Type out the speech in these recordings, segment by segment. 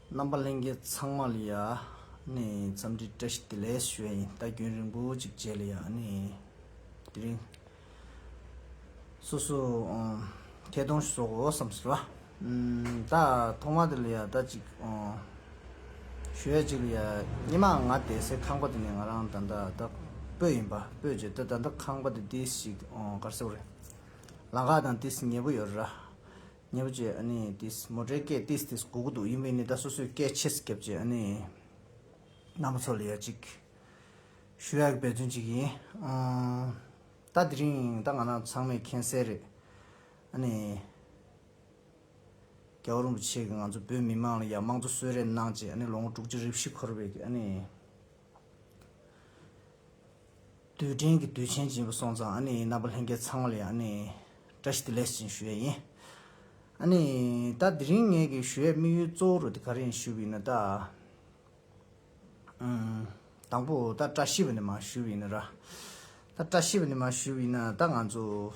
རྣམ་པ་ལྷན་རྒྱས་ཚང་མ་ལ་ཡང་འཚམས་འདྲི་བཀྲ་ཤིས་བདེ་ལེགས་ཞུ་བ་ཡིན་ལྟ་རྒྱུན་རིང་པོ་གཅིག་བྱས་ལ་ཡང་དེ་རིང་སོ་སོ་ཁྱེད་གདོང་ཞུ་སོགས་འོ་བསམ་ཟེར་བ་ད་ཐོག་མ་དེ་ལ་ཡང་ལྟ་ཅིག་ཞུ་ཡ་གཅིག་ལ་ཡང་སྙེ་མ་ང་བསྡད་སའི་ཁང་པ་དེ་ནས་ང་རང་ད་ལྟ་སྤོས་ཡིན་པ་སྤོས་བྱས་ད་ད་ལྟ་ཁང་པ་དེ་ཏིས་ཞིག་གར་སེ་བོ་རེད་ལང་ཁ་དང་ཏིས་ཉེ་པོ་ཡོད་རེད་ར་ཉེ་བར་བཅས་ཨ་ནི་ཏིས་མོ་ཏྲའི་སྐད་ཏིས་ཏིས་གོ་གོ་འདུག་ཡིན་པས་ནི་ད་སོ་སོའི་སྐད་ཆེས་བརྒྱབ་ཅིག་ཨ་ནི། ནང་པ་ཚོ་ལ་ཡག་ཅིག་ཞུ་ཡག་གི་འབད་བརྩོན་ཅིག་ཡིན། ད་དེ་རིང་ད་ང་རང་ཚང་མས་མཁྱེན་གསལ་རེད་ཨ་ནི། རྒྱལ་བ་རིན་པོ་ཆེ་གིས་ང་ཚོ་བོད་མི་དམངས་ལ་ཡག་མང་གཙོ་གསོལ་རས་གནང་རྗེས་ཨ་ནི་ལོ་ངོ་དྲུག་ཅུ་རེ་བཞི་འཁོར་བའི་ཨ་ནི། རྡུལ་ཕྲན་གྱི་དུས་ཆེན་སྦྱིན་པ་སོང་ཙང་ཨ་ནི་རྣམ་པ་ལྷན་རྒྱས་ཚང་བ་ལ་ཡང་ཨ་ནི་བཀྲ་ཤིས་བདེ་ལེགས་ཞུ་བཞིན་ཞུ་ཡས་ཡིན། ཨ་ནི། ད་དེ་རིང་ངེད་ཀྱི་ཞུ་ཡས་དམིགས་ཡུལ་གཙོ་བོ་རུ་དེ་ག་རེ་ཡིན་ཞུ་བ་ཡིན་ན་ད། དང་པོ་ད་བཀྲ་ཤིས་པ་ནི་མ་ཞུ་བ་ཡིན་ན་ར། ད་བཀྲ་ཤིས་པ་ནི་མ་ཞུ་བ་ཡིན་ན་ད་ང་ཚོ།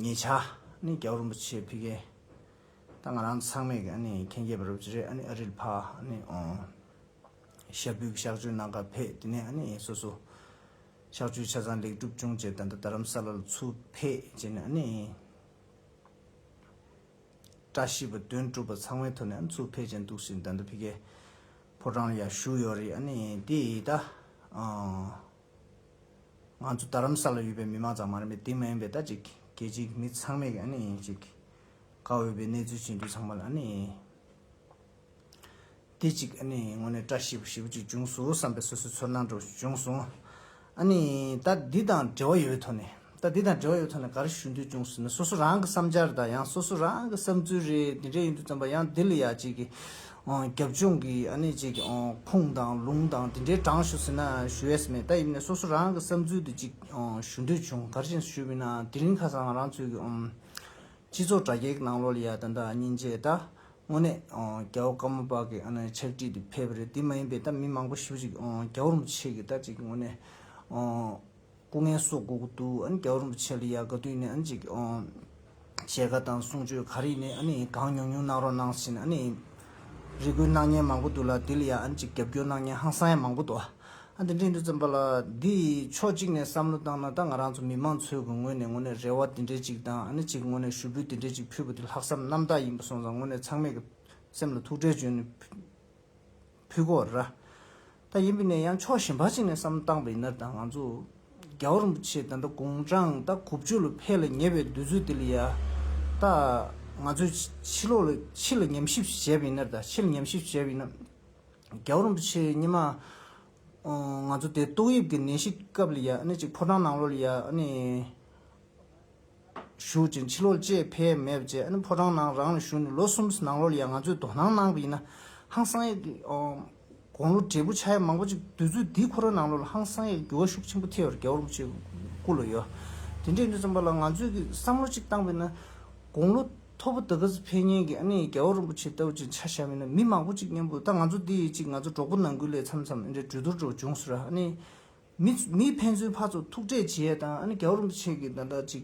ཉེ་ཆར་ནི་རྒྱལ་བོ་རིན་པོ་ཆེ་ཕེབས་མཁན། ད་ང་རང་ཚང་མས་ཨ་ནི་མཁྱེན་རྒྱས་པ་རུ་གྱི་རེད་ཨ་ནི་ཨ་རིར་ཕ་ཨ་ནི་ཨོང། ཤ་བུའི་གཤག་བཅོས་གནང་སྐབས་ཕེ་དེ་ནས་ཨ་ནེ་ཡིན་སོ་སོ། གཤག་བཅོས་ཆ་ཚང་ལེགས་གྲུབ་བྱུང་རྗེས་ད་ལྟ་རྡ་རམ་ས་ལ་ལ་ཚུར་ཕེབས་རྗེས་ནས་ཨ་ནེ་ཡིན། བཀྲ་ཤིས་པ་དོན་གྲུབ་པ་ཚང་མའི་ཐོག་ནས་ཨ་ནེ་ཚུར་ཕེབས་རྗེས་འདུག་ཟིན་ད་ལྟ་ཕི་ཀའི་ཕོ་བྲང་ལ་ཡར་བཞུགས་ཡོད་རེད་ཨ་ནེ་ཡིན་དེ་ད་ང་ཚོ་རྡ་རམ་ས་ལ་ཡོད་པའི་མི་མང་ཙམ་མ་རེད་མོད་དེ་མ་ཡིན་པའི་ད་ཅིག་གལ་ཆེའི་མི་ཚང་མས་ཨ་ནེ་ཡིན་ཅིག་དགའ་འོས་པའི་གནས་ཚུལ་བྱེད་འདོད་ཚང་མ་ལ་ཨ་ནེ་ཡིན། དེ་གཅིག་ཨ་ནི་ངོ་ནས་བཀྲ་ཤིས་པ་ཞེ་བོ་ཅིག་འབྱུང་སོ་བསམ་པའི་སོ་སོའི་ཚོར་སྣང་དྲོ་བྱུང་སོང། ཨ་ནི་ད་འདི་དང་འབྲེལ་བ་ཡོད་པའི་ཐོག་ནས་ད་འདི་དང་འབྲེལ་བ་ཡོད་པའི་ཐོག་ནས་ག་རེ་ཞུ་འདོད་བྱུང་ཟེར་ན་སོ་སོ་རང་གི་བསམ་འཆར་དང་ཡང་སོ་སོ་རང་གི་བསམ་ཚུལ་རེ་འདི་འདྲས་ཡིན་འདུག་བསམ་པ་ཡང་འདི་ལ་ཡག་བྱེད་ཀྱི་རྒྱབ་ལྗོངས་ཀྱི་ཨ་ནི་བྱེད་ཀྱི་ཁུངས་དང་ལུང་དང་འདི་འདྲས་དྲངས་ཞུ་ཟེར་ན་ཞུ་ཡས་མེད་ད་ཡིན་ནའི་སོ་སོ་རང་གི་བསམ་ཚུལ་དེ་གཅིག་ཞུ་འདོད་བྱུང་ག་རེ་བྱེད་ན་ཞུ་མིན་ནའང་དེ་རིང་ཁ་སང་རང་ཚོའི་གི་སྤྱི་ཚོགས་དྲ་རྒྱའི་གི་ནང་ལོགས་ལ་ཡ་ད་ད་ཉིན་རྗེས་ད་དངོས་གནས་རྒྱལ་བ་དཀར་མོ་པ་གི་ཕྱག་བྲིས་འདི་ཕལ་པ་རེད་འདི་མ་ཡིན་པའི་ད་མི་མང་པོ་ཞིབ་གཅིག་རྒྱལ་བ་རིན་པོ་ཆེ་གི་ད་ཅིག་དངོས་གནས་སྐུ་ངལ་གསོ་དགོས་གི་འདུག་ཨ་ནི་རྒྱལ་བ་རིན་པོ་ཆེ་ལ་ཡག་ག་དུས་ནས་ཨ་ནི་ཅིག་བཤད་ག་དང་གསུང་ཆོས་ག་རེ་ཡིན་ཨ་ནི་གང་ཉུང་ཉུང་གནང་རོགས་གནང་ཟིན་ཨ་ནི་རེ་སྐུལ་གནང་ཉན་མང་པོ་འདུག་ལ་དེ་ལ་ཡང་ཨ་ནི་ཅིག་རྒྱབ་སྐྱོར་གནང་ཉན་ཧང་སང་ཡང་མང་པོ་འདུག་ཨ། ཨ་འདི་འབྲིང་དུ་བརྩམས་པ་ལ་འདི་ཡིས་ཕྱོགས་གཅིག་ནས་བསམ་བློ་བཏང་ན་ད་ང་རང་ཚོ་མི་མང་ཚོའི་གི་ངོས་ནས་ངོ་ནས་རེ་བ་དེ་འདྲའི་གཅིག་དང་ཨ་ནི་གཅིག་ངོ་ནས་ཞུ་འབུལ་དེ་འདྲའི་གཅིག་ཕུལ་བ་དེ་ལྷག་བསམ་རྣམ་དག་ཡིན་པ་སོང་ཙང་ངོ་ནས་ཚང་མས་གི་སེམས་ལ་ཐུགས་ཁྲལ་བྱོན་ནས་ཕུལ་གོ་ར་ད་ཡིན་པས་ནས་ཡང་ཕྱོགས་གཞན་པ་ཅིག་ནས་བསམ་བློ་བཏང་པ་ཡིན་ནར་ད་ང་ཚོ་རྒྱ་བོ་རིན་པོ་ཆེ་ད་འདྲ་དགུང་གྲངས་ད་དགུ་བཅུ་ལ་ཕེ་ལ་ཉེ་བའི་དུས་ཚོད་དེ་ལ་ཡ་ད་ང་ཚོས་ཕྱི་ལོག་ལ་ཕྱི་ལ་ཉམས་ཞིབ་བྱས་པ་ཡིན་ནར་ད་ཕྱི་ལ་ཉམས་ཞིབ་བྱས་པ་ཡིན་ན། རྒྱལ་པོ་རིན་པོ་ཆེ་སྙེ་མ། ང་ཚོ་དེ་ཏོག་དབྱིབས་ཀྱི་ནད་གཞི་སྐབས་ལ་ཡང་ནི་ཅིག་ཕོ་བྲང་ནང་ལོགས་ལ་ཡང་ནི། བཞུགས་ཅིང་ཕྱི་ལོགས་ལ་བཅས་ཕས་མེད་པ་བཅས་ནི་ཕོ་བྲང་ནང་རང་ལ་བཞུགས་ནས་ལོ་གསུམ་ནང་ལོགས་ལ་ཡང་ང་ཚོས་དོ་སྣང་གནང་པ་ཡིན་ན། ཧང་སང་ཡག། དགོང་ལོ་བགྲེས་པོ་ཆ་ཡག་མང་པོ་ཅིག་དུས་ཚོད་འདིའི་ཁོ་ར་ནང་ལོགས་ལ་ཧང་སང་ཡག་འགྱུར་བ་ཤུགས་ཆེན་པོ་ཐེབས་པར་རྒྱལ་པོ་རིན་པོ་ཆེ་སྐུ་ལ་ཡོད། དེ་འདྲས་ནས་བརྩམས་པ་ལ་ང་ཚོས་ཀྱིས་བསམ་བློ་ཅིག་བཏང་བས་ན། དགོང་ལོ། ཐོར་བུ་དག་ག་ཟི་འཕེལ་གཉེན་གྱིས་ཨ་ནི་རྒྱལ་བ་རིན་པོ་ཆེ་ལྟ་བུ་ཅིག་འཆར་བཞག་མིན་ན་མི་མང་པོ་ཅིག་གཉེན་པོ་ད་ང་ཚོ་འདི་ཡིན་ཅིག་ང་ཚོ་གྲོགས་པོ་ནང་ཁུལ་ལས་འཚམས་འཚམས་ཨེ་འདྲའི་གྲོས་བསྡུར་འགྲོ་བྱུང་ཟེར་ཨ་ནི། མི་མི་ཕན་ཚུན་ཕ་ཚོ་ཐུག་འཕྲད་བྱས་ད་ཨ་ནི་རྒྱལ་བ་རིན་པོ་ཆེ་གྱིས་ད་ལྟ་ཅིག་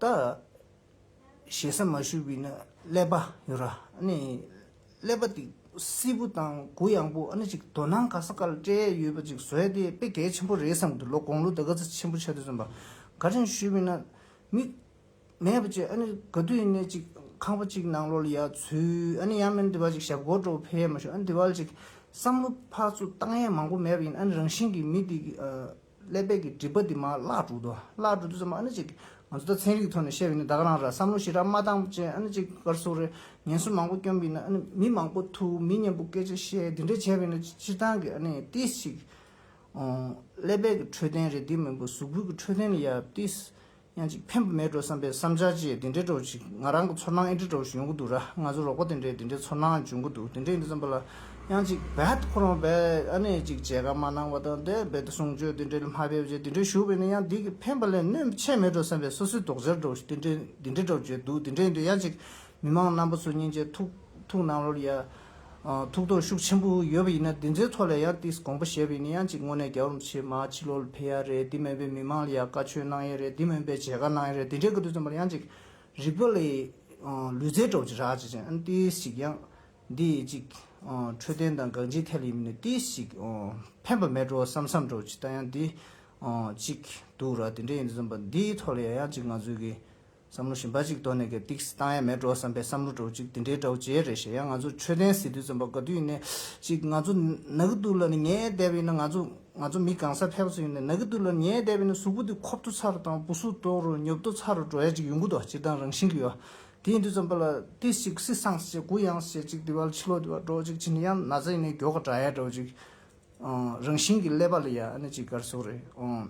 ད། ཞེ་ས་མ་ཞུ་བས་ན་ཀླད་པ་ཡོད་ར་ཨ་ནི། ཀླད་པ་འདི་སིལ་བུ་དང་གུ་ཡངས་པོ་ཨ་ནི་ཅིག་དོ་སྣང་ག་ས་ག་ལ་སྤྲད་ཡས་ཡོད་པ་ཅིག་བཟོས་ཏེ་དཔེ་གལ་ཆེན་པོ་རེད་བསམ་འདུག་ལོ་དགོང་ལོ་ཟླ་ག་ཚོད་ཆེན་པོ་ཆགས་དུས་རྩོམ་པ་ག་ཅིང་ཞུས་པས་ན་མིག་མེད་པ་བཅས་ཨ་ནི་ག་དུས་ནས་ཅིག་ཁང་པ་གཅིག་ནང་ལོག་ལ་ཡག་ཚུལ་ཨ་ནི་ཡང་མིན་འདི་བ་ཅིག་ཞབས་སྒོར་འགྲོ་བ་ཕལ་ཡས་མ་ཞུ་ཨ་ནི་འདི་བ་ལ་ཅིག་བསམ་བློ་ཕག་ཚུགས་བཏང་ཡས་མང་པོ་མེད་པ་ཡིན་ཨ་ནི་རང་བཞིན་གྱིས་མི་འདི་ཀླད་པའི་གི་སྒྲིབ་པ་འདི་མ་བརླག་འགྲོ་དུ་བརླག་འགྲོ་དུས་སམ་ཨ་ནི་ཅིག་ང་ཚོ་ད་ཚན་རིག་གི་ཐོག་ནས་བཤད་ཡོད་ན་ད་ག་རང་ར་བསམ་བློ་ཞིག་ར་མ་བཏང་བར་ཅན་ཨ་ནི་ཅིག་སྐར་གསུམ་རེ་ཉེན་གསུམ་མང་པོ་བསྐྱོན་པའི་ནང་ཨ་ནི་མི་མང་པོ་ཐུག་མི་མཉེན་པོ་སྐད་ཆ་བཤད་འདི་འདྲ་བྱས་པའི་ནང་སྤྱིར་བཏང་གི་ཨ་ནི་ཏིས་ཅིག་ཀླད་པའི་གི་འཕྲོད་བསྟེན་རེད་འདི་མིན་པོ་གཟུགས་པོའི་གི་འཕྲོད་བསྟེན་ནི་ཡ་ཏིས་ཡང་ཅིག་ཕན་པ་མེད་འགྲོ་བསམ་པའི་བསམ་འཆར་བཅས་དེ་འདྲའི་འགྲོ་ཅིག་ང་རང་གི་ཚོར་སྣང་ཨེ་འདྲའི་འགྲོ་བཞིན་ཡོང་གི་འདུག་ར་ང་ཚོའི་རོགས་པ་དེ་འདྲའི་དེ་འདྲའི་ཚོར་སྣང་འབྱུང་གི་འདུག་དེ་འདྲའི་ཡིན་འདུག་བསམ་པ་ལ། ཡང་ཅིག་རྦད་ཁོ་རང་རྦད་ཨ་ནེ་ཅིག་བྱས་ཁ་མ་གནང་བ་དང་འདྲ་རྦད་དེ་གསུང་ཆོས་དེ་འདྲའི་མ་ཕེབས་ཅིག་དེ་འདྲའི་ཞུ་བས་ནི་ཡང་འདི་གི་ཕན་པ་ལས་གནོད་ཆེ་མེད་འགྲོ་བསམ་པའི་སོ་སོའི་དོགས་འཆར་འགྲོ་བཞིན་དེ་འདྲའི་དེ་འདྲའི་འགྲོ་བརྗོད་འདུག་དེ་འདྲའི་ཡིན་འདུག་ཡང་ཅིག་མི་མང་རྣམ་པ་ཚོ་སྙིང་རྗེ་ཐུགས་ཐུགས་གནང་རོགས་ཡ། ཐུགས་དོགས་ཤུགས་ཆེན་པོ་ཡོད་པ་ཡིན་ན་འདི་ཚོའི་ཐོག་ལ་ཡང་ཏིས་དགོངས་པ་བཞེས་པ་ཡིན་ན་ཡང་ཅིག་དངོས་གནས་རྒྱ་རོམ་ཆེ་མ་ཕྱི་ལོག་ལ་ཕེབས་ཡ་རེད་འདི་མེད་པའི་མི་མང་ལ་ཡང་བཀའ་ཆོས་གནང་ཡ་རེད་འདི་མེད་པའི་མཇལ་ཁ་གནང་ཡ་རེད་འདི་འདྲའི་གི་དུས་ཙམ་པར་ཡང་ཅིག་རིག་པ་ལས་ལུས་རྩལ་སྤྲོ་བྱེད་རག་བྱེད་ཅིང་ཨ་ཏིས་ཅིག་ཡང་འདི་ཅིག་འཕྲོད་བསྟེན་དང་གང་ཅིའི་ཐད་ལ་ཡིན་མིན་ནི་ཏིས་ཅིག་ཕན་པ་མེད་འགྲོ་བསམ་བསམ་སྤྲོ་བྱེད་ད་ཡང་འདི་ཅིག་འདུག་ར་འདི་འདྲའི་ཡིན་དུས་ཙམ་པར་འདིའི་ཐོག་ལ་ཡང་ཅིག་ང་ཚོའི་གི། བསམ་བློ་ཞིམ་པ་ཅིག་གཏོར་ནས་གད་ཏིགས་སི་བཏང་ཡ་མེད་འགྲོ་བསམ་པའི་བསམ་བློ་གྲོགས་ཅིག་འདི་འདྲའི་གྲོགས་བྱེད་རེད་ཞེ་ཡ་ང་ཚོ་ཆོས་ལྡན་སི་ཏུ་བཙན་པོ་དགའ་དུས་ནས་ཅིག་ང་ཚོ་ན་གི་ཏུ་ལ་ནི་ཉའི་དད་པ་ཡིན་ན་ང་ཚོ་ང་ཚོ་མི་གང་སར་ཕེབས་པ་ཚོ་ཡིན་ནའི་ན་གི་ཏུ་ལ་ནི་ཉའི་དད་པ་ཡིན་ན་གཟུགས་པོ་དེ་ཁོབ་ཏུ་ཚར་དང་པུ་སུ་ཏོག་རུ་ཉོབ་ཏུ་ཚར་རུ་འགྲོ་ཡ་ཅིག་ཡོང་གི་འདུག་སྤྱིར་བཏང་རང་བཞིན་གི་ཡོད་དེ་ཡིན་དུས་བཙན་པོ་ལ་ཏིས་ཅིག་སི་སངས་སི་ཅིག་གུ་ཡངས་སི་ཅིག་དེ་བ་ལ་ཕྱི་ལོག་དེ་བ་འགྲོ་ཅིག་ཕྱི་ནི་ཡང་ན་ཚ་ཡིན་ནའི་གྱོ་ག་འདྲ་ཡ་འདྲ་བ་ཅིག་རང་བཞིན་གི་ཀླད་པ་ལ་ཡ་ཨ་ནི་ཅིག་གར་སོགས་རེད་ཨོང།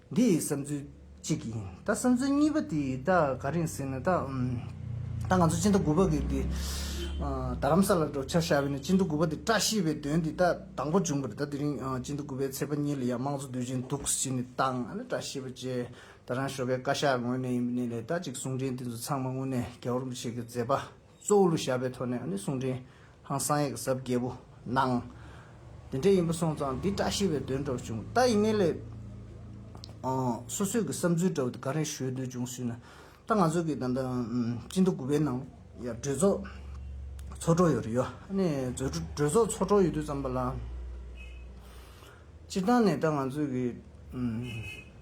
འདི་བསམ་ཚུལ་གཅིག་ཡིན། ད་བསམ་ཚུལ་གཉིས་པ་དེ་ད་ག་རེད་ཟེར་ན་ད། ད་ང་ཚོ་སྤྱི་ཟླ་དགུ་པ་གི་དེ། རྡ་རམ་ས་ལར་འགྲོ་འཆར་བཞག་པའི་ནས་སྤྱི་ཟླ་དགུ་པ་དེ་བཀྲ་ཤིས་པའི་དོན་དེ་ད་དང་པོ་བྱུང་པ་རེད་ད་དེ་རིང་སྤྱི་ཟླ་དགུ་པའི་ཚེས་པ་གཉིས་ལ་ཡང་དམངས་གཙོ་དུས་ཆེན་འདུག་ཟེར་ནས་བཏང་ཨ་ན་བཀྲ་ཤིས་པ་བཅས་ད་རང་ཞོགས་པའི་བཀའ་ཤག་ངོས་ནས་ཡིན་པའི་ནས་ལས་ད་ཅིག་གསུང་འཕྲིན་དེ་ཚོ་ཚང་མ་དངོས་གནས་རྒྱ་གོར་མོ་ཆེ་གི་མཛད་པ། གཙོ་བོ་ལུ་ཞབས་པའི་ཐོག་ནས་གསུང་འཕྲིན་ཧང་བསང་ཡིག་གཟབ་བརྒྱད་པོ་གནང། དེ་འདྲའི་ཡིན་པ་སོང་ཙང་འདི་བཀྲ་ཤིས་པའི་དོན་སྒྲོག་བྱུང་ལྟ་ཡིན་ངེས་ལེ། སོ་སོས་ཀྱི་བསམ་ཚུལ་འདྲ་བོ་དེ་ག་རེ་ཞུས་འདོད་བྱུང་ཟུས་ན་ད་ང་ཚོ་གི་ད་ལྟ་སྤྱི་ཟླ་དགུ་པའི་ནང་ཡར་གྲོས་ཚོགས་ཚོགས་གྲོགས་ཡོད་རེ་ཡོ། གྲོས་ཚོགས་ཚོགས་གྲོགས་ཡོད་དུས་ཙམ་པ་ལ། སྤྱིར་བཏང་ནས་ད་ང་ཚོས་ཀྱི།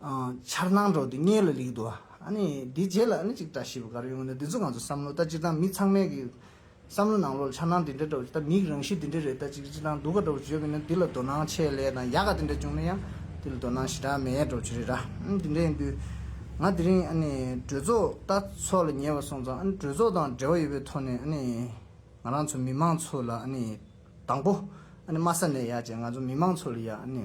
འཆར་སྣང་འགྲོ་འདི་གཉེར་ལ་ལེགས་འདུག་ཨ་ནི་འདི་རྗེས་ལ་ཨ་ནི་ཅིག་བཀྲ་ཤིས་པ་ག་རེ་ཡོང་གི་འདུག་འདི་ཚོ་ང་ཚོ་བསམ་བློ་ལྟ་ཅི་ཐང་མི་ཚང་མས་ཀྱི་བསམ་བློ་ནང་ལོག་ལ་འཆར་སྣང་འདི་འདྲ་འགྲོ་ད་མིག་རང་གཤིས་འདི་འདྲ་རེད་ད་ཅིག་ཅིག་ཐང་འདུག་ག་འགྲོ་བ་བརྗོད་ཀྱི་འདུག་འདི་ལ་དོ་སྣང་ཆེད་ལས་དང་ཡག་ག་འདི་འདྲ་བྱུང་ན་ཡང་འདི་ལ་དོ་སྣང་ཞེ་དྲག་མེད་འགྲོ་བྱེད་རེད་ར་ཨ་འདི་འདྲ་ཡིན་དུས་ང་དེ་རིང་ཨ་ནི་གྲོས་ཚོགས་ལྟ་ཚོགས་ལ་ཉེ་བར་སོང་ཙང་ཨ་ནི་གྲོས་ཚོགས་དང་འབྲེལ་བ་ཡོད་པའི་ཐོག་ནས་ཨ་ནི་ང་རང་ཚོ་མི་མང་ཚོ་ལ་ཨ་ནི་དང་པོ་ཨ་ནི་དམའ་ས་ནས་ཡག་བྱས་ང་ཚོ་མི་མང་ཚོ་ལ་ཡག་ཨ་ནི།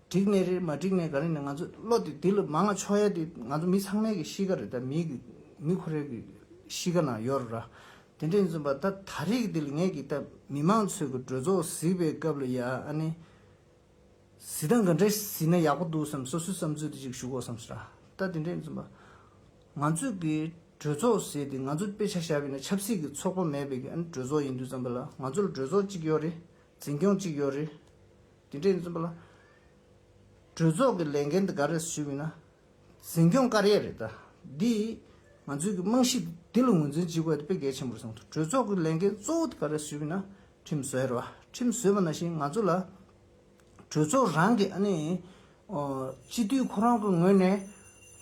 འགྲིག་ནས་རེད་མ་འགྲིག་ནས་ག་རེ་ནས་ང་ཚོ་བློ་དེ་དེ་ལ་མ་ང་ཆོག་ཡ་དེ་ང་ཚོ་མི་ཚང་མའི་གི་གཤིས་ཀ་རེད་ད་མི་གི་མི་ཁོ་རེ་གི་གཤིས་ཀ་ན་ཡོད་རེད་ར། དེ་འདྲ་ཡིན་ཚོད་པ་ད་ད་རིག་འདི་ལ་ངས་གི་ད་མི་མང་ཚོས་གི་གྲོས་ཚོགས་གཟིགས་པའི་སྐབས་ལ་ཡ་ཨ་ནི་གཟིགས་སྟངས་ག་འདྲ་གཟིགས་ན་ཡག་པོ་འདུག་བསམ་སོ་སོའི་བསམ་ཚུལ་དེ་གཅིག་ཞུ་གོ་བསམ་སོ་ར། ད་དེ་འདྲ་ཡིན་ཚོད་པ་ང་ཚོས་གི་གྲོས་ཚོགས་ཟེར་དེ་ང་ཚོ་དཔེ་ཆ་ཞབས་པའི་ནས་ཆབ་སྲིད་གི་ཚོགས་པ་མེད་པའི་གི་ཨ་ནི་གྲོས་ཚོགས་ཡིན་དུས་བསམ་པ་ལ་ང་ཚོ་ལ་གྲོས་ཚོགས་གཅིག་ཡོད་རེད་འཛིན་སྐྱོང་གཅིག་ཡོད་རེད། དེ་འབྲེལ་འཛིན་པ་ལ། གྲོས་ཚོགས་ཀྱི་ལས་འགན་འདི་ག་རེ་ཞུས་མིན་ན། འཛིན་སྐྱོང་དཀར་ཡལ་རེད་ད། འདི་ཡིས་ང་ཚོའི་གི་རྨང་གཞི་འདི་ལ་ངོས་འཛིན་བགྱི་དགོས་ད་དཔེ་གལ་ཆེན་པོར་བཟུང་ཐུབ་གྲོས་ཚོགས་ཀྱི་ལས་འགན་གཙོ་བོ་འདི་ག་རེ་ཞུས་མིན་ན་ཁྲིམས་བཟོས་རེད་བ། ཁྲིམས་བཟོས་པ་ན་བཞིན་ང་ཚོ་ལ། གྲོས་ཚོགས་རང་གི་ཨ་ནི། སྤྱི་འཐུས་ཁོ་རང་གི་ངོས་ནས།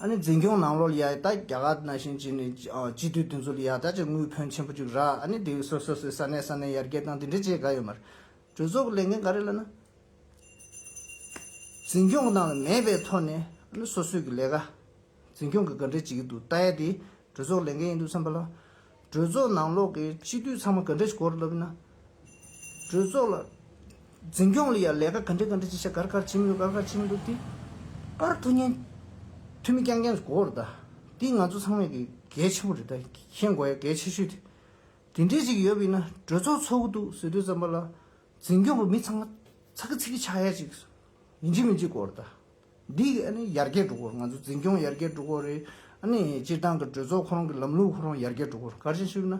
ཨ་ནི་འཛིན་སྐྱོང་ནང་ལོགས་ལ་ཡ་ད་རྒྱ་གར་ན་བཞིན་བྱས་ནས་སྤྱི་འཐུས་དེ་ཚོ་ལ་ཡ་ད་ཅིག་དངུལ་ཕོན་ཆེན་པོ་ཅིག་རག་ཨ་ནི་དེ་སོ་སོ་སོའི་ས་གནས་ས་གནས་ཡར་རྒྱས་བཏང་དེ་འདྲས་བྱས་དགའ་ཡོད་མ་རེད། གྲོས་ཚོགས་ཀྱི་ལས་འགན་ག་རེ་ལ་ན། འཛིན་སྐྱོང་གི་ནང་ལ་མེད་པའི་ཐོག་ནས་ཨ་ནི་སོ་སོས་ཀྱི་ལས་ཀ་འཛིན་སྐྱོང་གི་ག་འདྲས་བྱེད་ཀྱི་འདུག་ལྟ་ཡ་དེ་གྲོས་ཚོགས་ལས་འགན་ཡིན་འདུག་བསམ་པ་ལ། གྲོས་ཚོགས་ནང་ལོག་གི་སྤྱི་འཐུས་ཚང་མ་ག་འདྲས་གོ་རུ་ལབ་ཡིན་ན། གྲོས་ཚོགས་ལ་འཛིན་སྐྱོང་ལ་ཡང་ལས་ཀ་ག་འདྲས་ག་འདྲས་བྱེད་ཤ་གར་གར་བྱེད་མི་འདུག་གར་གར་བྱེད་མི་འདུག་དེ་པར་ཐུགས་ཉན་ཐུ་མི་རྐྱང་རྐྱང་གོ་རུ་གདའ། དེ་ང་ཚོ་ཚང་མས་ཀྱི་གལ་ཆེན་པོ་རེད་གདའ། མཁྱེན་དགོས་ཡ་གལ་ཆེ་ཤོས་དེ་དེ་འདྲས་ཅིག་ཡོད་པས་ན་གྲོས་ཚོགས་ཚོགས་གི་འདུག་ཟེར་དུས་ཙམ་པ་ལ་འཛིན་སྐྱོང་པ་མི་ཚང་མ་ཚ་གི་ཚིག་གི་ཆག་ཡ་ཅིག་མི་འཇིག་མི་འཇིག་གོ་རེད་ད། འདི་ཨ་ནི་ཡར་རྒྱས་འགྲོ་གོ་ང་ཚོ་འཛིན་སྐྱོང་ཡར་རྒྱས་འགྲོ་གོ་རེད་ཨ་ནི་སྤྱིར་བཏང་གི་གྲོས་ཚོགས་ཁོ་རང་གི་ལམ་ལུགས་ཁོ་རང་ཡར་རྒྱས་འགྲོ་གོ་ག་རེ་ཞུས་ན།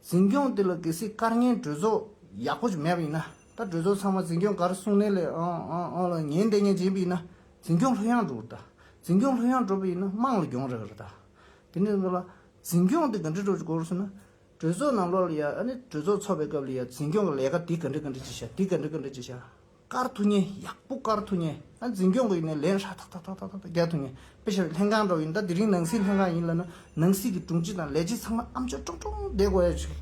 འཛིན་སྐྱོང་དེ་ལ་གལ་སྲིད་སྐར་ལྔའི་གྲོས་ཚོགས་ཡག་པོ་ཅིག་མེད་པས་ན་ད་གྲོས་ཚོགས་ཚང་མ་འཛིན་སྐྱོང་ག་རེ་གསུང་ནས་ལས་ཨང་ཨང་ཨང་ལ་ཉན་འདེད་ཉན་སྦྱིན་པས་ན་འཛིན་སྐྱོང་ལྷོད་ཡངས་འགྲོ་གོ་རེད་ད། འཛིན་སྐྱོང་ལྷོད་ཡངས་འགྲོ་པས་ན་དམངས་ལ་གྱོང་རེག་གོ་རེད་ད། དེ་འདྲས་ཙམ་པ་ལ་འཛིན་སྐྱོང་དེ་ག་འདྲས་འགྲོ་དགོས་ཟེར་ན། གྲོས་ཚོགས་ནང་ལོགས་ལ་ཡང་ཨ་ནི་གྲོས་ཚོགས་འཚོགས་པའི་སྐབས་ལ་ཡང་འཛིན་སྐྱོང་གི་ལས་ཀ་འདི་ག་འདྲས་ག་འདྲས་བྱེད་བྱ་འདི་ག་འདྲས་ག་འདྲས་བྱེད་བྱ། བཀར་ཐུག་ཉེན་ཡག་པོ་བཀར་ཐུག་ཉེན་ཨ་འཛིན་སྐྱོང་གི་ཡིན་ན་ལན་ཧྲ་ཐག་ཐག་ཐག་ཐག་ཐག་རྒྱག་ཐུག་ཉེན་དཔེ་བཞིན་ལྷན་ཁང་འགྲོ་ཡིན་ད་དེ་རིང་ནང་སྲིད་ལྷན་ཁང་ཡིན་ལ་ན་ནང་སྲིད་ཀྱི་དྲུང་ཆེ་དང་ལས་བྱེད་ཚང་མ་ཨམ་ཆོས་ཀྲོང་ཀྲོང་བསྡད་དགོས་ཡ་ཆེ།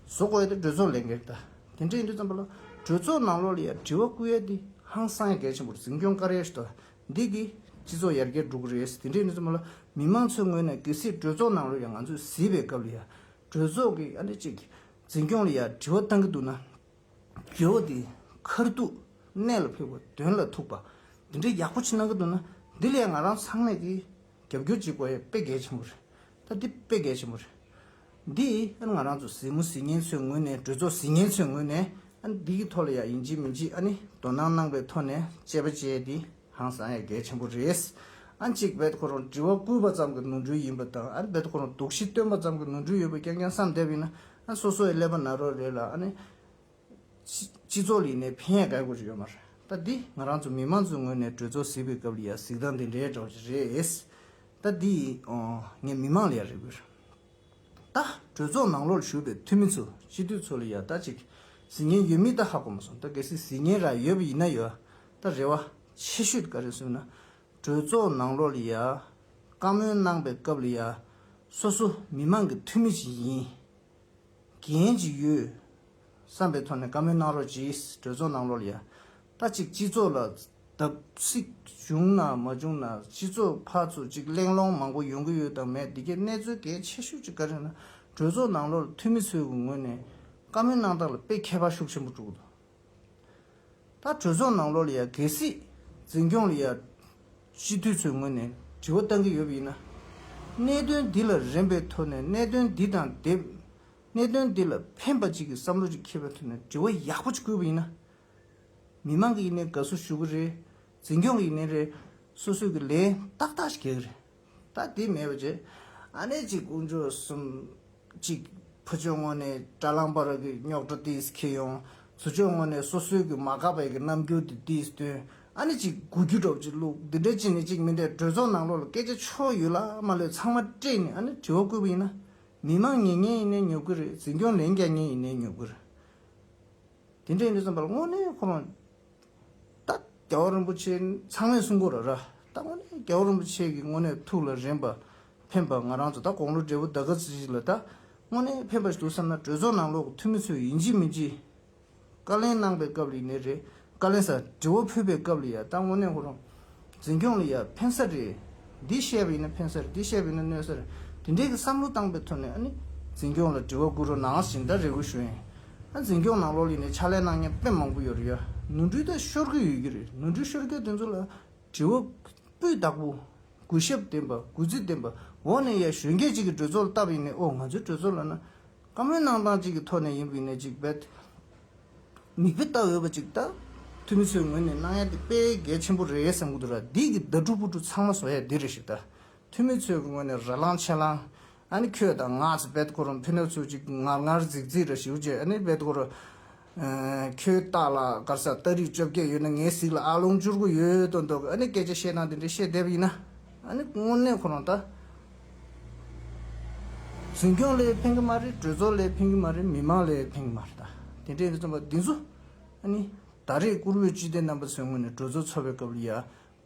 བཟོ་དགོས་ཡ་དེ་གྲོས་ཚོགས་ལས་འགན་རེད་ད་དེ་འདྲས་ཡིན་དུས་ཙམ་པ་ལ་གྲོས་ཚོགས་ནང་ལོགས་ལ་ཡང་དྲི་བ་བསྐུར་ཡ་དེ་ཧང་སང་ཡ་གལ་ཆེན་པོར་འཛིན་སྐྱོང་བཀར་ཡ་ཞིག་ད་འདི་གིས་སྤྱི་ཚོགས་ཡར་རྒྱས་འགྲོ་གི་རེད་ཟེར་དེ་འདྲའི་གནས་ཚུལ་མ་ལ་མི་མང་ཚོའི་ངོས་ནས་གལ་སྲིད་གྲོས་ཚོགས་ནང་ལོ་ཡང་ང་ཚོས་གཟིགས་པའི་སྐབས་ལ་ཡང་གྲོས་ཚོགས་ཀྱི་ཨ་ནེ་ཅིག་འཛིན་སྐྱོང་ལ་ཡང་དྲི་བ་བཏང་གི་འདུག་ན་རྒྱལ་བོ་འདིས་མཁར་གཏུགས་གནས་ལ་ཕེབས་སྐབས་དོན་ལ་ཐུག་པ་འདི་འདྲའི་ཡག་པོ་ཆེ་གནང་གི་འདུག་ན་འདི་ལ་ཡང་ང་རང་ཚང་མས་ཀྱིས་རྒྱབ་སྐྱོར་བྱེད་དགོས་དཔེ་གལ་ཆེན་པོ་རེད། ད་འདི་དཔེ་གལ་ཆེན་པོ་རེད། འདི་ཨ་ནི་ང་རང་ཚོ་གཟིགས་མོ་གཟིགས་ཉེན་ཚོའི་ངོས་ནས་འགྲོས་ཚོགས་གཟིགས་ཉེན་ཚོའི་ངོས་ནས་ཨ་ནི་འདི་གི་ཐོག་ལ་ཡ་ཡིན་གཅིག་མིན་གཅིག་ཨ་ནི་དོ་སྣང་གནང་པའི་ཐོག་ནས་དཔྱད་པ་བྱས་འདི་ཧང་སང་ཡ་གལ་ཆེན་པོ་རེད། ཨ་ནི་གཅིག་བེད་ཁོ་རང་དྲི་བ་བསྐུལ་བ་ཙམ་གྱི་ནོར་འཁྲུལ་ཡིན་པ་དང་ཨ་ནི་བེད་ཁོ་རང་དོགས་གཞི་བཏོན་པ་ཙམ་གྱི་ནོར་འཁྲུལ་ཡོད་པ་རྐྱང་རྐྱང་བསམ་བསྡད་པ་ཡིན་ན་ཨ་ནི་སོ་སོ་ཡི་ཀླད་པ་ན་རོ་རེད་ལ་ཨ་ནི། སྤྱི་ཚོགས་ལས་གནས་ཕན་ཡག་དགའ་དགོས་རེད་ཡོད་མ་རེད་ད་འདི་ང་རང་ཚོ་མི་མང་ཚོའི་ངོས་ནས་གྲོས་ཚོགས་ཟིག་པའི་སྐབས་ལ་ཡང་གཟིགས་སྟངས་དེ་འདྲའི་འདྲ་བ་ཞིག་རེད་ད་འདི་ངས་མི་མང་ལ་ཡང་རེ་དགོས་རེད་ད་གྲོས་ཚོགས་ནང་ལོགས་ལ་ཞུགས་པའི་འཐུས་མི་ཚོ་སྤྱི་འཐུས་ཚོ་ལ་ཡང་ད་ཅིག་གཟིགས་ཉེན་ཡོད་མིན་ད་ཧ་གོ་མ་སོང་ད་གལ་སྲིད་གཟིགས་ཉེན་རག་ཡོད་པ་ཡིན་ན་ཡང་ད་རེ་བ་ཆེ་ཤོས་དེ་ག་རེད་ཟེར་ན་གྲོས་ཚོགས་ནང་ལོགས་ལ་ཡང་བཀའ་མོལ་གནང་པའི་སྐབས་ལ་ཡང་སོ་སོ་མི་མང་གི་འཐུས་མི་ཞིག་ཡིན། གྱིན་གྱི་ཡོད། བསམ་པའི་ཐོག་ནས་བཀའ་མོལ་གནང་རོགས་གྱིས་གྲོས་ཚོགས་ནང་ལོར་ཡ། ལྟ་གཅིག་སྤྱི་ཚོགས་ལ་བརྡབ་གསིག་བྱུང་ན་མ་བྱུང་ན་སྤྱི་ཚོགས་ཕར་ཚུར་གཅིག་གླེང་སློང་མང་པོ་ཡོང་གི་ཡོད་དང་མེད་འདི་གའི་གནས་ཚུལ་གལ་ཆེ་ཤོས་གཅིག་ག་རེ་ན་གྲོས་ཚོགས་ནང་ལོར་འཐུས་མི་ཚོའི་ངོས་ནས་བཀའ་མོལ་གནང་སྟངས་ལ་དཔེ་ཁྱད་པར་ཤུགས་ཆེན་པོ་བསྒྲུགས་འདུག། ད་གྲོས་ཚོགས་ནང་ལོགས་ལ་ཡང་གལ་སྲིད་འཛིན་སྐྱོང་ལ་ཡང་སྤྱི་འཐུས་ཚོའི་ངོས་ནས་དྲི་བ་བཏང་གི་ཡོད་པ་ཡིན་ན། གནད་དོན་འདི་ལ་རན་པའི་ཐོག་ནས་གནད་དོན་འདི་དང་དེ། གནད་དོན་འདི་ལ་ཕན་པ་ཅིག་གི་བསམ་བློ་ཅིག་འཁྱེར་བའི་ཐོག་ནས་དྲི་བ་ཡག་པོ་ཅིག་བསྐུལ་བ་ཡིན་ན། མི་མང་གི་ཡིན་ནའི་དགའ་བསུ་ཞུ་གི་རེད། འཛིན་སྐྱོང་གི་ཡིན་ནའི་རེད། སོ་སོས་ཀྱི་ལན་ཏག་ཏག་ཞིག་རྒྱག་གི་རེད། ད་དེ་མེད་པ་བྱས། ཨ་ནེ་གཅིག་དཀོན་མཆོག་གསུམ། གཅིག་བུ་ཆོས་སྔོན་ནས་དགྲ་ལམ་པར་གྱི་རྙོག་དྲ་དེས་ཁེལ་ཡོང། བུ་ཆོས་སྔོན་ནས་སོ་སོའི་གི་མ་ག་པའི་གི་རྣམ་འགྱུར་དེ་དེས་སྟོན། ཨ་ནེ་གཅིག་དགུ་རྒྱུ་གྲོགས་གཅིག་ལུག་འདི་འདྲ་གཅིག་ནས་གཅིག་མི་འདྲ་གྲོས་ཚོགས་ནང་ལོགས་ལ་སྐད་ཆ་ཕྱོགས་ཡོད་ལ་མ་ལོས་ཚང་མ་སྤྲད་ནས་ཨ་ནེ་དྲི་བ་བཀོད་པ་ཡིན་ན། མི་མང་ཉེ་ཉེ་ཡིན་ནའི་ཉོ་གི་རེད་འཛིན་སྐྱོང་ལན་རྒྱག་ཉེ་ཡིན་ནའི་ཉོ་གི་རེད། དེ་འདྲ་ཡིན་དུས་སམ་པ་ལ་དངོས་གནས་ཁོ་རང་རྟག་རྒྱ་བ་རིན་པོ་ཆེ་ཚང་མས་གསུང་སྐོར་ར་ར་བཏང་བ་ནི་རྒྱ་བ་རིན་པོ་ཆེ་གི་དངོས་གནས་ཐུགས་ལ་རེམ་པ་ཕན་པ་ང་རང་ཚོ་ད་དགོང་ལོ་འབྲས་བུ་ཟླ་ག་ཟིག་ཟིག་ལ་ད་དངོས་གནས་ཕན་པ་ཞིག་འདུག་བསམ་ན་གྲོས་ཚོགས་ནང་ལོག་གི་འཐུས་མི་ཚོས་ཡིན་གཅིག་མིན་གཅིག་བཀའ་ལན་གནང་པའི་སྐབས་ལ་ཡིན་ནའི་རེད་བཀའ་ལན་ས་འབྲི་བ་ཕུལ་པའི་སྐབས་ལ་ཡ་ད་དངོས་གནས་ཁོ་རང་འཛིན་སྐྱོང་ལ་ཡར་འཕེན་ས་རེད། འདི་བཤད་པ་ཡིན་ན་འཕེན་ས་རེད་འདི་བཤད་པ་ཡིན་ན་གནོད་ས་རེད། དེ་འདྲའི་གི་བསམ་བློ་བཏང་པའི་ཐོག་ནས་ཨ་ནི། འཛིན་སྐྱོང་ལ་དྲི་བ་བསྐུར་རོགས་གནང་ཞེས་འདྲ་རེ་དགོས་ཞུ་ཡིན། ཨ་འཛིན་སྐྱོང་ནང་ལོགས་ལས་ནས་ཕྱག་ལས་གནང་མཁན་དཔོན་མང་པོ་ཡོད་རེད་ཡ། ནོར་འཁྲུལ་དག་ཤོར་གི་ཡོད་ཀྱི་རེད་ནོར་འཁྲུལ་ཤོར་མཁན་དེ་ཚོ་ལ། དྲི་བ། སྤུས་དག་པོ། གུས་ཞབས་ལྡན་པ་གུས་བརྩི་ལྡན་པ། འོག་ནས་ཡར་གཞོན་སྐད་ཅིག་གིས་གྲོས་ཚོགས་ལ་བལྟ་བ་ཡིན་ནའི་ཨོ་ང་ཚོའི་གྲོས་ཚོགས་ལ་ན། བཀའ་མོལ་གནང་སྟངས་གཅིག་གི་ཐོག་ནས་ཡིན་པའི་གནད་གཅིག་རྦད་མིག་དཔེ་ལྟ་འོས་པ་གཅིག་ལྟ། འཐུས་མི་ཚོའི་ངོས་ནས་གནང་ཡ་དེ་དཔེ་གལ་ཆེན་པོ་རེད་བསམ་གྱི་འདུག་ར་འདི་གི་ཟླ་དྲུག་པོ་དྲུག་ཚང་མ་བཟོ་ཡ་འདི་རེད་ཞིག་ལྟ། འཐུས་མི་ཚོའི་ངོས་ནས་ར་ལང་ཆེ་ལང། ཨ་ནི་ཁྱོད་དང་ང་ཚོ་རྦད་གོ་རུ་འཕེན་ནོ་ཚོད་ཅིག་ངར་ངར་རྫིག་རྫིག་ར་ཞིག་ཅེས་ཨ་ནི་རྦད་གོ་རུ། ཁྱོད་སྟག་ལ་དཀར་ས་སྟག་རིགས་བཅོ་བརྒྱད་ཡོད་ན་ངའི་གཟིགས་ལ་ཨ་ལོང་བཅུར་དགུ་ཡོད་དོ་འདོག་གི་ཨ་ནི་སྐད་ཆ་བཤད་ན་དེ་འདྲའི་བཤད་བསྡད་པ་ཡིན་ན་ཨ་ནི་དངོས་གནས་ཁོ་རང་ད་འཛིན་སྐྱོང་ལས་ཕན་གི་མ་རེད་གྲོས་ཚོགས་ལས་ཕན་གི་མ་རེད་མི་མང་ལས་ཕན་གི་མ་རེད་ད་དེ་འདྲའི་རྩོམ་པ་འདི་ཚོ་ཨ་ནི་ད་རེས་བཀུར་འོས་སྤྱི་བདེ་རྣམ་པ་ཚོའི་ངོས་ནས་གྲོས་ཚོགས་ཚོགས་པའི་སྐབས་ལ་ཡ་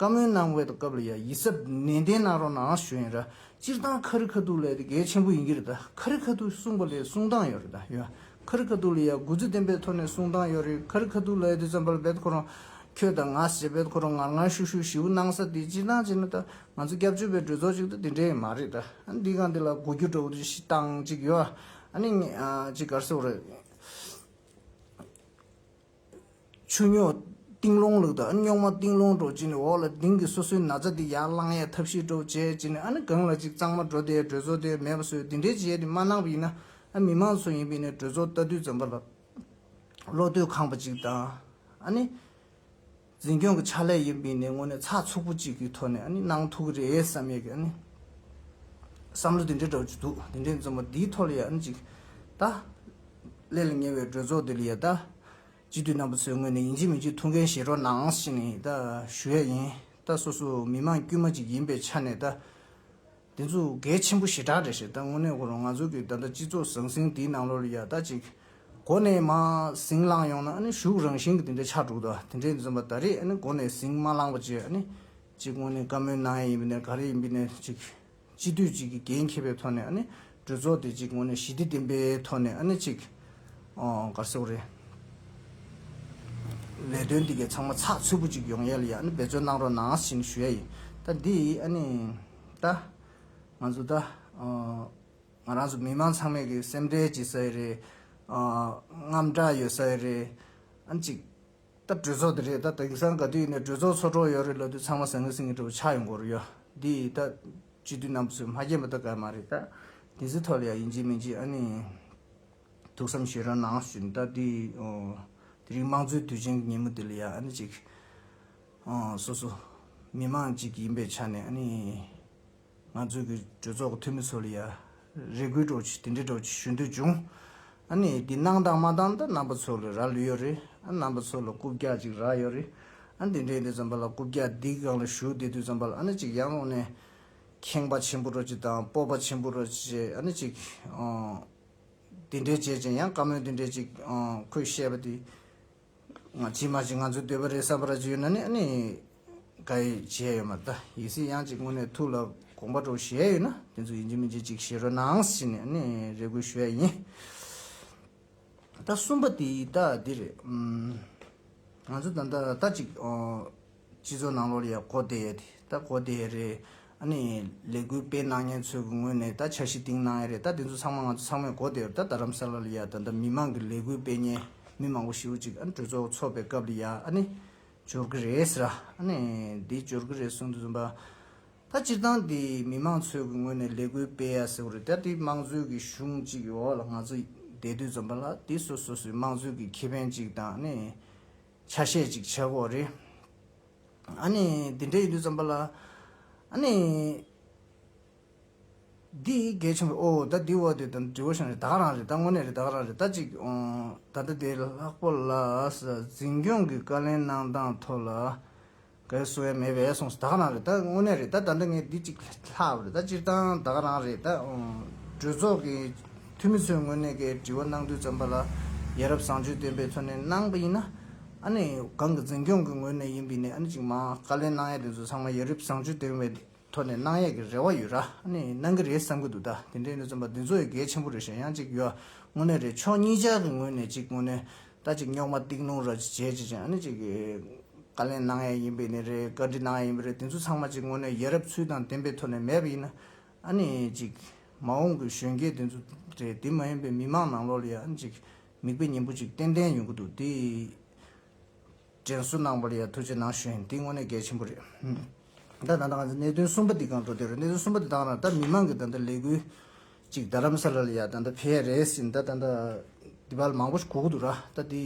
བཀའ་མོལ་གནང་བའི་སྐབས་ལ་ཡང་ཡིད་གཟབ་ནན་ཏན་གནང་རོགས་ནའང་ཞུ་ཡིན་ར་སྤྱིར་བཏང་ཁ་རི་ཁ་ཐུག་ལ་དེ་གལ་ཆེན་པོ་ཡིན་གྱི་རེད་ད་ཁ་རི་ཁ་ཐུག་གསུངས་པ་ལས་གསུངས་སྟངས་ཡོད་རེད་ད་ཡོད་ཁ་རི་ཁ་ཐུག་ལ་ཡང་གུས་བརྩི་ལྡན་པའི་ཐོག་ནས་གསུངས་སྟངས་ཡོད་རེད་ཁ་རི་ཁ་ཐུག་ལ་དེ་ཙམ་པར་འབད་ཁོ་རང་ཁྱོད་དང་ང་ཞེས་འབད་ཁོ་རང་ངར་ངར་ཤུགས་ཤུགས་ཞིའུ་གནང་ས་དེ་སྤྱིར་བཏང་བྱས་ན་ད་ང་ཚོ་སྐྱབས་བཅོལ་བའི་གྲོས་ཚོགས་ཅིག་ད་དེ་འདྲའི་མ་རེད་ད་འདི་གང་དེ་ལ་གོ་རྒྱུ་འདྲ་བོ་ཞིག་བཏང་ཅིག་ཡོད་ཨ་ནི་ཅིག་གར་སེ་བོ་རེད། ཆུ་རྙོག། རྟིང་སློང་ལུགས་དང་ཨ་ནི་རྙོག་མ་རྟིང་སློང་སྒྲོག་ཅེས་ནི་འོག་ལ་ལྡིང་གི་སོ་སོའི་ན་ཚ་དེ་ཡར་བསླང་ཡས་ཐབས་ཤེས་སྒྲོག་བྱས་ཅེས་ནི་ཨ་ནི་སྒང་ལ་གཅིག་གཙང་མ་འགྲོ་དེ་གྲོས་ཚོགས་དེ་མེད་པ་བཟོས་འདི་འདྲའི་བྱས་ཏེ་མ་གནང་བ་ཡིན་ན་ཨ་མི་མང་ཚོ་ཡིན་པས་ནི་གྲོས་ཚོགས་ལྟ་དུས་འཛམ་བུ་ལ་བློ་གཏོད་ཁང་པ་གཅིག་དང་ཨ་ནི། འཛིན་སྐྱོང་གི་ཕྱག་ལས་ཡིན་པས་ནས་དངོས་གནས་ཚགས་ཚུགས་པོ་གཅིག་གི་ཐོག་ནས་གནང་ཐུག་གི་རེད་བསམ་ཡས་ཀྱི་བསམ་བློ་དེ་འདྲས་འགྲོ་གི་འདུག་དེ་འདྲས་འཛོམས་པ་འདིའི་ཐོག་ལ་ཡ་ནི་ཅིག་ད། ཀླད་ལ་ཉེ་བའི་གྲོས་ཚོགས་འདི་ལ་ཡ་ད། སྤྱི་འཐུས་རྣམ་པ་ཚོའི་ངོས་ནས་ཡིན་གཅིག་མིན་གཅིག་ཐུགས་འགན་བཞེས་རོགས་གནང་ཞེས་ནས་ད་ཞུ་ཡ་ཡིན་ད་སོ་སོ་མི་མང་དཀྱུས་མ་ཅིག་ཡིན་པའི་ཆ་ནས་ད། འདི་ཚོ་གལ་ཆེན་པོ་ཞེ་དྲག་རེད་ཞེས་ད་དངོས་གནས་གོ་རོང་ང་ཚོ་གི་ད་ལྟ་སྤྱི་ཚོགས་ཟང་ཟིང་འདིའི་ནང་ལོ་རེ་ཡར་ལྟ་ཅིག་གོ་ནས་མ་ཟིང་བསླངས་ཡོང་ན་ཨ་ནི་ཞུགས་རང་བཞིན་གྱི་དེ་འདྲའི་ཆགས་འགྲོ་གི་འདུག་དེ་འདྲའི་འཛོམས་པ་ད་རེས་ཨ་ནི་གོ་ནས་ཟིང་མ་བསླངས་པ་བཅས་ཨ་ནི་གཅིག་དངོས་གནས་བཀའ་མོལ་གནང་ཡས་ཡིན་པ་ནས་ག་རེ་ཡིན་པའི་ནས་ཅིག་སྤྱི་འཐུས་གཅིག་གི་འགན་འཁྱེར་པའི་ཐོག་ནས་ཨ་ནི་གྲོས་ཚོགས་དེ་ཅིག་དངོས་གནས་ཞི་བདེ་ལྡན་པའི་ཐོག་ནས་ཨ་ནི་ཅིག་གར་སོང་རེད། ལས་དོན་འདི་གའི་ཚང་མ་ཚགས་ཚུད་པོ་ཅིག་ཡོང་ཡས་ལ་ཡ་ཨ་ནི་འབད་བརྩོན་གནང་རོགས་གནང་ཞེས་ནི་ཞུ་ཡ་ཡིན་ད་འདི་ཨ་ནི། ད། ང་ཚོ་ད། ང་རང་ཚོ་མི་དམངས་ཚང་མས་ཀྱི་སེམས་ཁྲལ་བྱེད་ས་ཡོད་རེད། རྔམ་སྐྲག་ཡོད་ས་ཡོད་རེད། ཨང་ཅིག། ད་གྲོས་ཚོགས་དེ་རེད་ད་དེང་སང་ག་དུས་ནས་གྲོས་ཚོགས་ཚོགས་གྲོགས་ཡོད་རེད་ལབ་དུས་ཚང་མ་ཟང་ངེ་ཟིང་ངེ་འདྲ་བོ་ཆགས་ཡོང་གོ་རུ་ཡོད། འདི་ཡིས་ད། སྤྱི་འཐུས་རྣམ་པ་ཚོས་མ་མཁྱེན་པ་ད་ག་མ་རེད་ད། དེ་ཚོའི་ཐོག་ལ་ཡང་ཡིན་གཅིག་མིན་གཅིག་ཨ་ནི། ཐུགས་བསམ་ཤེས་རབ་གནང་བཞིན་ད་དེ། དེ་རིང་དམངས་གཙོའི་དུས་ཆེན་གྱི་ཉིན་མོ་དེ་ལ་ཡང་ཨ་ནི་ཅིག། སོ་སོ་མི་དམངས་གཅིག་ཡིན་པའི་ཆ་ནས་ནི། ང་ཚོའི་གི་གྲོས་ཚོགས་ཀྱི་འཐུས་མི་ཚོ་ལ་ཡ་རེ་དགོས་གྲོགས་ཆེ་དེ་འདྲའི་གྲོགས་ཆེ་ཞུ་འདོད་བྱུང། ནི་འདི་གནང་དང་མ་གཏང་ད་རྣམ་པ་ཚོ་ལ་རག་ལུས་ཡོད་རེད། རྣམ་པ་ཚོ་ལ་རྐུབ་བཀྱག་ཅིག་རག་ཡོད་རེད། འདི་འདྲའི་འདི་ཙམ་པ་ལ་རྐུབ་བཀྱག་འདི་གང་ལ་ཞུ་དེ་དུས་ཙམ་པ་ལ་ནི་ཅིག་ཡང་ལོག་ནས། ཁེངས་པ་ཆེན་པོ་རོ་ཅིག་དང་སྤོབས་པ་ཆེན་པོ་རོ་ཅིག་ནི་ཅིག། འདི་འདྲའི་བྱས་ཅིང་ཡང་བཀའ་མོལ་འདི་འདྲའི་ཅིག་ཁོས་བཤད་པ་དེ། ང་ཅི་མ་ཅིག་ང་ཚོས་འདོད་པ་རེད་བསམ་པ་ར་ཅིག་ཡོད་ན་ནི་ཨ་ནི། ག་ཡི་བྱས་ཡོད་མ་ད་ཡིན་སྲིད་ཡང་ཅིག་དངོས་གནས་ཐུགས་ལ་དགོངས་པ་དྲོ་ཞེ་ཡོད་ན་དེ་ཚོ་ཡིན་གྱི་མིན་གྱི་ཅིག་བཞེས་རོགས་གནང་ཞེས་ནི་ཨ་ནི་རེ་སྐུལ་ཞུ་ཡ་ཡིན། ད་གསུམ་པ་དེ་ཡི་ད་འདི་རེད། ང་ཚོ་ད་ད་ད་ཅིག། སྤྱི་ཚོགས་ནང་ལོ་ལེགས་གོ་བདེ་ཡོད་དེ་ད་གོ་བདེ་ཡོད་རེད། ཨ་ནི་ལས་འགུལ་སྤེལ་གནང་མཁན་ཚོའི་གི་ངོས་ནས་ད་འཆར་གཞི་གཏིང་གནང་ཡས་རེད་ད་དེ་ཚོ་ཚང་མ་ང་ཚོ་ཚང་མས་གོ་བདེ་ཡོད་རེད་ད་རྡ་རམ་ས་ལ་ལ་ཡ་ད་ད་མི་མང་གི་ལས་འགུལ་སྤེལ་མཁན་མི་མང་པོ་ཞིག་རུ་ཅིག་ཨ་ནི་གྲོས་ཚོགས་ཚོགས་པའི་སྐབས་ལ་ཡ་ཨ་ནི་འབྱོར་གི་རེད་ཟེར་ར་ཨ་ནི་དེ་འབྱོར་གི་རེད་གསུངས་དུ་བཟོད་པ། ད་སྤྱིར་བཏང་དེ་མི་མང་ཚོའི་གི་ངོས་ནས་ལས་འགུལ་སྤེལ་ཡ་ཟེར་བ་རེད་ད་དེ་དམངས་གཙོའི་གི་གཞུང་གཅིག་གི་འོག་ལ་ང་ཚོ་བསྡད་དུས་བཟོད་པ་ལ་དེ་སོ་སོ་སོའི་དམངས་གཙོའི་གི་ཁེ་ཕན་ཅིག་དང་ཨ་ནི། ཆ་ཤས་ཅིག་བྱས་གོ་རེ། ཨ་ནི་འདི་འདྲ་ཡིན་དུས་བརྩམས་པ་ལ། ཨ་ནི། འདི་གལ་ཆུང་བས་ཨོ་ད་འདི་འོ་དེ་ད་འདྲི་བོ་ཤང་རེད་ད་ག་རང་རེད་ད་དངོས་གནས་རེད་ད་ག་རང་རེད་ད་ཅིག་ཨོང་ད་ལྟ་དེ་ལྷག་པོ་ལ། འཛིན་སྐྱོང་གི་བཀའ་ལན་གནང་སྟངས་ཐོག་ལ། ག་ཡོད་སུ་ཡོད་མེད་པའི་གསུངས་སོ་ད་ག་རང་རེད་ད་དངོས་གནས་རེད་ད་ད་འདི་ངས་འདི་གཅིག་ལྷག་རེད་ད་སྤྱིར་བཏང་ད་ག་རང་རེད་ད། གྲོས་ཚོགས་ཀྱི་འཐུས་མི་ཚོས་དངོས་གནས་ཀྱི་དྲི་བ་གནང་དུས་བརྩམས་པ་ལ་ཡ་རབས་བཟང་སྤྱོད་ལྡན་པའི་ཚོ་ནས་གནང་པ་ཡིན་ན། ཨ་ནི་གང་གི་འཛིན་སྐྱོང་གི་ངོས་ནས་ཡིན་པའི་ནས་ཨ་ནི་གཅིག་མ་བཀའ་ལན་གནང་ཡས་དེ་ཚོ་ཚང་མ་ཡ་རིབས་བཟང་སྤྱོད་ལྡན་བའི་ཐོག་ནས་གནང་ཡས་ཀྱི་རེ་བ་ཡོད་ར་ཨ་ནི་གནང་གི་རེད་བསམ་གྱི་འདུག་ད་དེ་འདྲའི་ནས་བརྩམས་པ་འདི་ཚོ་ཡི་གེ་ཆེན་པོ་རེད་ཞེ་ཡང་གཅིག་ཡོད་ཨ་དངོས་གནས་རེད་ཕྱོགས་གཉིས་ཅག་གི་ངོས་ནས་གཅིག་དངོས་གནས་ད་ཅིག་རྙོག་མ་གཏིང་སློང་ར་ཅིག་བྱེད་ཅེས་ཀྱང་ནི་ཅིག། བཀའ་ལན་གནང་ཡས་ཡིན་པས་ནི་རེད་བཀའ་འདྲི་གནང་ཡས་ཡིན་པས་རེད་དེ་ཚོ་ཚང་མ་ཅིག་དངོས་གནས་ཡ་རབས་ཚུལ་དང་ལྡན་པའི་ཐོག་ནས་མེད་པ་ཡིན་ན་ཨ་ནི་ཅིག། མ་འོངས་ཀྱི་གཞོན་སྐྱེས་དེ་ཚོ་རེད་དེ་མ་ཡིན་པའི་མི་མང་ནང་ལོགས་ལ་ཡང་ཅིག། མིག་དཔེ་སྙན་པོ་ཅིག་ཏན་ཏན་ཡོང་གི་འདུག་དེ། དྲན་གསོ་གནང་བར་ཡང་ཐུགས་རྗེ་གནང་ཞུས་འདི་དངོས་གནས་གལ་ཆེན་པོ་རེད། ད་ད་ང་ཚོས་གནད་དོན་གསུམ་པ་འདི་གང་འགྲོ་འདོད་རེད་གནད་དོན་གསུམ་པ་འདི་དང་ར་ད་མི་མང་གི་ད་ད་ལས་འགུལ་གཅིག་རྡ་རམ་ས་ལ་ལ་ཡ་ད་ད་བྷེ་རེ་སི་ད་ད་འདི་བ་ལ་མང་པོ་ཞིག་གོ་གི་འདུག་ར་ད་འདི་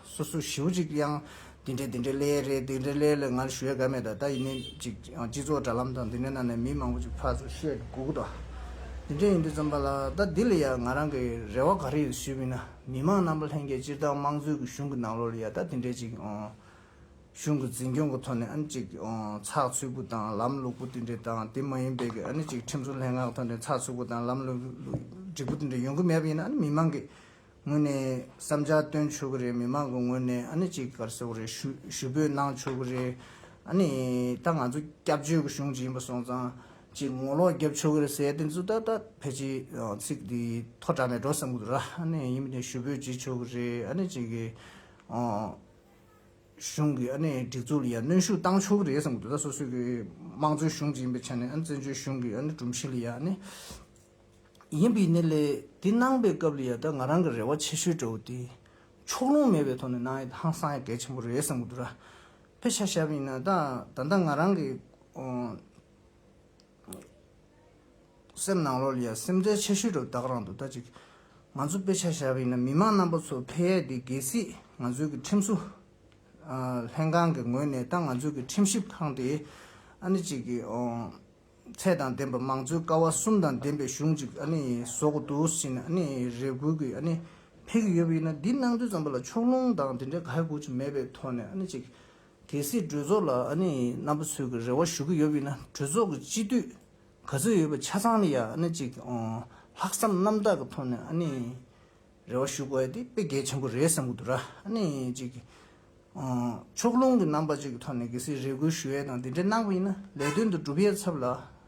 སོ་སོ་ཞིའུ་གཅིག་ཡང་འདི་འདྲའི་འདི་འདྲའི་ལས་རེད་འདི་འདྲའི་ལས་ལ་ང་ལ་ཞུ་ཡ་ག་མེད་ད་ད་ཡིན་ནའི་གཅིག་སྤྱི་ཚོགས་དྲ་ལམ་དང་འདི་འདྲའི་ནང་ནས་མི་མང་པོ་ཞིག་ཕར་ཚུར་བཤད་གོ་གི་འདུག་ར་འདི་འདྲས་ཡིན་དུས་ཙམ་པ་ལ་ད་འདི་ལ་ཡ་ང་རང་གི་རེ་བ་ག་རེ་ཡོད་ཞུས་མིན་ན། མི་མང་རྣམ་པ་ལྷན་རྒྱས་སྤྱིར་བཏང་དམངས་གཙོའི་གི་གཞུང་གི་ནང་ལོ་ལ་ཡ་ད་དེ་འདྲས་ཅིག་གཞུང་གི་འཛིན་སྐྱོང་གི་ཐོག་ནས་ཨ་ནི་ཅིག་ཚགས་ཚུད་པོ་དང་ལམ་ལུགས་པོ་དེ་འདྲས་དང་དེ་མ་ཡིན་པའི་གི་ཨ་ནི་ཅིག་ཁྲིམས་སྲོལ་ལྷན་ཁང་གི་ཐོག་ནས་ཚགས་ཚུད་པོ་དང་ལམ་ལུགས་འགྲིག་པོ་དེ་འདྲས་ཡོང་གི་མེད་པ་ཡིན་ན་ཨ་ནི་མི་མང་གི་ངོས་ནས་བསམ་འཆར་བཏོན་ཆོག་གི་རེད་མི་མང་གི་ངོས་ནས་ཨ་ནི་ཅིག་གར་སོག་རེ་ཞུ་འབོད་གནང་ཆོག་གི་རེད། ཨ་ནི་ད་ང་ཚོ་སྐྱབས་བཅོལ་གི་གཞུང་ཅིག་ཡིན་པ་སོང་ཙང་ཅེས་ངོ་ལོག་རྒྱབ་ཆོས་གོས་སའི་སྟེང་ཚུར་ལྟ་ལྟ་ཕལ་ཆེར་ཚིག་འདི་ཐོག་དྲངས་ནས་འགྲོ་བསམ་གྱི་འདུག་ཨ་ནི་ཡིན་མི་ནི་ཞུ་འབོད་བྱེད་ཆོག་གི་རེད་ཨ་ནི་བྱེད་ཀྱི། གཞུང་གི་ཨ་ནི་སྒྲིག་འཛུགས་ལ་ཡང་གནོན་ཤུགས་བཏང་ཆོག་གི་རེད་བསམ་གྱི་འདུག་སོ་སོའི་གི་དམངས་གཙོའི་གཞུང་ཅིག་ཡིན་པའི་ཆ་ནས་ཨ་ནི་བཙན་བྱོལ་གཞུང་གི་ཨ་ནི་སྒྲོམ་གཞི་ལ་ཡང་ཨ་ནི། ཡིན་པའི་ནི་ལས་དེ་གནང་པའི་སྐབས་ལ་ཡང་ད་ང་རང་གི་རེ་བ་ཆེ་ཤོས་འདྲ་བོ་དེ། ཕྱོགས་ལྷུང་མེད་པའི་ཐོག་ནས་གནང་ཡ་ད་ཧང་སང་ཡ་གལ་ཆེན་པོ་རེད་བསམ་གྱི་འདུག་ཕལ་ཆེར་ཞབས་ཡིན་ན་ད་ད་ང་རང་གི། སེམས་ནང་ལོགས་ལ་ཡང་སེམས་ཁྲལ་ཆེ་ཤོས་དུ་བདག་རང་དུ་ལྟ་ཅིག། ང་ཚོ་དཔེ་ཆ་བཞག་པ་ཡིན་ན་མི་མང་རྣམ་པ་ཚོ་ཕལ་ཡས་འདི་གལ་སྲིད་ང་ཚོའི་གི་ཁྲིམས་བཟོ་ལྷན་ཁང་གི་ངོས་ནས་དང་ང་ཚོའི་གི་ཁྲིམས་ཞིབ་ཁང་དེ་ཨ་ནི་ཅིག་གི་ཚད་དང་ལྡན་པ་མང་གཙོའི་ཀ་བ་གསུམ་དང་ལྡན་པའི་གཞུང་ཅིག་ཨ་ནི་བཟོ་གི་འདུག་ཟིན་ཨ་ནི་རེ་སྒུག་གི་ཨ་ནི་ཕེབས་གི་ཡོད་པ་ཡིན་ན་འདི་གནང་དུས་ཙམ་པོ་ལ་ཕྱོགས་ལྷུང་དང་དེ་འདྲའི་ག་གེ་སྒུག་ཅིག་མེད་པའི་ཐོག་ནས་ཨ་ནི་ཅིག། གལ་སྲིད་གྲོས་ཚོགས་ལ་ཨ་ནེ་རྣམ་པ་ཚོས་ཀྱི་རེ་བ་ཞུ་གི་ཡོད་པས་ན་གྲོས་ཚོགས་ཀྱི་སྤྱི་འཐུས་ག་ཚོད་ཡོད་པ་ཆ་ཚང་ལ་ཡང་ཨ་ནེ་གཅིག་ལྷག་བསམ་རྣམ་དག་གི་ཐོག་ནས་ཨ་ནེ་རེ་བ་ཞུ་དགོས་ཡ་དེ་དཔེ་གལ་ཆེན་པོ་རེད་བསམ་གྱི་འདུག་ར་ཨ་ནེ་གཅིག་ཕྱོགས་ལྷུང་གི་རྣམ་པ་ཅིག་གི་ཐོག་ནས་གལ་སྲིད་རེ་སྐུལ་ཞུ་ཡ་དང་དེ་འདྲ་གནང་བ་ཡིན་ན་ལས་དོན་དུ་འགྲུབ་ཡ་ཚབ་ལ་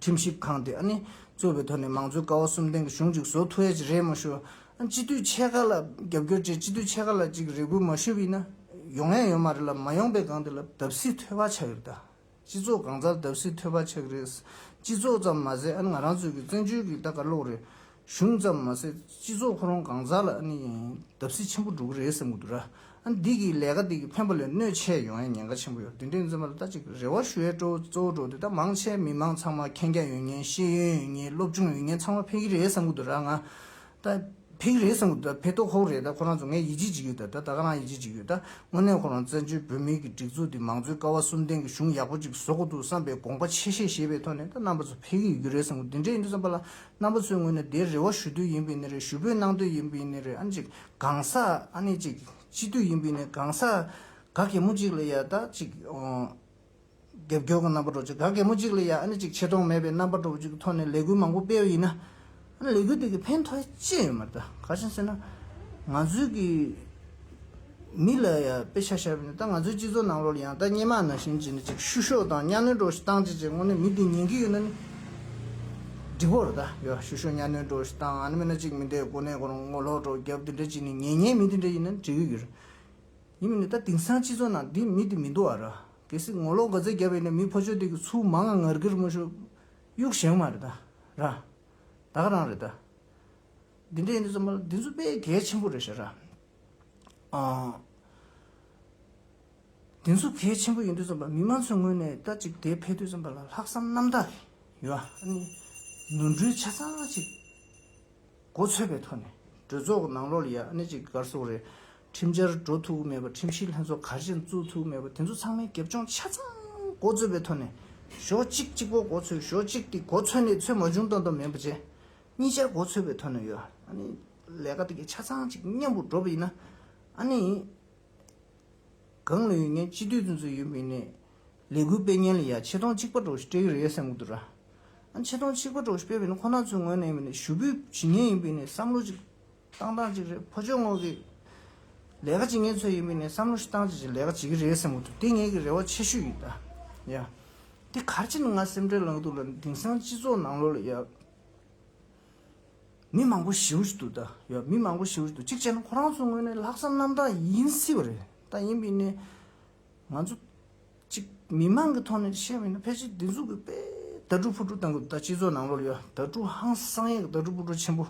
ཁྲིམས་ཞིབ་ཁང་དེ་གཙོས་པའི་ཐོག་ནས་མང་གཙོའི་ཀ་བ་གསུམ་ལྡན་གྱི་གཞུང་ཅིག་བཟོ་ཐུབ་ཡ་ཅིག་རེད་མ་ཞུ། སྤྱི་འཐུས་ཕྱེད་ཀ་ལ་རྒྱབ་སྐྱོར་བཅས་སྤྱི་འཐུས་ཕྱེད་ཀ་ལ་ཅིག་རེ་སྐུལ་མ་ཞུས་པ་ཡིན་ན། ཡོང་ཡ་ཡོད་མ་རེད་ལབ་མ་ཡོང་པའི་སྒང་དེ་ལ་བརྡབ་གསིག་ཐོད་པ་ཆགས་ཡོད་རེད་ད། སྤྱི་ཚོགས་གང་སར་བརྡབ་གསིག་ཐོད་པ་ཆགས་ཀྱི་རེད། སྤྱི་ཚོགས་ཙམ་མ་ཟད་ང་རང་ཚོའི་གི་བཙན་བྱོལ་གྱི་ད་གར་ལོག་རེད། གཞུང་ཙམ་མ་ཟད་སྤྱི་ཚོགས་ཁོ་རང་གང་ཟག་ལ་ཨ་ནི་བརྡབ་གསིག་ཆེན་པོ་འགྲོ་གི་རེད་བསམ་གྱི་འདུག་ར་ཨ་ནི་འདི་གི་ལས་ཀ་འདི་གི་ཕན་པ་ལས་གནོད་ཆེ་ཡོང་ཡ་ཉེན་ཁ་ཆེན་པོ་ཡོད་ར་འདི་འདྲའི་འཛིན་པ་ལ་ད་ཅིག་རེ་བ་ཞུ་ཡ་སྤྲོ་གཙོ་བོ་འགྲོ་འདི་ད་མང་ཆེ་མི་མང་ཚང་མ་མཁྱེན་རྒྱ་ཡོད་ངེས་ཤེས་ཡོན་ཡོད་ངེས་སློབ་སྦྱོང་ཡོད་ངེས་ཚང་མ་ཕན་གྱི་རེད་བསམ་གྱི་འདུག་ར་ང་ད་ཕན་གྱི་རེད་བསམ་གྱི་འདུག་ར་ཕན་ཐོག་ཁོག་རེད་ད་ཁོ་རང་ཚོ་ངས་ཡིད་ཆེས་བྱེད་ཀྱི་ཡོད་ད་ད་ག་རང་ཡིད་ཆེས་བྱེད་ཀྱི་ཡོད་ད་དངོས་གནས་ཁོ་རང་བཙན་བྱོལ་བོད་མིའི་གི་སྒྲིག་འཛུགས་འདི་མང་གཙོའི་ཀ་བ་གསུམ་ལྡན་གི་གཞུང་ཡག་པོ་ཅིག་བཟོ་གི་འདུག་བསམ་པའི་དགོངས་པ་ཆེ་བཞེས་བྱེད་པའི་ཐོག་ནས་ད་རྣམ་པ་ཚོ་ཕན་གྱི་ཡོད་རེད་བསམ་གྱི་འདི་འདྲའི་ཡིན་འདུག་བསམ་པ་ལ་རྣམ་པ་ཚོའི་ངོས་ནས་དེ་རེ་བ་ཞུ་དུས་ཡིན་པའི་ནི་རེད་ཞུ་འབོད་གནང་དུས་ཡིན་པའི་ནི་རེད་ཨ་ནི་ཅིག་གང་ཟག་ཨ་ནི་ཅིག་སྤྱི་འཐུས་ཡིན་པའི་ནི་གང་ཟག་ག་གེ་མོ་ཅིག་ལ་ཡ་ད་ཅིག་རྒྱབ་སྐྱོར་གི་རྣམ་པ་འགྲོ་ཅིག་ག་གེ་མོ་ཅིག་ལ་ཡ་ཨ་ནི་ཅིག་ཆེ་མཐོང་མེད་པའི་རྣམ་པ་འགྲོ་བ་ཅིག་གི་ཐོག་ནས་ལས་འགུལ་མང་པོ་སྤེལ་བ་ཡིན་ན་ཨ་ནི་ལས་འགུལ་དེ་གི་ཕན་ཐོགས་ཅི་ཡོད་མ་རེད་ད་ག་བྱེད་ཟེར་ན་ང་ཚོའི་གི། མི་ལ་ཡང་དཔེ་ཆ་ཤར་བས་ནི་ད་ང་ཚོའི་སྤྱི་ཚོགས་ནང་ལོར་ཡང་ད་སྙན་མ་ནང་བཞིན་བྱས་ནས་ཅིག་བཤུ་གཞོག་དང་གཉའ་གནོན་སྒྲོག་ཞིག་བཏང་བྱས་བྱས་ངོ་ནས་མི་དེ་ཉན་གྱི་ཡོད་ན་ནི། འགྲིག་བོ་རེད་ད་ཡོད་བཤུ་གཞོག་གཉའ་གནོན་སྒྲོག་ཞིག་བཏང་ཨ་ནི་མེད་ན་ཅིག་མི་དེ་དགོ་ནས་དགོ་རུང་ངོ་ལོག་སྒྲོག་རྒྱབ་དེ་འདྲ་ཅིག་ནི་ཉན་ཉན་མི་དེ་འདྲ་ཡིན་ན་འགྲིག་གི་ཡོད་རེད། ཡིན་མིན་ནི་ད་དེང་སང་སྤྱི་ཚོགས་ནང་དེ་མི་དེ་མི་འདུག་ཨ་ར། གལ་སྲིད་ངོ་ལོག་འགོ་རྩལ་རྒྱབ་ཡོད་ན་མི་ཕོ་ཆོས་དེ་གི་ཚུལ་མང་ང་ངར་གིར་མ་ཞུ། གཡུག་བཞེངས་མ་རེད་ད། ར། དག་རང་རེད་ད། འདི་འདྲ་ཡིན་ན་ཚང་མ་ལ་འདི་ཚོ་དཔེ་གལ་ཆེན་པོ་རེད་ཤ་ར། དེ་ཚོ་གལ་ཆེན་པོ་ཡིན་དུས་བརྩམས་པ་མི་མང་ཚོའི་ངོས་ནས་ལྟ་ཅིག་དེ་ཕེབས་དུས་བརྩམས་པ་ལ་ལྷག་བསམ་རྣམ་དག་གིས་ཡོད་ཨཱ་ནི་ནོར་འཁྲུལ་ཆ་ཚང་ཅིག་མགོ་ཚོས་པའི་ཐོག་ནས་གྲོས་ཚོགས་ནང་ལོགས་ལ་ཡ་ཨཱ་ནི་ཅིག་སྒར་སོགས་རེ་ཁྲིམས་འཆར་འགྲོ་ཐུབ་ཀྱི་མེད་པ་ཁྲིམས་ཞིབ་ལྷན་ཚོགས་ག་རེ་ཅན་བཙུགས་ཐུབ་ཀྱི་མེད་པ་དེ་ཚོ་ཚང་མའི་སྒེབ་སྦྱོང་ཆ་ཚང་མགོ་ཚོས་པའི་ཐོག་ནས་ཞོག་གཅིག་གཅིག་པོ་མགོ་ཚོས་ཞོག་གཅིག་དེ་མགོ་ཚོས་ནས་ཚོས་མ་བྱུང་དང་དང་མིན་པ་བཅས་གཉིས་ཆར་མགོ་ཚོས་པའི་ཐོག་ནས་ཡོད་ཨཱ་ནི། ལས་ཀ་དེ་ཆ་ཚང་ཅིག་མཉམ་པོར་འགྲོ་བ་ཡིན་ན། ཨ་ནི། གང་ལོས་ཡོད་ངན་སྤྱི་འཐུས་ཚོན་ཚོད་ཡོད་མིན་ནས། ལས་འགུལ་སྤེལ་ཉན་ལ་ཡ་ཆེ་མཐོང་གཅིག་པ་འགྲོ་ཞིག་སྤྲད་ཀྱི་རེད་སེམས་གོ་དུ་ར། ཨ་ཆེ་མཐོང་གཅིག་པ་འགྲོ་ཞིག་སྤེལ་བའི་ནི་ཁོ་ན་ཚོའི་ངོས་ནས་ཡིན་པ་ནས་ཞུ་འབུད་བྱེད་ཉན་ཡིན་པའི་ནས་བསམ་བློ་ཅིག་བཏང་བཏང་ཅིག་རེད་ཕོ་ཆོས་ངོགས་ཀྱི། ལས་ཀ་བྱེད་ངན་ཚོའི་ཡིན་པའི་ནས་བསམ་བློ་ཞིག་བཏང་ཅིག་ཅིག་ལས་ཀ་བྱེད་ཀྱི་རེད་སེམས་གོ་དུ་དེ་ངེད་ཀྱི་རེ་བ་ཆེ་ཤོས་ཡིན་ད་ཡ། དེ་གར་ཅི་ནི་ང་སེམས་ཁྲལ་ལངས་འདུག་ལ་དེང་སང་སྤྱི་ཚོགས་ནང་ལོ་ལ་ཡ། མི་མང་པོ་ཞི་འུར་དུ་ཡོད་མི་མང་པོ་ཞི་འུར་དུ་གཅིག་བྱས་ན་ཁོ་རང་ཚོ་དངོས་གནས་ལྷག་བསམ་རྣམ་དག་ཡིན་སྲིད་པ་རེད་ད་ཡིན་པའི་ནས་ང་ཚོ་གཅིག་མི་མང་གི་ཐོག་ནས་བཤད་པ་ཡིན་ན་ཕལ་ཆེར་འདི་ཚོ་གི་པའི་དྭ་ཕྲུག་ཕུ་ཕྲུག་དང་གི་ད་སྤྱི་ཚོགས་ནང་ལོར་ཡོད་དྭ་ཕྲུག་ཧང་སང་ཡས་གི་དྭ་ཕྲུག་ཕུ་ཕྲུག་ཆེན་པོ་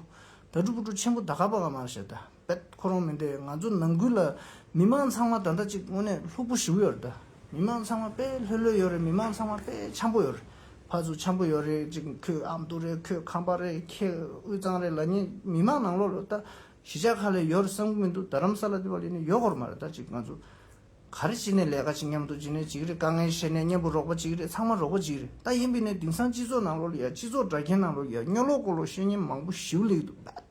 དྭ་ཕྲུག་ཕུ་ཕྲུག་ཆེན་པོ་ད་ག་པ་ག་མ་བཤད་ད། བས། ཁོ་རང་མིན་པའི་ང་ཚོ་ནང་ཁུལ་ལ་མི་དམངས་ཚང་མ་ད་ལྟ་གཅིག་དངོས་གནས་ལྷུག་པོ་ཞུགས་ཡོད་རེད་ད། མི་དམངས་ཚང་མ་དཔེ་ལྷོད་ལྷོད་ཡོད་རེད་མི་དམངས་ཚང་མ་དཔེ་འཆམ་པོ་ཡོད་རེད། ཕ་ཚུ་འཆམ་པོ་ཡོད་རེད་ཅིག་ཁོས་ཨ་མདོ་རེད་ཁོས་ཁམས་པ་རེད་ཁྱེད་དབུས་གཙང་རེད་ལ་ངས་མི་དམངས་ནང་ལོགས་རེད་ད། གཞིས་ཆགས་ཁག་ལས་ཡོད་རེད་བསམ་གི་མི་འདུག་རྡ་རམ་ས་ལ་འདི་བ་ལས་ནི་ཡོད་སྐོར་མ་རེད་ད་ཅིག་ང་ཚོ། ག་རེ་བྱེད་ནས་ལས་ཀ་བྱེད་མཉམ་དུ་བྱེད་ནས་བྱེད་ཀྱི་རེད་དཀའ་ངལ་བཤད་ནས་མཉམ་པོ་རོགས་པ་བྱེད་ཀྱི་རེད་ཚང་མ་རོགས་པོ་བྱེད་ཀྱི་རེད་ད་ཡིན་པས་ནས་དེང་སང་སྤྱི་ཚོགས་ནང་ལོགས་ལ་ཡ་སྤྱི་ཚོགས་དགྲ་མཁན་ནང་ལོགས་ཡ་སྨྱོ་ལོག་ཀོ་ལོག་བཤད་ཉན་མང་པོ་ཞིག་ལེགས་འདུག་བས།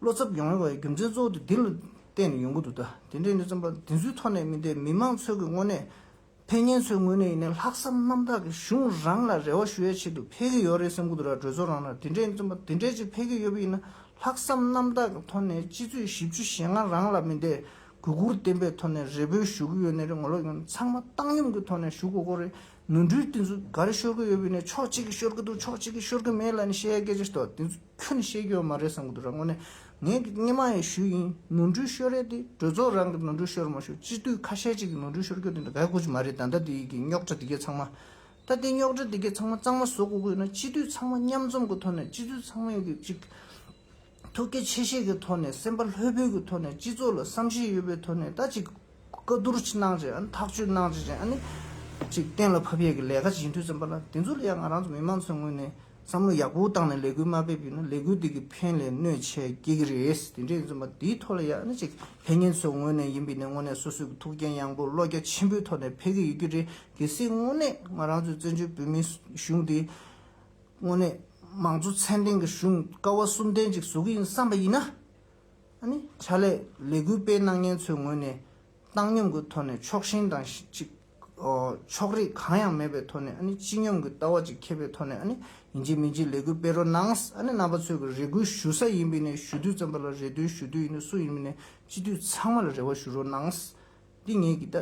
བློ་འཚབ་ཡོང་བའི་རྒྱུ་མཚན་གཙོ་བོ་དེ་འདི་ལ་བརྟེན་ནས་ཡོང་གི་འདུག་ད་དེ་འདྲའི་གནས་ཚུལ་འབའ་དེ་ཚོའི་ཐོག་ནས་མིན་ཏེ་མི་མང་ཚོས་ཀྱི་དངོས་གནས། ཕན་ངན་ཚོའི་དངོས་གནས་ཡིན་ནའི་ལྷག་བསམ་རྣམ་དག་གིས་གཞུང་རང་ལ་རེ་བ་ཞུ་ཡའི་ཆེད་དུ་ཕེལ་གྱི་ཡོད་རེད་སེམས་ཁུང་དུ་ར་བགྲོད་ཚོ་རང་ལ་དེ་འདྲའི་གནས་ཚུལ་འབའ་དེ་འདྲའི་ཅིག་ཕེལ་གྱི་ཡོད་པས་ཡིན་ན་ལྷག་བསམ་རྣམ་དག་གི་ཐོག་ནས་སྤྱི་ཚོས་གཞི་བཅུ་ཞེ་ལྔ་རང་ལ་མིན་ཏེ་གུས་བཀུར་བརྟན་པའི་ཐོག་ནས་རེ་འབོད་ཞུ་གི་ཡོད་ནའི་རེ་ངོ་ལོག་ཡོང་ཚང་མ་བཏང་སྙོམས་ཀྱི་ཐོག་ནས་ཞུ་གོ་གོ་རེ་ནོར་འཁྲུལ་དེ་ཚོ་འགའ་རེ་ཤོར་གྱི་ཡོད་པས་ནས་ཕྱོགས་གཅིག་གིས་ཤོར་གྱི་འདུག་ཕྱོགས་གཅིག་གིས་ཤོར་གྱི་མེད་ལ་ནས་བཤད་ཡའི་སྐད་ཆ་དེ་ཚོ། ཁྱོད་ནི་ཤེས་ཀྱི་མ་རེད་བསམ་གྱི་འདུག་ར་ངོ་ནས་ངའི་གི་སྙེ་མ་ཡི་ཞུ་ཡིན་ནོར་འཁྲུལ་ཤོར་རེད་དེ་གྲོས་ཚོགས་རང་གི་ནོར་འཁྲུལ་ཤོར་མ་ཤོར་སྤྱི་འཐུས་ཁ་ཤས་གཅིག་གི་ནོར་འཁྲུལ་ཤོར་ཁྱོད་དེ་འདྲ་ག་གོ་གི་མ་རེད་ད་ལྟ་དེ་གི་རྙོག་གྲ་དེ་གས་ཚང་མ་ད་ལྟའི་རྙོག་གྲ་དེ་གས་ཚང་མ་གཙང་མ་བཟོ་གོ་གི་ཡོད་ན་སྤྱི་འཐུས་ཚང་མ་མཉམ་འཛོམས་གི་ཐོག་ནས་སྤྱི་འཐུས་ཚང་མས་གི་གཅིག་ཐུགས་གལ་ཆེ་ཤེས་གི་ཐོག་ནས་སེམས་པ་ལྷོད་པོའི་གི་ཐོག་ནས་སྤྱི་ཚོགས་ལ་བསམ་ཤེས་ཡོད་པའི་ཐོག་ནས་ད་གཅིག་བཀའ་བསྡུར་གནང་རྗེས་ཨ་ནི་ཐག་གཅོད་གནང་རྗེས་ཨ་ནི། གཅིག་གཏན་ལ་ཕབ་ཡས་ཀྱི་ལས་ཀ་བྱེད་འཐུས་ཚན་པ་ལ་དེ་ཚོ་ལ་ཡང་ང་རང་ཚོ་མི་དམངས་ཚོའི་ངོས་ནས་བསམ་བློ་ཡག་པོ་བཏང་ནས་ལས་འགུལ་མ་ཕེབས་ཡོད་ན་ལས་འགུལ་དེ་གི་ཕན་ལས་གནོད་ཆེ་སྐྱེ་གི་རེད་དེ་འདྲས་ཡིན་ཚོད་མ་དེའི་ཐོག་ལ་ཡང་ཨ་ནི་གཅིག་ལྷན་ངེད་ཚོའི་ངོས་ནས་ཡིན་པའི་ནས་དངོས་གནས་སོ་སོའི་གི་ཐུགས་འགན་ཡངས་པོ་བློ་རྒྱ་ཆེན་པོའི་ཐོག་ནས་ཕེབས་གི་ཡོད་ཀྱི་རེད་གལ་སྲིད་དངོས་གནས་ང་རང་ཚོའི་བཙན་བྱོལ་བོད་མིའི་གཞུང་དེ་དངོས་གནས་དམངས་གཙོ་ཚན་ལྡན་གི་གཞུང་ཀ་བ་གསུམ་ལྡན་ཅིག་བཟོ་གི་ཡིན་བསམ་པ་ཡིན་ན། ཕྱག་ལས་ལས་འགུལ་སྤེལ་གནང་མཁན་ཚོའི་ངོས་ནས་བཏང་སྙོམས་ཀྱི་ཐོག་ནས་ཕྱོགས་ཞེན་དང་གཅིག་ཕྱོགས་རིས་གང་ཡང་མེད་པའི་ཐོག་ནས་སྤྱི་སྙོམས་ཀྱི་ལྟ་བ་གཅིག་ཁྱེད་པའི་ཐོག་ནས་ཡིན་གཅིག་མིན་གཅིག་ལས་འགུལ་སྤེལ་རོགས་གནང་རྣམ་པ་ཚོས་རེ་སྐུལ་ཞུ་ས་ཡིན་པས་ནས་ཞུ་དུས་ཙམ་པ་ལ་རེ་འདུན་ཞུ་དུས་ཡིན་ན་སུ་ཡིན་པས་ནས་སྤྱི་འཐུས་ཚང་མ་ལ་རེ་བ་ཞུ་རོགས་གནང། འདི་ངེད་ཀྱི་ལྟ་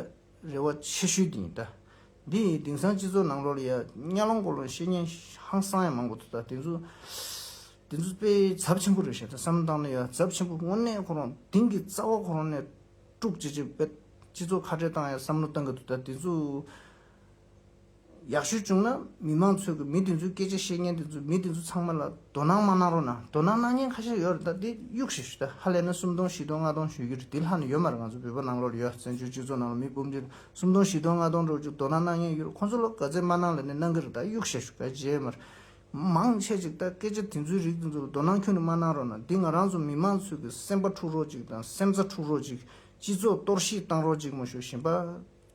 རེ་བ་ཆེ་ཤོས་དེ་ཡིན། འདི་ཡིན་དེང་སང་སྤྱི་ཚོགས་ནང་ལོག་ལ་ཡ་གཉའ་ལོང་སྐོར་ལ་བཤད་ཉན་ཧང་སང་ཡང་མང་པོ་འདུག་ད་དེ་ཚོ། དེ་ཚོ་དཔེ་ཚབ་ཆེན་པོ་རེད་ཞེ་ད་བསམ་བཏང་ན་ཡ་ཚབ་ཆེན་པོ་དངོས་གནས་ཁོ་རང་དེང་གི་རྩ་བ་ཁོ་རང་ནས་དཀྲུག་ཅེས་ཅེས་པད་སྤྱི་ཚོགས་ཁ་བྲལ་བཏང་ཡ་བསམ་བློ་བཏང་གི་འདུག་ད་དེ་ཚོ་ཡག་ཤོས་བྱུང་ན་མི་མང་ཚོས་གི་མི་དེ་ཚོའི་སྐད་ཆ་བཤད་མཁན་དེ་ཚོ་མི་དེ་ཚོ་ཚང་མ་ལ་དོ་སྣང་མ་གནང་རོགས་ན་དོ་སྣང་གནང་མཁན་ཁ་ཤས་ཡོད་རེད་ད་དེ་གཡུག་ཞེས་ཞུ་ད་ཧ་ལས་ན་སུམ་སྟོང་བཞི་སྟོང་ལྔ་སྟོང་ཞུ་རྒྱུ་རེད་དེ་ལྷག་ནི་ཡོད་མ་རེད་ང་ཚོ་བོད་པ་ནང་ལོར་ཡོད་བཙན་བྱོལ་སྤྱི་ཚོགས་ནང་ལ་མི་འབུམ་བརྒྱ་སུམ་སྟོང་བཞི་སྟོང་ལྔ་སྟོང་འགྲོ་རྒྱུ་དོ་སྣང་གནང་མཁན་ཡོད་རེད་ཁོ་ཚོ་ལ་ག་ཚད་མ་གནང་ལས་ནས་གནང་གི་རེད་ད་གཡུག་ཞེས་ཞུ་ད་རྗེས་མར་མང་ཆེ་ཅིག་ད་སྐད་ཆ་དེ་ཚོའི་རིགས་དེ་ཚོ་ལ་དོ་སྣང་ཁྱོད་ནས་མ་གནང་རོགས་གནང་འདི་ང་རང་ཚོ་མི་མང་ཚོས་ཀྱི་སེམས་པ་འཁྲུག་རོགས་ཅིག་དང་སེམས་རྩ་འཁྲུག་རོགས་ཅིག་སྤྱི་ཚོགས་གཏོར་བཤིག་བཏང་རོགས་ཅིག་མ་ཞུ་ཞེན་པ་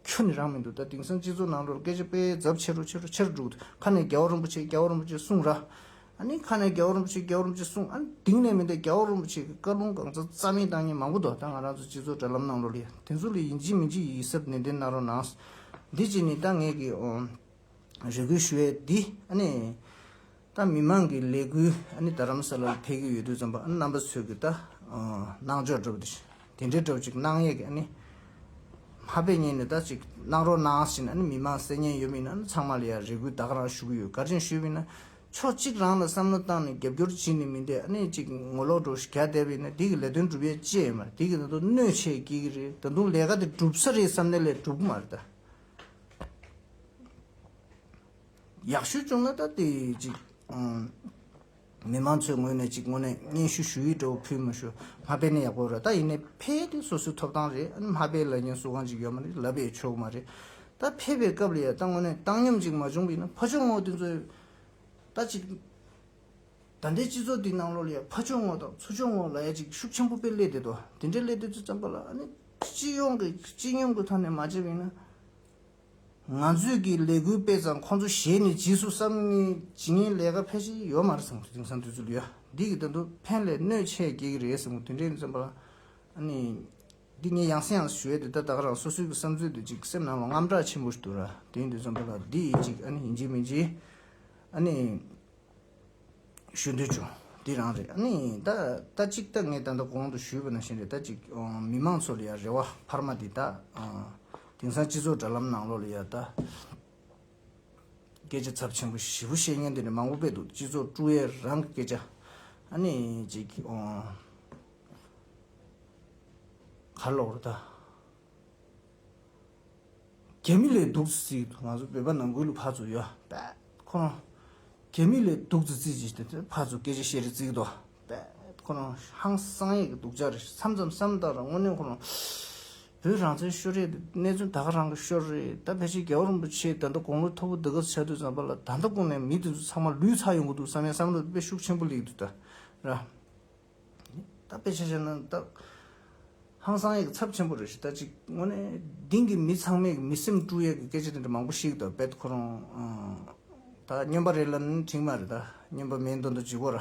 ཁྱོད་ནས་རང་མི་འདུག་ད་དེང་སང་སྤྱི་ཚོགས་ནང་ལོར་སྐད་ཆ་དཔེ་ཛབ་ཆེ་རུ་ཆེ་རུ་ཆེར་འགྲོ་ཁ་ནས་རྒྱ་བོ་རིན་པོ་ཆེ་རྒྱ་བོ་རིན་པོ་ཆེ་གསུངས་ར་ཨ་ནི་ཁ་ནས་རྒྱ་བོ་རིན་པོ་ཆེ་རྒྱ་བོ་རིན་པོ་ཆེ་གསུངས་ཨ་ནི་དེང་ནས་མི་འདས་རྒྱ་བོ་རིན་པོ་ཆེ་གི་བཀའ་ལུང་གང་ཚ་ཚ་མིན་བཏང་ཉན་མང་པོ་འདུག་ད་ང་རང་ཚོ་སྤྱི་ཚོགས་དྲ་ལམ་ནང་ལོར་ཡོད་དེ་ཚོ་ལ་ཡིན་གཅིག་མིན་གཅིག་ཡིད་གཟབ་ནན་ཏན་གནང་རོགས་གནང། འདི་གཅིག་ནི་ད་ངེད་ཀྱི། རེ་སྐུལ་ཞུ་བའི་འདི་ལྟ་མི་མང་གི་ལས་འགུལ་རྡ་རམ་ས་ལ་ལ་ཕེབས་ཀྱི་ཡོད་དུས་རྩོམ་པ་པོ་རྣམ་པ་ཚོས་གུས་ལྟ་གནང་ཕྱོགས་སྒྲུབ་དེ་འདྲའི་སྒྲུབ་ཅིག་གནང་ཡས་ཀྱི་ཧ་པས་ཉན་ནས་ད་ཅིག་གནང་རོགས་གནང་ཟེར་ནས་མི་མང་གསལ་ཉན་ཡོད་མི་ཡོད་ཚང་མ་ལ་ཡང་རེ་སྐུལ་དག་རང་ཞུ་གི་ཡོད་ག་རེ་ཞུས་མིན་ཕྱོགས་གཅིག་རང་ལ་བསམ་བློ་བཏང་ནས་རྒྱབ་སྐྱོར་བྱེད་ནི་མི་འདེད་ཅིག་ངོ་ལོག་འགྲོ་ཞིག་ག་བསྡད་པ་ཡིན་འདི་གི་ལས་དོན་སྒྲུབ་ཡས་ཅེས་མ་རེད་འདི་གི་ད་དུང་གནོད་བྱེད་ཀྱི་རེད་ད་དུང་ལས་ཀ་དེ་སྒྲུབ་ས་རེད་བསམ་ནས་ལས་སྒྲུབ་གི་མ་རེད་ད། ཡག་ཤོས་བྱུང་ན་ད་དེ་ཅིག་མི་མང་ཚོའི་ངོས་ནས་ཅིག་དངོས་གནས་སྙན་ཞུ་ཞུ་ཡིག་སྒྲོ་བོ་ཕུལ་མི་ཞུ་མ་དཔེ་ནི་ཡག་པོ་རེད་ད་ཡིན་ནའི་ཕལ་དེ་སོ་སོའི་ཐོབ་ཐང་རེད་མ་དཔེ་ལ་ཉན་སུ་གང་ཅིག་ཡོད་མ་རེད་ལབ་ཡས་ཆོག་གི་མ་རེད་ད་ཕལ་པའི་སྐབས་ལ་ཡ་ད་དངོས་གནས་བཏང་སྙོམས་ཅིག་མ་བྱུང་གི་ཡིན་ན་ཕ་ཆོས་ངོ་དེ་ཚོའི་ད་ཅིག་ད་ལྟའི་སྤྱི་ཚོགས་འདིའི་ནང་ལོ་ལ་ཡ་ཕ་ཆོས་ངོ་དང་ཚུ་ཆོས་ངོ་ལ་ཡ་ཅིག་ཤུགས་ཆེན་པོ་དཔེ་སླེ་བསྡད་དོ་དེ་འདྲ་སླེ་བསྡད་ཚུལ་ཙམ་པ་ལ་ཨ་ནི། སྤྱི་ཡོངས་ཀྱི་སྤྱི་ཉུང་གི་ཐོག་ནས་མ་བྱས་པ་ཡིན་ན། ང་ཚོས་ཀྱི་ལས་འགུལ་སྤེལ་ཙང་ཁོང་ཚོ་གཞས་ནས་རྗེས་སུ་བསམ་ནི་ཇི་ངན་ལས་ཀ་ཕལ་ཆེ་ཡོད་མ་རེད་བསམ་གི་དེང་སང་དུས་ཚོད་ཡོད་འདི་གི་ད་དུང་ཕན་ལས་གནོད་ཆེ་རྒྱས་ཀྱི་རེད་བསམ་གི་དུས་འདྲེ་ནས་བརྩམས་པ། ཨ་ནི། འདི་ངས་ཡང་སེ་ཡང་སེ་ཞུས་ཡོད་དེ་ད་ད་ག་རང་སོ་སོའི་གི་བསམ་ཚུལ་དེ་ཅིག་སེམས་ནང་ལ་རྔམ་དྲག་ཆེན་པོ་ཞིག་འདུག་ར་དེའི་འདུག་བསམ་པ་ལ་འདི་ཡིན་ཅིག་ཨ་ནི་ཡིན་གྱི་མིན་གྱི། ཨ་ནི། ཞུ་འདོད་བྱུང། འདི་རང་རེད། ཨ་ནི། ད་ལྟ་གཅིག་ལྟ་ངས་ད་ལྟ་གོང་དུ་ཞུས་པ་ནང་བཞིན་རེད་ད་ཅིག་མི་མང་ཚོ་ལ་ཡང་རེ་བ་འཕར་མ་འདི་ད། དེང་སང་སྤྱི་ཚོགས་དྲ་ལམ་ནང་ལོག་ལ་ཡང་ད། སྐད་ཆ་ཚབ་ཆེན་པོ་བཞི་བོ་བཤད་མཁན་དེ་འདྲ་མང་པོ་བས་འདུག་སྤྱི་ཚོགས་ཀྲུའུ་ཡས་རང་གི་སྐད་ཆ། ཨ་ནི། ཅིག། གར་ལོག་རེད་ད། གད་མི་ལས་སྡུག་ཙི་ཙི་ང་ཚོ་བོད་པ་ནང་ཁུལ་ལ་ཕར་ཚུར་ཡོད་པས་ཁོ་རང། གད་མི་ལས་སྡུག་ཙི་ཙི་ཅེས་ཏེ་ཕར་ཚུར་སྐད་ཆ་བཤད་རེ་བརྩིས་ཀྱི་འདུག་པས་ཁོ་རང་ཧང་སང་ཡག་གི་འདུག་ཅག་རེ་མཚམས་མཚམས་སམ་ལྟ་ར་དངོས་གནས་ཁོ་རང། བོད་རང་བཙན་ཤོར་རེད་དེ་གནས་ཚུལ་ད་ག་རང་གི་ཤོར་རེད་ད་ཕལ་ཆེར་རྒྱལ་བ་རིན་པོ་ཆེས་ད་ལྟ་དགུང་ལོ་མཐོ་པོ་འདི་ག་ཚད་དུ་བརྩམས་པ་ལ་ད་ལྟ་དགོངས་ནས་མི་དེ་ཚོ་ཚང་མ་ལུས་ཚར་ཡོང་གི་འདུག་བསམ་ཡས་བསམ་བློ་དཔེ་ཤུགས་ཆེན་པོ་ལེགས་འདུག་ད་ར། ད་དཔེ་ཆ་བཤད་ན་ད། ཧང་སང་ཡིག་ཚབ་ཆེན་པོ་རེད་ཞེ་ད་ཅིག་དངོས་གནས་དེང་གི་མི་ཚང་མས་མི་སེམས་དཀྲུགས་ཡས་ཀྱི་སྐད་ཆ་དེ་འདྲ་མང་པོ་ཤིག་ད་བེད་ཁོ་རང། ད་སྨྱོན་པ་རེད་ལ་ནི་དྲིན་མ་རེད་ད་སྨྱོན་པ་མིའི་འདོན་དུ་འཇིག་གོ་ར།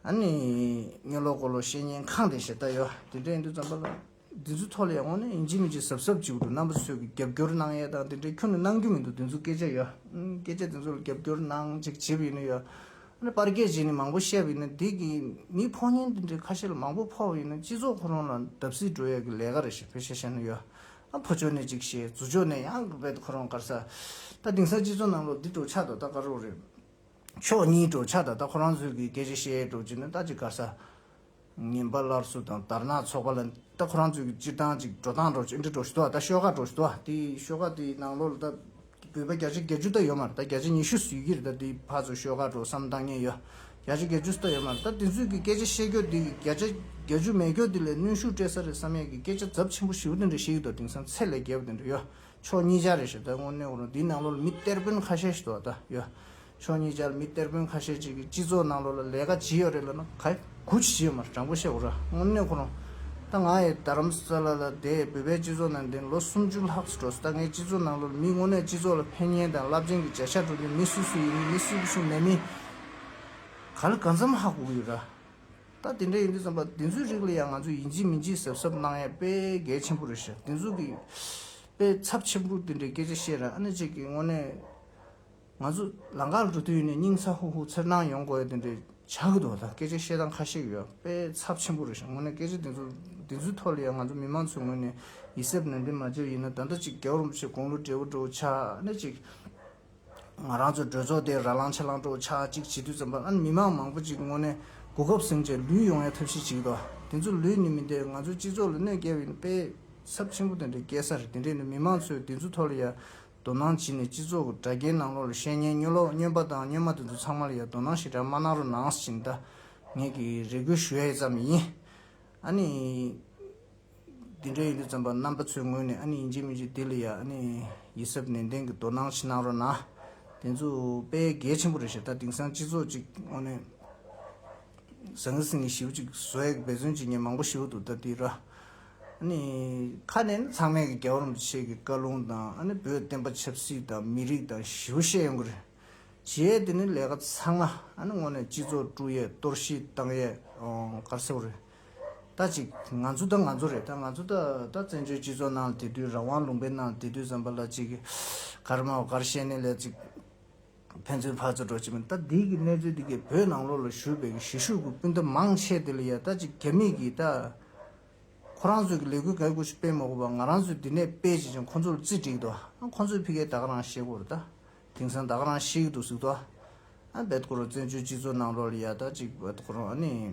ཨ་ནི། སྨྱོན་ལོག་གོ་ལོག་བཤད་ཉན་ཁང་དེ་ཞེ་ད་ཡོད་དེ་འདྲ་ཡིན་དུས་ཙམ་པ་ལ། དེ་ཚོའི་ཐོག་ལ་ཡང་ཡང་ནས་འཇིགས་མི་འཇིགས་གཟབ་གཟབ་བྱེད་དགོས་འདུག་རྣམ་པ་ཚོས་ཀྱི་རྒྱབ་སྐྱོར་གནང་ཡས་དང་དེ་འདྲའི་ཁྱོད་ནས་གནང་རྒྱུ་མི་འདུག་དེ་ཚོའི་སྐད་ཆ་ཡ། སྐད་ཆ་དེ་ཚོ་ལ་རྒྱབ་སྐྱོར་གནང་ཅིག་བྱེད་པ་ཡིན་ན་ཡ། ཨ་ནི་པར་སྐད་བྱས་ནས་མང་པོ་བཤད་པ་ཡིན་ན་དེ་གིས་མིའི་ཕོགས་ཉེན་དེ་འདྲའི་ཁ་ཤས་ལ་མང་པོ་ཕོག་པ་ཡིན་ན་སྤྱི་ཚོགས་ཁོ་རང་ལ་བརྡབ་གསིག་འགྲོ་ཡས་ཀྱི་ལས་ཀ་རེད་ཞེས་ཕོད་ཤ་བཤད་ན་ཡ། ཨ་ཕོ་ཅོ་ནས་ཅིག་བཤད་རྫུ་ཅོ་ནས་ཡང་གི་བས་ཁོ་རང་དཀར་ས། ད་དེང་སང་སྤྱི་ཚོགས་ནང་ལོག་འདི་འགྲོ་ཆགས་ད་ལྟ་དཀར་རོགས་རེད། ཕྱོགས་གཉིས་འགྲོ་ཆགས་ད་ལྟ་ཁོ་རང་ཚོས་ཀྱི་སྐད་ཆ་བཤད་འགྲོ་ཅིག་ནས་ད་ཅིག་དཀར་ས། ངན་པ་སླར་གསོ་དང་དར་ནག་ཚོགས་པ་ལ་ལྟ་ཁོ་རང་ཚོས་ཀྱི་སྤྱིར་བཏང་ཅིག་འགྲོ་སྟངས་འགྲོ་ཆས་འདྲི་འགྲོ་བཞིན་འདུག་ད་ཤོག་ཁ་འགྲོ་བཞིན་འདུག་དེ་ཤོག་ཁ་དེ་ནང་ལོག་ལ་ད་བོད་པ་བརྒྱ་ཆ་བརྒྱད་ཅུ་ལྟ་ཡོད་མ་རེད་ད་བརྒྱ་ཆ་ཉི་ཤུ་ཟིག་གིས་རེད་ད་དེའི་བར་ཚོ་ཤོག་ཁ་འགྲོ་བསམ་བཏང་ཉེན་ཡོད་བརྒྱ་ཆ་བརྒྱད་ཅུ་ཟིག་ལྟ་ཡོད་མ་རེད་ད་དེ་ཚོས་ཀྱི་སྐད་ཆ་བཤད་སྐྱོ་དེ་བརྒྱ་ཆ་བརྒྱ་ཅུ་མེད་སྐྱོ་དེ་ལས་གནོན་ཤུགས་སྤྲད་ས་རེད་བསམ་ཡས་ཀྱི་སྐད་ཆ་རྫབ་ཆེན་པོ་བཞི་བོ་དེ་འདྲ་བཤད་ཀྱི་འདུག་དེང་སང་ཚད་ལས་བརྒལ་བ་དེ་འདྲ་ཡོད་ཕྱོགས་གཉིས་ཆ་རེད་ཞེས་ད་དངོས་གནས་ཁོ་རང་དེའི་ནང་ལོག་ལ་མི་གཏེར་དཔོན་ཁ་ཤས་ཤིག་ཏུ་བ་ད་ཡོད། ཕྱོགས་གཉིས་ཅར་མི་གཏེར་དཔོན་ཁ་ཤས་ཅིག་གིས་སྤྱི་ཚོགས་ནང་ལོགས་ལ་ལས་ཀ་ཇི་ཡོད་རེད་ལབ་ན་ག་ཡི། གུ་ཅི་བྱེད་མར་དྲང་པོ་བཤད་འོ་ར་དངོས་གནས་ཁོ་རང། ད་ང་ཡི་རྡ་རམ་ས་ལ་ལ་དེ་བོད་པའི་སྤྱི་ཚོགས་ནང་འདིར་ལོ་སུམ་ཅུ་ལྷག་སུ་འགྲོ་སི་ད་ངའི་སྤྱི་ཚོགས་ནང་ལོགས་ལ་མི་དངོས་གནས་སྤྱི་ཚོགས་ལ་ཕན་ཉེན་དང་རླབས་ཆེན་གྱི་བྱ་བཞག་འགྲོ་འདོད་མི་སུ་སུ་ཡིན་མིན་མི་སུ་གི་ཤུགས་མེད་མིན། ག་ལ་གང་འཚམ་ཧ་གོ་གི་ཡོད་ར། ད་དེ་འདྲ་ཡིན་དུས་བསམ་པ་འདི་ཚོའི་རིགས་ལ་ཡང་ང་ཚོས་ཡིན་གཅིག་མིན་གཅིག་གཟབ་གཟབ་གནང་ཡས་དཔེ་གལ་ཆེན་པོ་རེད་ཤག་འདི་ཚོ་གིས། དཔེ་ཚབ་ཆེན་པོ་འདི་འདྲའི་སྐད་ཆ་བཤད་ར་ཨ་ནེ་ཅིག་གིས་དངོས་གནས། ང་ཚོ་ལང་ཀར་འགྲོ་དུས་ནས་སྙིང་ཚ་ཧུ་ཧུ་འཚེར་སྣང་ཡོང་དགོས་དེ་འདྲའི་ཆགས་ཀྱི་འདུག་ད་སྐད་ཆ་བཤད་སྟངས་ཁ་ཤེག་ཡོད་པས་ཚབས་ཆེན་པོ་རེད་ཞུ་ངོ་ནས་སྐད་ཆ་འདི་ཚོ་འདི་ཚོའི་ཐོག་ལ་ཡང་ང་ཚོ་མི་མང་ཚོའི་ངོས་ནས་ཡིད་གཟབ་ནན་ཏན་མ་བྱས་ཡིན་ན་ད་ལྟ་ཅིག་རྒྱབ་རོམ་བྱེད་དགོངས་བློ་བྲེལ་བོ་འགྲོ་འོ་ཆགས་ནས་ཅིག་ང་རང་ཚོའི་གྲོས་ཚོགས་དེ་ར་ལང་ཆ་ལང་འགྲོ་འོ་ཆགས་ཅིག་བྱེད་དུས་ཙམ་པ་ཨ་ནི་མི་མང་མང་པོ་ཅིག་ངོ་ནས་གོ་སྐབས་ཟིན་རྗེས་ལུས་ཡོང་ཡ་ཐབས་ཤེས་བྱེད་ཀྱི་འདུག་དེ་ཚོ་ལུས་ནི་མི་འདེད་ང་ཚོའི་སྤྱི་ཚོགས་ལ་གནོད་བསྐྱལ་བ་ཡིན་པས་ཚབས་ཆེན་པོ་དེ་འདྲའི་སྐད་གསར་རེད་དེ་འདྲས་ནི་མི་མང་ཚོས་འདི་ཚོའི་ཐོག་ལ་ཡ་དོ་སྣང་བྱས་ནས་སྤྱི་ཚོགས་ཀྱི་དྲ་རྒྱའི་ནང་ལོགས་ལ་བཤད་ཉན་སྨྱོ་ལོག་སྨྱོན་པ་དང་སྨྱོན་མ་དེ་ཚོ་ཚང་མ་ལ་ཡང་དོ་སྣང་ཞེ་དྲག་མ་གནང་རོགས་གནང་ཞེས་འདི་ངས་ཀྱི་རེ་སྐུལ་ཞུ་ཡས་ཙམ་ཡིན། ཨ་ནི། འདི་འདྲ་ཡིན་དུས་ཙམ་པ་རྣམ་པ་ཚོའི་ངོས་ནས་ཨ་ནི་ཡིན་གྱི་མིན་གྱི་དེ་ལ་ཡང་ཨ་ནི་ཡིད་གཟབ་ནན་ཏན་གྱི་དོ་སྣང་ཞིག་གནང་རོགས་གནང། དེ་ཚོ་དཔེ་གལ་ཆེན་པོ་རེད་ཞེ་ད་དེང་སང་སྤྱི་ཚོགས་ཅིག་ཨོ་ནི། ཟང་ངེ་སིང་ངེ་ཞིའུ་ཅིག་བཟོ་ཡས་འབད་བརྩོན་བྱེད་མཁན་མང་པོ་ཞིའུ་འདུག་ད་དེ་ར། ཁ་ནས་ནི་ཚང་མས་རྒྱལ་བ་རིན་པོ་ཆེ་གི་བཀའ་ལུང་དང་བོད་བསྟན་པ་ཆབ་སྲིད་དང་མི་རིགས་དང་ཞི་བ་བཤད་ཡོང་གི་རེད། བྱས་ཏེ་ནི་ལས་ཀ་ཚང་མ་དངོས་ནས་སྤྱི་ཚོགས་དཀྲུགས་ཡས་གཏོར་བཤིག་བཏང་ཡས་གར་སེ་བ་རེད། ད་ཅིག་ང་ཚོ་ད་ང་ཚོ་རེད་ད་ང་ཚོ་ད་ད་བཙན་བྱོལ་སྤྱི་ཚོགས་ནང་དེ་དུས་རང་དབང་ལུང་པའི་ནང་དེ་དུས་ཟམ་པ་ལ་ཅིག་གར་མ་བ་གར་བཤད་ནས་ལས་ཅིག་ཕན་ཚུན་ཕར་ཚུར་འགྲོ་བྱེད་མིན་ལྟ་འདི་གི་གནས་ཚུལ་འདི་གའི་བོད་ནང་ལོགས་ལ་བཞུགས་པའི་གི་གཞིས་བཞུགས་ཀྱི་སྤུན་ཟླ་མང་ཆེ་འདི་ལ་ཡ་ལྟ་ཅིག་རྒྱ་མིས་གིས་ད་ཁོ་རང་ཚོས་གི་ལས་འགུལ་འགའི་སྐོར་ཞིག་སྤེལ་མ་དགོས་པར་ང་རང་ཚོས་འདི་ནས་སྤེལ་བྱེད་ཅིང་ཁོ་ཚོ་ལ་རྩིས་བསྒྲིགས་ཏོ་ཨ་ཁོ་ཚོས་ཕི་ཀའི་ད་ག་རང་ཤེས་གོར་ད་དེང་སང་ད་ག་རང་ཤེས་གི་འདུག་ཟིག་ཏོ་ཨ་བེད་ཀོ་རོ་བཙན་བྱོལ་སྤྱི་ཚོགས་ནང་ལོགས་ལ་ཡ་ལྟ་ཅིག་བེད་ཀོ་རོ་ཨ་ནི་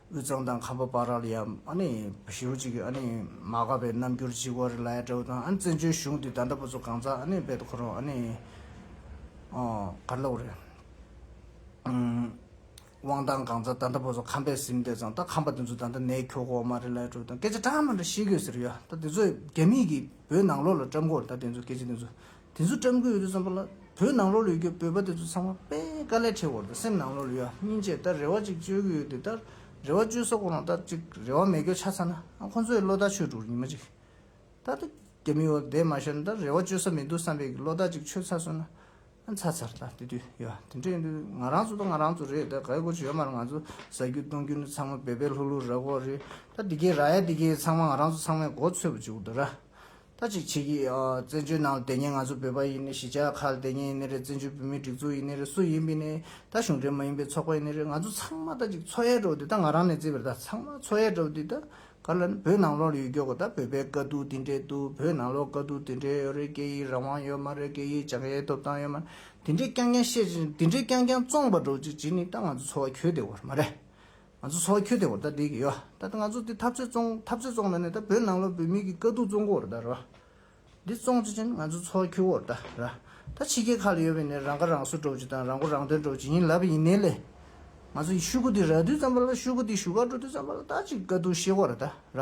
དབུས་གཙང་དང་ཁམས་པ་པ་ར་ལ་ཡང་ཨ་ནི་བཞི་རུ་གཅིག་གི་ཨ་ནི་མ་ག་པའི་རྣམ་འགྱུར་གཅིག་བ་རི་ལ་ཡ་དྲའུ་དང་ཨ་ནི་བཙན་བྱོལ་གཞུང་དེ་ད་འདྲ་པོ་ཚོ་གང་ཟག་ཨ་ནི་བེད་དུ་ཁོ་རང་ཨ་ནི་ག་རེ་ལ་བོ་རེད། དབང་ཐང་གང་ཟག་ད་འདྲ་པོ་ཚོ་ཁམས་པས་ཟིན་བསྡད་ཙང་ད་ཁམས་པ་དེ་ཚོ་ད་ལྟ་ནེའི་ཁྱོ་གོ་མ་རི་ལ་ཡ་དྲའུ་དང་སྐད་ཆ་གྲངས་མང་འདྲ་བཤད་དགོས་ཟེར་ཡོད་ད་དེ་ཚོས་རྒྱ་མིས་ཀྱི་བོད་ནང་ལོག་ལ་བཀྲམ་གོ་ད་དེ་ཚོ་སྐད་ཆ་དེ་ཚོ་དེ་ཚོ་བཀྲམ་དགོས་ཡོད་དུས་བསམ་པ་ལ་བོད་ནང་ལོག་ལུས་རྒྱུ་བོད་པ་དེ་ཚོ་ཚང་མ་དཔེ་དཀའ་ལས་འཕྲད་བོར་དུ་སེམས་ནང་ལོག་ལུས་ཡ་སྨྱིན་བཅས་ལྟར་རེ་བ་ཅིག་བཅོལ་གི་ཡོད་དུས་ལྟར་རེ་བ་བཅོལ་ས་གོ་རང་ལྟར་ཅིག་རེ་བ་མེད་སྐྱོ་ཆ་ཚ་ན་ཁོ་ཚོ་ཡི་བློ་ཐག་ཆོད་འགྲོ་གི་མ་ཅིག་ལྟར་དུ་རྒྱ་མི་འོ་དེད་མ་ཤར་ལྟར་རེ་བ་བཅོལ་ས་མི་འདུག་བསམ་པའི་གི་བློ་ཐག་ཅིག་ཆོད་ཚར་སོང་ན་ཚར་ཚར་ལྟར་དེ་དུས་ཡ་དེ་འདྲ་ཡིན་དུས་ང་རང་ཚོ་དང་ང་རང་ཚོ་རེད་ལྟར་ག་གི་གོ་ཆོད་མར་ང་ཚོ་ཟ་རྒྱུ་གཏོང་རྒྱུ་ནི་ཚང་མ་བེད་བེད་ལྷུག་ལྷུག་ར་གོ་རེད་ལྟར་འདི་གས་ར་ཡ་འདི་གས་ཚང་མ་ང་རང་ཚོ་ཚང་མའི་མགོ་འཚོས་པ་ཅིག་འོ་དོ་ར། ད་ཅིག་བྱེད་ཀྱིས། བཙན་བྱོལ་ནང་ལ་དེ་ཉིད་ང་ཚོ་བོད་པ་ཡིན་ནི་གཞིས་ཆགས་ཁག་ལ་དེ་ཉིད་ཡིན་ནི་རེད་བཙན་བྱོལ་བོད་མིའི་སྒྲིག་འཛུགས་ཡིན་ནི་རེད་སུ་ཡིན་པིན་ནི་ད་གཞུང་འབྲེལ་མ་ཡིན་པའི་ཚོགས་པ་ཡིན་ནི་རེད་ང་ཚོ་ཚང་མ་ད་ཅིག་འཚོ་ཡལ་འགྲོ་དུས་ད་ང་རང་ནས་བརྩིས་པར་ད་ཚང་མ་འཚོ་ཡལ་འགྲོ་དུས་ད་ག་ལ་ནི་བོད་ནང་ལོག་ལ་ཡོད་རྒྱུ་གོ་ད་བོད་པའི་དཀའ་སྡུག་དེ་འདྲའི་འདུག་བོད་ནང་ལོག་དཀའ་སྡུག་དེ་འདྲའི་ཡོད་རེད་སྐད་ཡིག་རང་དབང་ཡོད་མ་རེད་སྐད་ཡིག་སྦྱང་ཡའི་ཐོབ་ཐང་ཡོད་མ་རེད་དེ་འདྲའི་རྐྱང་རྐྱང་བཤད་ཅིག་དེ་འདྲའི་རྐྱང་རྐྱང་བཙོང་པར་འགྲོ་ཅིག་བྱེད་ནི་ད་ང་ཚོ་འཚོ་བ་ཁྱོད་དེ་བོར་མ་རེད་ང་ཚོ་ཚོ་ཁྱོད་དེ་འོ་ད་དེ་ཡོ་ད་ང་ཚོ་དེ་འཐབ་རྩོད་བཙོང་འཐབ་རྩོད་བཙོང་ད་ནི་ད་བོད་ནང་ལོ་བོད་མི་གི་དཀའ་སྡུག་བཙོང་གོ་འོ་ད་རོ། དེ་བཙོང་བྱེད་ཅན་ང་ཚོ་ཚོ་ཁྱོད་འོ་ད་ར། ད་ཕྱི་རྒྱལ་ཁག་ལ་ཡོད་པའི་ནི་རང་ཁ་རང་གསོ་འགྲོ་བྱེད་དང་རང་མགོ་རང་ཐོན་འགྲོ་བྱེད་ཡིན་ལབ་ཡིན་ནི་ལེ། ང་ཚོ་ཡི་ཤུ་གུ་དེ་ར་དུས་ཙམ་པ་ལ་ཤུ་གུ་དེ་བཞུགས་སྒར་འགྲོ་དུས་ཙམ་པ་ལ་ད་ཅིག་དཀའ་སྡུག་ཤེས་གོ་ར་ད་ར།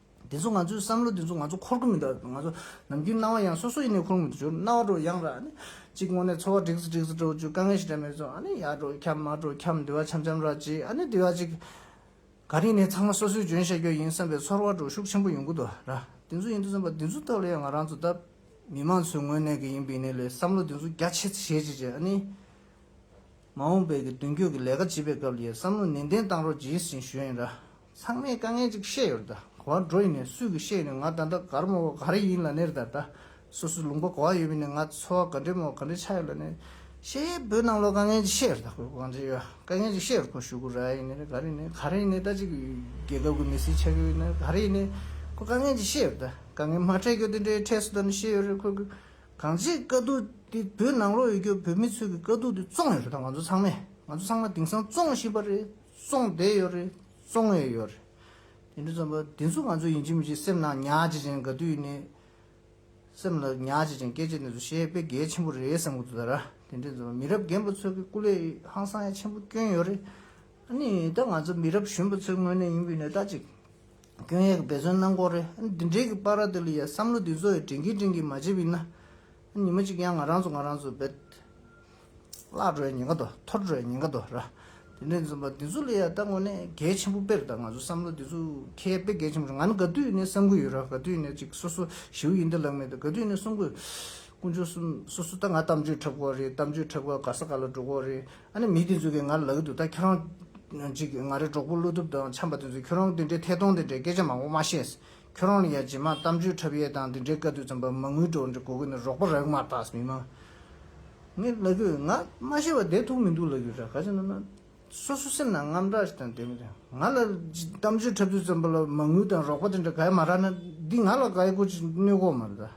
དེ་ཚོ་ང་ཚོའི་བསམ་བློ་དེ་ཚོ་ང་ཚོ་འཁོར་གི་མི་འདུག་ང་ཚོ་ནམ་རྒྱུན་སྣང་བ་ཡང་སོ་སོ་ཡིན་ནའི་འཁོར་མི་འདུག་ཅོ་རྣ་བ་དྲོ་ཡང་ར་ནི། གཅིག་དངོས་གནས་འཚོ་བ་འགྲིག་སི་འགྲིག་སི་འགྲོ་ཅོ་དཀའ་ངལ་ཞིག་འདྲ་མེད་ཚོ་ཨ་ནི་ཡར་འགྲོ་འཁྱམ་མར་འགྲོ་འཁྱམ་དུས་བ་འཆམ་འཆམ་ར་ཅིག་ཨ་ནི་དུས་བ་ཅིག། ག་རིང་ནས་ཚང་མ་སོ་སོའི་འཇོན་ཤ་རྒྱོ་ཡིན་བསམ་པའི་ཚོར་བ་འགྲོ་ཤུགས་ཆེན་པོ་ཡོང་གི་འདུག་ར་དེ་ཚོ་ཡིན་དུས་བསམ་པ་དེ་ཚོའི་ཐོག་ལ་ཡང་ང་རང་ཚོ་ལྟ། མི་མང་ཚོའི་ངོས་ནས་གི་ཡིན་པའི་ནི་ལས་བསམ་བློ་དེ་ཚོ་རྒྱ་ཆེ་ཚི་ཞེ་ཅིག་ཅེ་ཨ་ནི། མ་འོངས་པའི་གི་མདུན་སྐྱོད་གི་ལས་ཀ་བྱེད་པའི་སྐབས་ལ་ཡི་བསམ་བློ་ནན་ཏན་བཏང་རོགས་གྱིས་ཟིན་ཞུ་ཡིན་ར། ཚང་མས་དཀའ་ངལ་ཅིག་བཤད་ཡོད་ད་གོ་བ་འགྲོ་ཡིན་ནས་སུས་གི་བཤད་ཡིན་ནས་ང་ད་ལྟ་གར་མོ་བ་ག་རེ་ཡིན་ལ་ནེར་ད་ད་སོ་སོས་ལུང་པ་གོ་བ་ཡོད་མིན་ནས་ང་འཚོ་བ་ག་འདྲེ་མོ་བ་ག་འདྲེ་ཆགས་ཡོད་ལ་ནེར་ཤེས་ཡས་བོད་ནང་ལོ་དཀའ་ངལ་ཅིག་བཤད་ཡོད་ད་གོ་གང་ཅི་ཡོད་དཀའ་ངལ་ཅིག་བཤད་ཡོད་ཁོ་ཞུ་གུ་ར་ཡིན་ནེར་ག་རེ་ཡིན་ནེར་ག་རེ་ཡིན་ནེར་ད་ཅིག་རྒྱལ་ཁབ་གི་མི་སེར་ཆགས་ཡོད་ནེར་ག་རེ་ཡིན་ནེར་ཁོ་དཀའ་ངལ་ཅིག་བཤད་ཡོད་ད་དཀའ་ངལ་མ་འཕྲད་གྱོ་དེ་འདྲའི་འཕྲད་སོ་ད་ནེར་ཤེས་ཡོད་རེད་ཁོ་གི་གང་ཅིག་དཀའ་སྡུག་དེ་བོད་ནང་ལོ་ཡོད་གྱོ་བོད་མི་ཚོས་གི་དཀའ་སྡུག་དེ་བཙོང་ཡོད་རེད་ད་ང་ཚོ་ཚང་མས་ང་ཚོ་ཚང་མ་དེང་སང་བཙོང་བཞིན་པ་རེད། སོང་བསྡད་ཡོད་རེད། སོང་ཡས་ཡོད་རེད། དེ་འདྲ་ཙམ་པ། དེ་ཚོ་ང་ཚོ་ཡིན་གཅིག་མིན་གཅིག་སེམས་ནང་ཉག་ཅིག་ཅན་ག་དུས་ནས་སེམས་ལ་ཉག་ཅིག་ཅན་སྐད་ཆ་འདི་ཚོ་བཤད་དཔེ་གལ་ཆེན་པོ་རེད་བསམ་གི་འདུག་ད་ར། དེ་འདྲ་ཙམ་པ་མི་རབས་རྒན་པ་ཚོའི་སྐུ་ལས་ཧང་སང་ཡ་ཆེན་པོ་སྐྱོན་ཡོད་རེད། ཨ་ནི་ད་ང་ཚོ་མི་རབས་གཞོན་པ་ཚོའི་ངོས་ནས་ཡིན་པའི་ནས་ད་ཅིག་སྐྱོན་ཡས་ཀྱི་འབད་བརྩོན་གནང་དགོས་རེད། ཨ་ནི་འདི་འདྲས་ཀྱི་པར་ར་འདི་ལ་ཡ་བསམ་བློ་འདི་ཚོ་ཡ་དྲན་གྱིན་དྲན་གྱིན་མ་བྱས་པའི་ན། ཨ་ནི་ཉི་མ་ཅིག་ཡང་ང་རང་ཚོ་ང་རང་ཚོ་འབད། བླ་གྲོའི་ཉེན་ཁ་དོ་ཐོར་གྲོའི་ཉེན་ཁ་དོ་ར། དེ་ནས་འཛུམ་པ་འདི་ཚོ་ལས་ཡ་ལྟ་དངོས་གནས་གལ་ཆེན་པོ་དཔེར་ད་ང་ཚོ་བསམ་བློ་འདི་ཚོ་མཁས་དཔེ་གལ་ཆེན་པོ་རེད་ང་ནི་ག་དུས་ནས་བསམ་གི་ཡོད་ར་ག་དུས་ནས་ཅིག་སོ་སོ་ཞེའུ་ཡིན་ཏེ་ལག་མེད་ཏེ་ག་དུས་ནས་གསུང་གི། དཀོན་མཆོག་གསུམ་སོ་སོ་ད་ང་གཏམ་བརྗོད་འཁྲབ་གོ་རེད་གཏམ་བརྗོད་འཁྲབ་ག་ག་ས་ག་ལ་འགྲོ་གོ་རེད་ཨ་ནི་མི་དེ་ཚོ་གིས་ང་ལ་ལག་གི་འདུག་ད་ཁྱོད་རང། ཅིག་ང་རེ་གྲོགས་པོ་བློ་ཐུབ་དང་འཆམ་པ་དེ་ཚོས་ཁྱོད་རང་དེ་འདྲའི་ཐད་གཏོང་དེ་འདྲའི་སྐད་ཆ་མང་པོ་མ་བཤད། ཁྱོད་རང་ལ་ཡང་རྗེས་མར་གཏམ་བརྗོད་འཁྲབ་ཡས་དང་འདི་འདྲའི་དཀའ་སྡུག་ཙམ་པར་མ་ངུས་གྲོགས་འདྲི་གོ་གི་ནི་རོགས་པ་རག་མ་ཏགས་མི་མང་ངས་ལབ་ཀྱི་ང་མ་ཤེས་པ་བསྡད་ཐུག་མི་འདུག་ལབ་ཀྱི་རེད་ག་ཅིག་ན་ན་སོ་སོ་སེམས་ནང་རྔམ་སྐྲག་ཞིག་དང་བསྡད་མི་རེད་ང་ལ་གཏམ་བརྗོད་འཁྲབ་དུས་ཙམ་པར་ལ་མ་ངུས་དང་རོགས་པ་འདི་འདྲ་ག་ཡས་མ་རག་ན་འདི་ང་ལ་ག་ཡས་སྐོར་ཅིག་གནོད་གོ་མ་རེད་ད།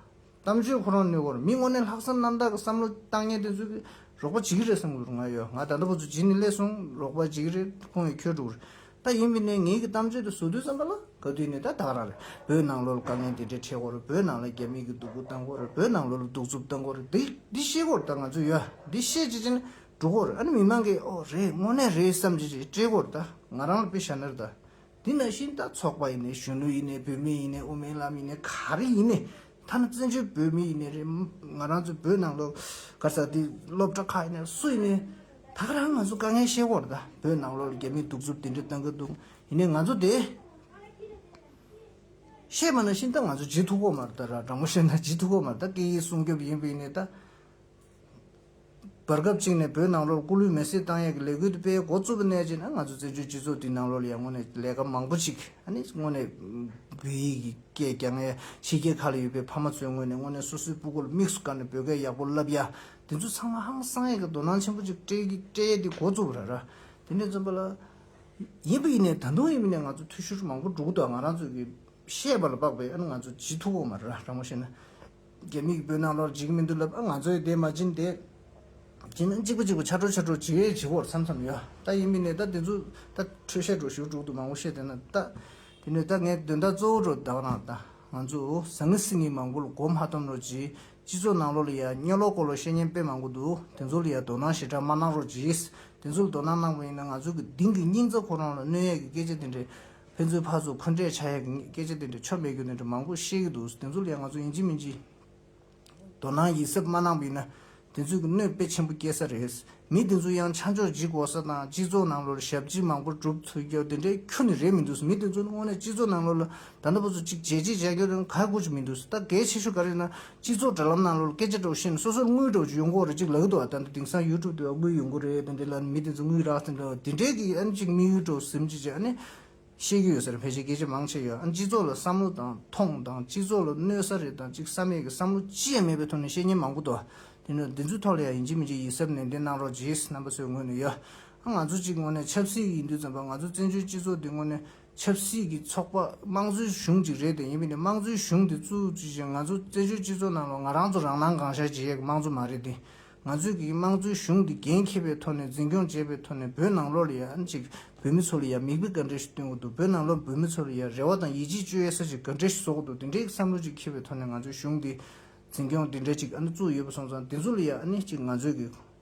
གཏམ་བརྗོད་ཁོ་རང་ནུས་བོར་མི་དངོས་གནས་ལྷག་བསམ་རྣམ་དག་གི་བསམ་བློ་བཏང་ངེས་དེ་ཚོས་རོགས་པ་བྱེད་ཀྱི་རེད་བསམ་གྱི་རུང་ང་ཡོད་ང་ད་ལྟ་བུ་ཚོ་བྱེད་ནི་སླེ་སོང་རོགས་པ་བྱེད་ཀྱི་རེད་ཁོང་གིས་ཁྱོད་དྲུག་རེད་ད་ཡིན་པའི་ནས་ངེད་ཀྱི་གཏམ་བརྗོད་དེ་བཟོ་དུས་བསམ་པ་ལ་ག་དུས་ནས་ད་བདག་རང་རེད་བོད་ནང་ལོ་ལ་དཀའ་ངལ་འདི་འདྲའི་འཕྲད་གོ་རེད་བོད་ནང་ལ་རྒྱ་མིག་གིས་སྡུག་པོ་བཏང་གོ་རེད་བོད་ནང་ལོ་ལ་སྡུག་རྩུབ་བཏང་གོ་རེད་འདི་འདི་ཤེས་གོ་རེད་ད་ང་ཚོ་ཡོད་འདི་ཤེས་བྱེད་ཅི་ནས་འགྲོ་གོ་རེད་ཨ་ནི་མི་མང་གིས་ཨོ་རེད་དངོས་གནས་རེད་བསམ་བྱེད་ཅིག་སྤྲད་གོ་རེད་ད་ང་རང་ལ་དཔེ་བཞག་ན་རེད་ད་དེ་ནང་བཞིན་ད་ཚོགས་པ་ཡིན་ནས་གཞོན་ནུ་ཡིན་ནས་བུད་མེད་ཡིན་ནས་དབུ་མའི་ལམ་ཡིན་ནས་ག་རེ་ཡིན་ནས་ཐ་ན་བཙན་བྱོལ་བོད་མི་ཡིན་ནས་རེད་ང་རང་ཚོའི་བོད་ནང་ལོག་ག་ས་དེ་སློབ་གྲྭ་ཁག་ཡིན་ནས་སུ་ཡིན་ནས་ད་རང་ང་ཚོ་དཀའ་ངལ་ཤེས་སྐོར་ད་བོད་ནང་ལོག་ལ་རྒྱ་མིས་གདུག་རྩུབ་དེ་འདྲས་བཏང་གི་འདུག་ཡིན་ནས་ང་ཚོ་དེ་བཤད་པ་ནང་བཞིན་ད་ང་ཚོ་ཇི་ཐུག་གོ་མ་རེད་ད་རང་མོ་བཤད་ན་ཇི་ཐུག་གོ་མ་རེད་ད་སྐད་ཡིག་སྲུང་སྐྱོབ་ཡིན་བས་ཡིན་ནས་ད་བར་སྐབས་གཅིག་ནས་བོད་ནང་ལོར་སྐུ་ལུས་མེར་སྲེག་བཏང་ཡས་ཀྱི་ལས་འགུལ་དེ་སྤེལ་འགོ་བཙུགས་པ་ནས་བརྗེད་ན་ང་ཚོ་བཙན་བྱོལ་སྤྱི་ཚོགས་འདི་ནང་ལོར་ཡང་སྔོན་ནས་ལས་ཀ་མང་པོ་ཅིག་སྔོན་ནས་བོད་ཡིག་གི་སྐད་རྒྱ་ངའི་ཕྱི་རྒྱལ་ཁག་ལ་ཡོད་པའི་ཕ་མ་ཚོའི་ངོས་ནས་སྔོན་ནས་སོ་སོའི་སྤུ་གོ་ལ་དམིགས་སུ་བཀར་ནས་བོད་སྐད་ཡག་པོ་བསླབས་ཡ་དེ་ཚོ་ཚང་མ་ཧང་སང་ཡས་ཀྱི་དོ་སྣང་ཆེན་པོ་ཅིག་སྤྲད་ཡས་དེ་འགོ་བཙུགས་པ་རེད་ར་དེ་ནས་བརྩོན་པ་ལ་ཡིན་པ་ཡིན་ནས་ད་དུང་ཡིན་པ་ནས་ང་ཚོ་འཐུས་ཤོར་མང་པོ་འགྲོ་གི་འདུག་ང་རང་ཚོ་གིས་བཤད་པ་ལ་དཔག་པའི་ཨ་ནུ་ང་ཚོ་ཇི་ཐུག་གོ་མ་རེད་ར་རང་མོ་བཤད་ན། རྒྱ་མིག་སྤོས་ནག་ལོར་འཇིག་མི་འདུག་ལབ་ཨ་ང་ཚོའི་དེ་མ་བྱིན་ཏེ། བྱིན་ན་གཅིག་པོ་གཅིག་པོ་ཆ་འཕྲོ་ཆ་འཕྲོ་ཇི་ཡོད་ཇི་བོར་འཚམས་འཚམས་ཡོད་ད་ཡིན་མིན་ནས་ད་དེ་ཚོ་ད་འཕྲོད་བཤད་འགྲོ་ཞུ་དྲུག་ཏུ་མང་བོ་བཤད་དེ་ན་ད་དེ་ནས་ད་ངའི་དོན་དག་གཙོ་བོ་འགྲོ་དག་རང་ད་ང་ཚོས་ཟང་ངེ་སིང་ངེ་མང་བོ་ལ་གོ་མ་སྟོན་རོགས་གྱིས་སྤྱི་ཚོགས་ནང་ལོག་ལ་ཡ་སྙོ་ལོག་སྐོར་ལ་བཤད་ཉན་དཔེ་མང་བོ་འདུག་དེ་ཚོ་ལ་ཡ་དོ་སྣང་ཞེ་དྲག་མ་གནང་རོགས་གྱིས་དེ་ཚོ་ལ་དོ་སྣང་གནང་བ་ཡིན་ན་ང་ཚོའི་གི་དིང་གི་སྙིང་རྩ་ཁོ་རང་ལ་གནོད་ཡས་ཀྱི་སྐད་ཆ་དེ་འདྲའི་ཕན་ཚུན་ཕར་ཚུར་འཁོན་འགྲས་བྱ་ཡག་གི་སྐད་ཆ་དེ་འདྲ་ཆོ་མེད་རྒྱུ་དེ་འདྲ་མང་པོ་བཤད་ཀྱི་འདུག་དེ་ཚོ་ལས་ང་ཚོ་ཡིན་གཅིག་མིན་གཅིག་དོ་སྣང་ཡིད་སེམས་མ་གནང་པ་ཡིན་ན་དེ་ཚོས་ཀྱི་གནོད་དཔེ་ཆེན་པོ་སྐྱེལ་ས་རེད། མི་དེ་ཚོ་ཡང་ཆ་འཇོག་ཇི་དགོས་ས་དང་སྤྱི་ཚོགས་ནང་ལོར་ཞབས་ཕྱི་མང་པོ་བསྒྲུབ་ཚུལ་རྒྱབ་དེ་འདྲའི་ཁྱོ་ནི་རེད་མི་འདུག་མི་དེ་ཚོ་ནི་དངོས་གནས་སྤྱི་ཚོགས་ནང་ལོར་ལ་ད་ལྟ་བུ་ཚོ་གཅིག་བྱས་གཅིག་བྱས་ཀྱི་རུང་ག་དགོས་ཀྱི་མི་འདུག་ད་གལ་ཆེ་ཤོས་ག་རེ་ཡིན་ན་སྤྱི་ཚོགས་དྲ་ལམ་ནང་ལོར་སྐད་ཆ་སྒྲོག་བཞིན་སོ་སོར་དངུལ་སྒྲོག་ཅིག་ཡོང་ཁོག་རེ་གཅིག་ལག་གི་ཐོག་ལ་བཏང་སྟེ་དེང་སང YouTube དེ་བ་དངུལ་ཡོང་ཁོག་རེ་རེད་དེ་འདྲའི་ལ་ནི་མི་དེ་ཚོས་དངུལ་རག་ཟིན་འདྲ་བ་དེ་འདྲའི་གི་ཨ་ནི་གཅིག་དམིགས་ཡུལ་སྒྲོག་ཟིམ་ཅིག་ཅེས་ཨ་ནི། བཤད་རྒྱུ་ཡོད་ས་རེད་ཕལ་ཆེར་སྐད་ཆ་མང་ཆེ་ཡོད་ཨ་ནི་སྤྱི་ཚོགས་ལ་བསམ་བློ་དང་ཐོངས་དང་སྤྱི་ཚོགས་ལ་གནོད་ས་རེད་དང་གཅིག་བསམ་ཡས་ཀྱི་བསམ་བློ་ཅི་ཡང་མེད་པའི་ཐོག་ནས་བཤད་ཉན་མང་པོ་འདུག་དེ་འདྲ་འདི་ཚོའི་ཐོག་ལ་ཡང་ཡིན་གཅིག་མིན་གཅིག་ཡིད་གཟབ་ནན་ཏན་གནང་རོགས་རྗེས་རྣམ་པ་ཚོའི་ངོས་ནས་ཡོད་ཨ་ང་ཚོ་གཅིག་དངོས་ནས་ཆབ་སྲིད་ཡིན་དུས་ཙམ་པ་ང་ཚོ་བཙན་བྱོལ་སྤྱི་ཚོགས་འདི་དངོས་ནས་ཆབ་སྲིད་ཀྱི་ཚོགས་པ་དམངས་གཙོའི་གཞུང་ཅིག་རེད་དེ་ཡིན་པས་ནི་དམངས་གཙོའི་གཞུང་དེ་ཚུལ་དེ་བཞིན་ང་ཚོ་བཙན་བྱོལ་སྤྱི་ཚོགས་ནང་ལ་ང་རང་ཚོ་རང་སྣང་གང་ཤར་གྱིས་ཡས་ཀྱི་དམངས་གཙོ་མ་རེད་དེ། ང་ཚོས་ཀྱི་དམངས་གཙོའི་གཞུང་དེ་འགན་འཁྱེར་པའི་ཐོག་ནས་འཛིན་སྐྱོང་བྱེད་པའི་ཐོག་ནས་བོད་ནང་ལོགས་ལ་ཡང་ཅིག་བོད་མི་ཚོ་ལ་ཡང་མིག་དཔེ་ག་འདྲ་ཞིག་སྟོན་གི་འདུག་བོད་ནང་ལོགས་བོད་མི་ཚོ་ལ་ཡང་རེ་བ་དང་ཡིད་ཆེས་བཅོལ་ཡས་ས་ཞིག་ག་འདྲ་ཞིག་བཟོ་གི་འདུག་དེ་འདྲའི་བསམ་བློ་ཅིག་འཁྱེར་བའི་ཐོག་ནས་ང་ཚོའི་གཞུང་དེ་འཛིན་སྐྱོང་དེ་འདྲ་ཅིག་ཨ་ནི་བཙུགས་ཡོད་པ་སོང་ཙང་དེ་ཚོ་ལ་ཡང་ཨ་ནི་ཅིག་ང་ཚོས་ཀྱི།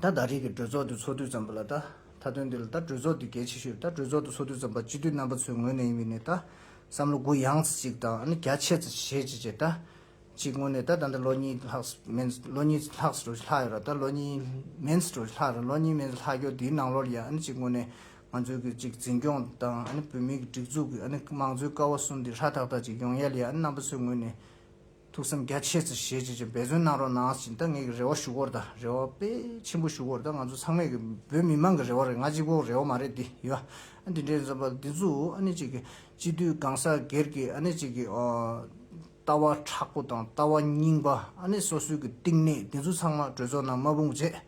ད་ལྟ་རིགས་ཀྱི་གྲོས་ཚོགས་དེ་ཚོགས་དུས་ཙམ་པོ་ལ་ལྟ། མཐའ་དོན་འདི་ལ་ད་གྲོས་ཚོགས་དེ་གལ་ཆེ་ཤོས་ད་གྲོས་ཚོགས་དེ་ཚོགས་དུས་ཙམ་པ་སྤྱི་འཐུས་རྣམ་པ་ཚོའི་ངོས་ནས་ཡིན་པའི་ནས་ད་བསམ་བློ་གུ་ཡངས་ཚེ་གཅིག་དང་ཨ་ནི་རྒྱ་ཆེ་ཚེ་ཞེ་གཅིག་བྱས་ད། གཅིག་དངོས་གནས་ད་ད་ལྟ་ལོ་གཉིས་ལྷག་མན་ལོ་གཉིས་ལྷག་ཟེར་རོ་ཞེ་ལྷག་ཡོད་ར་ད་ལོ་གཉིས་མན་ཟེར་རོ་ཞེ་ལྷག་ར་ལོ་གཉིས་མན་ཟེར་ལྷག་ཀྱོ་དེའི་ནང་ལོར་ཡང་ཨ་ནི་གཅིག་དངོས་གནས་ང་ཚོའི་གི་གཅིག་འཛིན་སྐྱོང་དང་ཨ་ནི་བོད་མིའི་གི་སྒྲིག་འཛུགས་གི་ཨ་ནི་དམངས་གཙོའི་ཀ་བ་གསུམ་དེ་ཧྲ་ཐག་ཐག་ཅིག་ཡོང་ཡལ་ཡ་ཨ་ནི་རྣམ་པ་ཚོའི་ངོས་ནས་ཐུགས་བསམ་རྒྱ་ཆེ་ཚེ་ཞལ་གཅིག་ཅིག་འབད་བརྩོན་གནང་རོགས་གནང་ཞིང་ད་ངེད་ཀྱི་རེ་བ་ཞུ་སྐོར་དང་རེ་བ་དཔེ་ཆེན་པོ་ཞུ་སྐོར་དང་ང་ཚོ་ཚང་མས་ཀྱི་བོད་མི་དམངས་ཀྱི་རེ་བ་རེད་ང་གཅིག་པོ་རེ་བ་མ་རེད་འདི་ཡོད་ཨ་འདི་འདྲའི་འཛོམས་པ་འདི་ཚོ་ཨ་ནི་ཅིག་གི་སྤྱི་འཐུས་སྒང་ས་སྒེར་གྱི་ཨ་ནི་ཅིག་གི་ལྟ་བ་ཁྲག་པོ་དང་ལྟ་བ་རྙིང་པ་ཨ་ནི་སོ་སོའི་གྱི་གཏིང་ནས་འདི་ཚོ་ཚང་མ་གྲོས་ཚོགས་ནང་མ་དཔུང་བཅས་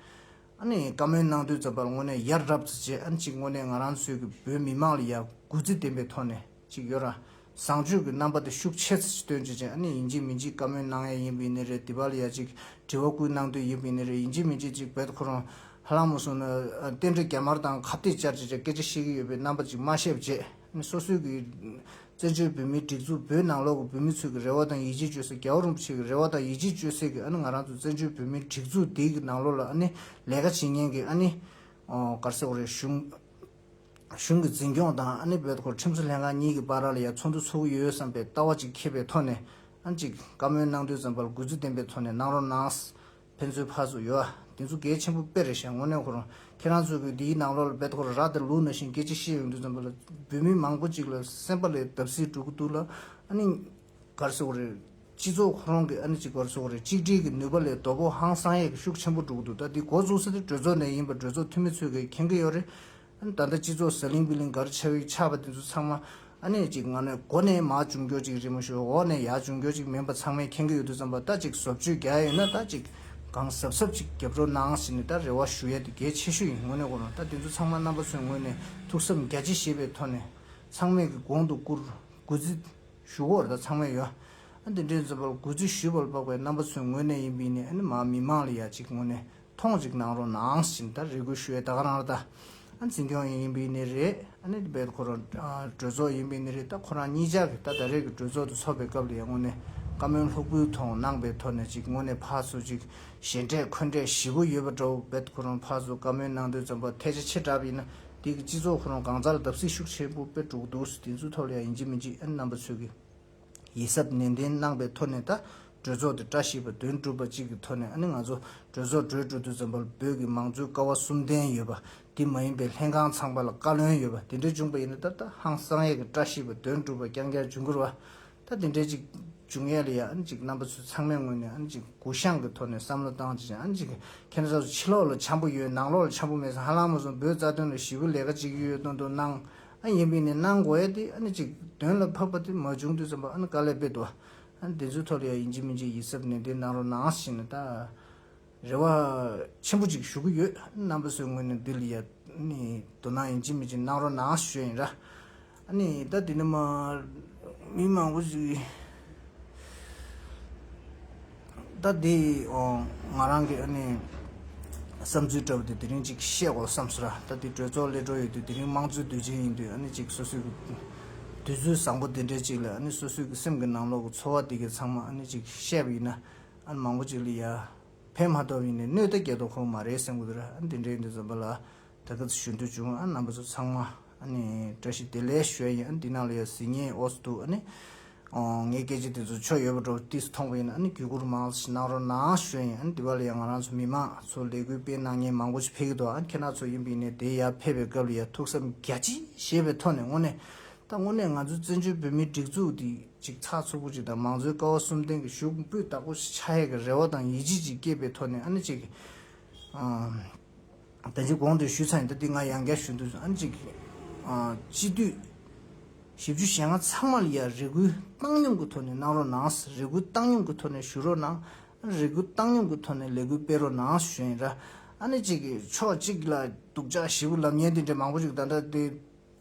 ཨ་ནི་བཀའ་མོལ་གནང་དུས་ཙམ་པར་དངོས་གནས་ཡར་རབས་ཚེ་རྗེ་ཨ་ནི་ཅིག་དངོས་གནས་ང་རང་ཚོའི་གྱི་བོད་མི་དམངས་ལ་ཡ་གུ་རྩི་ལྡན་པའི་ཐོག་ནས། ཅིག་ཡོད། བཟང་སྤྱོད་ཀྱི་རྣམ་པ་དེ་ཤུགས་ཆེ་ཚེ་སྟོན་བྱེད་ཅན་ཡིན་གཅིག་མིན་གཅིག་བཀའ་མོལ་གནང་ཡས་ཡིན་པིན་ནི་རེད་དི་བལ་ཡ་ཅིག་དྲི་བ་ཀུན་གནང་དུས་ཡིན་པིན་ནི་རེད་ཡིན་གཅིག་མིན་གཅིག་ཅིག་བལ་ཁོ་རང་ཧ་ལང་མོ་གསུང་ན་རྟེན་འབྲེལ་རྒྱ་དམར་དང་ཁ་བཏེག་བཅར་བྱེད་ཅན་སྐད་ཆ་བཤད་ཀྱི་ཡོད་པའི་རྣམ་པ་ཅིག་སྨྲ་ཤེས་བྱེད་ནི་སོ་སོའི་གི་བཙན་བྱོལ་བོད་མིའི་སྒྲིག་འཛུགས་བོད་ནང་ལོག་གི་བོད་མི་ཚོས་གི་རེ་བ་དང་ཡིད་ཆེས་བཅོལ་ས་རྒྱ་བོ་རིན་པོ་ཆེ་གི་རེ་བ་དང་ཡིད་ཆེས་བཅོལ་སའི་གི་ཨ་ནི་ང་རང་ཚོ་བཙན་བྱོལ་བོད་མིའི་སྒྲིག་འཛུགས་འདིའི་གི་ནང་ལོག་ལ་ཨ་ནི་ལས་ཀ་བྱེད་ཉན་གི་ཨ་ནི་གར་སེ་འོ་རེད་གཞུང། གཞུང་གི་འཛིན་སྐྱོང་དང་ཨ་ནེ་བོད་སྐོར་ཁྲིམས་བཟོ་ལྷན་ཁང་གཉིས་ཀྱི་བར་ལ་ཡང་ཚོགས་འདུ་ཚོགས་ཀྱི་ཡོད་བསམ་པའི་ལྟ་བ་ཅིག་ཁེབས་པའི་ཐོག་ནས། གཅིག། བཀའ་མོལ་གནང་དུས་འཛམ་བར་གུས་བརྩི་ལྡན་པའི་ཐོག་ནས་གནང་རོགས་གནང། ཕན་ཚུན་ཕར་ཚུར་ཡོད་ཨ། དེ་ཚོ་གལ་ཆེན་པོ་དཔེ་རེད་ཞེ་དངོས་གནས་ཁོ་རང་ཁྱེད་རང་ཚོས་གུས་འདིའི་ནང་ལོགས་ལ་བོད་སྐོར་རག་དེར་ལུགས་ན་བཞིན་སྐད་ཆ་བཤད་ཡོང་དུས་འཛམ་བུ་ལ་བོད་མི་མང་པོ་ཅིག་ལ་སེམས་པ་ལས་བརྡབ་གསིག་འགྲོ་གི་འདུག་ལ་ཨ་ནི། གར་སེ་བོ་རེད། སྤྱི་ཚོགས་ཁོ་རང་གི་ཨ་ནེ་གཅིག་པར་སོགས་རེད་གཅིག་སྒྲིལ་གྱི་ནུས་པ་ལས་རྡོ་ཕོ་ཧང་སང་ཡས་ཀྱི་ཤུགས་ཆེན་པོ་འགྲུག་འདུག་ད་འདི་འགོ་འཛུགས་ས་དེ་གྲོས་ཚོགས་ནས་ཡིན་པ་གྲོས་ཚོགས་འཐུས་མི་ཚོས་གས་མཁྱེན་གྱི་ཡོད་རེད། ད་ལྟ་སྤྱི་ཚོགས་ཟ་ལིང་བི་ལིང་གར་ཆགས་ཡིག་ཆགས་པ་དེ་ཚོ་ཚང་མ་ཨ་ནེ་གཅིག་ང་ནོས་སྒོ་ནས་མ་ཅུང་འགྱོ་ཅིག་རི་མོ་ཞོའི་འོག་ནས་ཡ་ཅུང་འགྱོ་ཅིག་མིན་པ་ཚང་མས་མཁྱེན་གྱི་ཡོད་འདུག་ཙམ་པ་ད་ཅིག་བཟོ་བཅོས་རྒྱག་ཡ་ཡོད་ན་ད་ཅིག་གང་ཟབ་ཟབ་ཅིག་རྒྱབ་སྐྱོར་གནང་ཟེར་ནས་ད་རེ་བ་ཞུ་ཡ་དེ་གལ་ཆེ་ཤོས་ཡིན་དངོས་གནས་གོ་རང་ད་དེ་ཚོ་ཚང་མ་རྣམ་པ་ཚོའི་ངོས་ནས་ཐུགས་བསམ་རྒྱ་ཆེ་བཞེས་པའི་ཐོག་ནས་ཚང་མས་ཀྱི་གོང་དུ་བཀུར་དགོས་ཙི། ཞུ་སྒོར་དང་ཚང་མས་ཡོད། དེ་འདྲའི་འཛུལ་པོར་གུས་བརྩི་ཞུས་པར་དཔག་པའི་རྣམ་པ་ཚོའི་ངོས་ནས་ཡིན་པས་ནི་མི་དམངས་ལ་ཡག་ཅིག་ངོ་ནས་མཐོང་ཅིག་གནང་རོགས་གནང་ཞེས་ད་རེ་གུས་ཞུ་བའི་ད་ག་རང་རེད་ད། འཛིན་སྐྱོང་ཡིན་ཡིན་པས་ནི་རེད། དེ་བས་ད་ཁོ་རང་གྲོས་ཚོགས་ཡིན་པས་ནི་རེད་ད་ཁོ་རང་གཉིས་ཅག་གིས་ད་ད་རེས་ཀྱི་གྲོས་ཚོགས་དེ་ཚོགས་པའི་སྐབས་ལ་ཡང་ངོ་ནས་བཀའ་མོལ་ལྷུག་པོའི་ཐོག་གནང་པའི་ཐོག་ནས་ཅིག་ངོ་ནས་ཕར་ཚུར་ཅིག་ཞེ་འགྲས་འཁོན་འགྲས་བཞི་པོ་ཡོད་པ་འདྲ་བོ་བས་ད་ཁོ་རང་ཕར་ཚུར་བཀའ་མོལ་གནང་འདོད་འཛོམས་པ་ཐལ་ཆ་ཆེ་དྲགས་པས་ན། དེ་གི་སྤྱི་ཚོགས་ཁོ་རང་གང་ཟག་ལ་བརྡབ་གསིག་ཤུགས་ཆེན་པོ་སྤེལ་འགྲོ་གི་འདུག་དེ་ཚོའི་ཐོག་ལ་ཡང་ཡིན་གྱི་མི་འཇིགས་ཨན་རྣམ་པ་ཚོས་ཀྱི་ཡིད་གཟབ་ནན་ཏན་གནང་པའི་ཐོག་ནས་ད་གྲོས་ཚོགས་དེ་བཀྲ་ཤིས་པ་དོན་གྲུབ་པ་ཅིག་གི་ཐོག་ནས་ཨ་ནི་ང་ཚོ་གྲོས་ཚོགས་གྲོས་གྲོལ་དུས་འཛམ་བུ་བོད་ཀྱི་མང་གཙོའི་ཀ་བ་གསུམ་ལྡན་ཡོད་པ་དེ་མ་ཡིན་པའི་ལྷན་ཁང་ཚང་པ་ལ་བཀའ་བློན་ཡོད་པ་དེ་འདྲ་བྱུང་པ་ཡིན་ན་ད་ད་ཧང་སང་ཡས་ཀྱི་བཀྲ་ཤིས་པ་དོན་གྲུབ་པ་རྐྱང་རྐྱང་འབྱུང་དགོས་ར་བ་ད་དེ་འདྲའི་ཅིག་འབྱུང་ཡ་ལ་ཡ་ཨ་ནི་ཅིག་རྣམ་པ་ཚོས་ཚང་མས་ངོས་ནས་ཨ་ནི་ཅིག་གུ་བཤངས་ཀྱི་ཐོག་ནས་བསམ་བློ་བཏང་ཅིག་བྱ་ཨ་ནི་ཅིག་ཁྱེད་རང་ཚོ་ཕྱི་ལོག་ལ་འཆམ་པོ་ཡོད་ནང་ལོག་ལ་འཆམ་པོ་མེད་ས་ཧ་ལམ་མ་སོང་བོད་རྩ་དོན་ལ་ཞི་བུ་ལས་ཀ་ཅིག་ཡོད་ཡོད་སྟོན་དུ་གནང་ཨ་ཡིན་པིན་ནས་གནང་དགོ་ཡ་དེ་ཨ་ནི་ཅིག་དོན་ལ་ཕབ་པ་དེ་མ་བྱུང་དུས་བསམ་པ་ཨ་ནི་དཀའ་ལས་དཔེ་དུ་ཨ་ནི་དེ་ཚོའི་ཐོག་ལ་ཡ་ཡིན་ཅིག་མིན་ཅིག་ཡིད་གཟབ་ནན་ཏན་གནང་རོགས་གནང་ཞེས་ནས་ད། རེ་བ་ཆེན་པོ་གཅིག་ཞུ་གི་ཡོད་རྣམ་པ་ཚོའི་ངོས་ནས་འདི་ལ་དོ་སྣང་ཡིན་གཅིག་མིན་གཅིག་གནང་རོགས་གནང་ཞུས་ཡིན་ར། ད་དེ་ནས་མི་མང་པོ་ཞིག་ད་དེ་ང་རང་གི་བསམ་ཚུལ་འདྲ་བོ་དེ་དེ་རིང་གཅིག་བཤད་དགོས་བསམས་སོ་ར། ད་དེ་གྲོས་ཚོགས་སླེ་འགྲོ་ཡོད་དུས་དེ་རིང་དམངས་གཙོའི་དུས་ཆེན་ཡིན་དུས་གཅིག་སོ་སོའི་དུས་ཚོད་བཟང་པོ་དེ་འདྲའི་གཅིག་ལ་སོ་སོའི་སེམས་ཀྱི་ནང་ལོག་གི་ཚོར་བ་དེ་གས་ཚང་མ་གཅིག་བཤད་པ་ཡིན་ན། ཨ་མང་པོ་ཅིག་ལ་ཡར་འཕེན་མ་ཐོབ་ཡིན་ནའི་སྣོད་ལྟ་རྒྱ་དོ་ཁོ་མ་རེད་སེམས་གོ་དེ་ར་ཨ་འདི་འདྲའི་འདི་འཛོམས་པ་ལ་ད་སྐབས་སུ་ཞུ་འདོད་བྱུང་ཨ་རྣམ་པ་ཚོ་ཚང་མ་ཨ་ནི་བཀྲ་ཤིས་བདེ་ལེགས་ཞུ་ཡ་ཡིན་ཨ་འདི་ནང་ལ་ཡ་གཟི་ངའི་ཨོ་སི་འདུག་ཨ་ནི་ཨོ་ངའི་སྐད་ཆ་དེ་ཚོ་ཆོ་ཡོད་པ་འགྲོ་བ་དུས་སུ་ཐོངས་པ་ཡིན་ཨ་ནི་བརྒྱུད་བསྐུར་མང་ཙི་གནང་རོགས་གནང་ཞུ་ཡ་ཡིན་ཨ་ནི་འདི་བ་ལ་ཡ་ང་རང་ཚོ་མི་མང་ཚོ་ལས་གུས་སྤེལ་གནང་མཁན་མང་པོ་ཅིག་ཕེབས་ཀྱི་འདུག་ཨ་ཁྱེད་རྣམ་ཚོ་ཡིན་པ་ཡིན་ནའི་དེ་ཡར་ཕེབས་པའི་སྐབས་ལ་ཡ་ཐུགས་བསམ་རྒྱ་ཆེ་བཞེས་པའི་ཐོག་ནས་དངོས་གནས་ད་དངོས་གནས་ང་ཚོའི་བཙན་བྱོལ་བོད་མིའི་སྒྲིག་འཛུགས་འདི། གཅིག་ཚགས་ཚུད་པོ་གཅིག་དང་མང་གཙོའི་ཀ་བ་གསུམ་ལྡན་གྱི་ཞུགས་འབུད་བདག་པོ་ཆགས་ཡས་ཀྱི་རེ་བ་དང་ཡིད་ཆེས་ཅིག་སྐྱེས་པའི་ཐོག་ནས་ཨ་ནེ་ཅིག་གིས། བོད་ཆོས་གོང་དུ་ཞུས་ཚར་ཡིན་ད་འདི་ང་ཡང་བསྐྱར་ཞུ་འདོད་བྱུང་ཨ་ནེ་ཅིག་གིས། སྤྱི་འཐུས་བཞི་བཅུ་ཞེ་ལྔ་ཚང་མ་ལ་ཡང་རེ་སྐུལ་བཏང་སྙོམས་ཀྱི་ཐོག་ནས་གནང་རོགས་གནང་རེ་སྐུལ་བཏང་སྙོམས་ཀྱི་ཐོག་ནས་ཞུ་རོགས་གནང་རེ་སྐུལ་བཏང་སྙོམས་ཀྱི་ཐོག་ནས་ལས་འགུལ་སྤེལ་རོགས་གནང་ཞུས་ཡིན་ར་ཨ་ནེ་ཅིག་གིས་ཕྱོགས་གཅིག་ལ་སྡུག་ཅག་བཞི་པོ་ལབ་ཉེན་དེ་འདྲའི་མང་པོ་ཞིག་ད་ལྟ་དེ།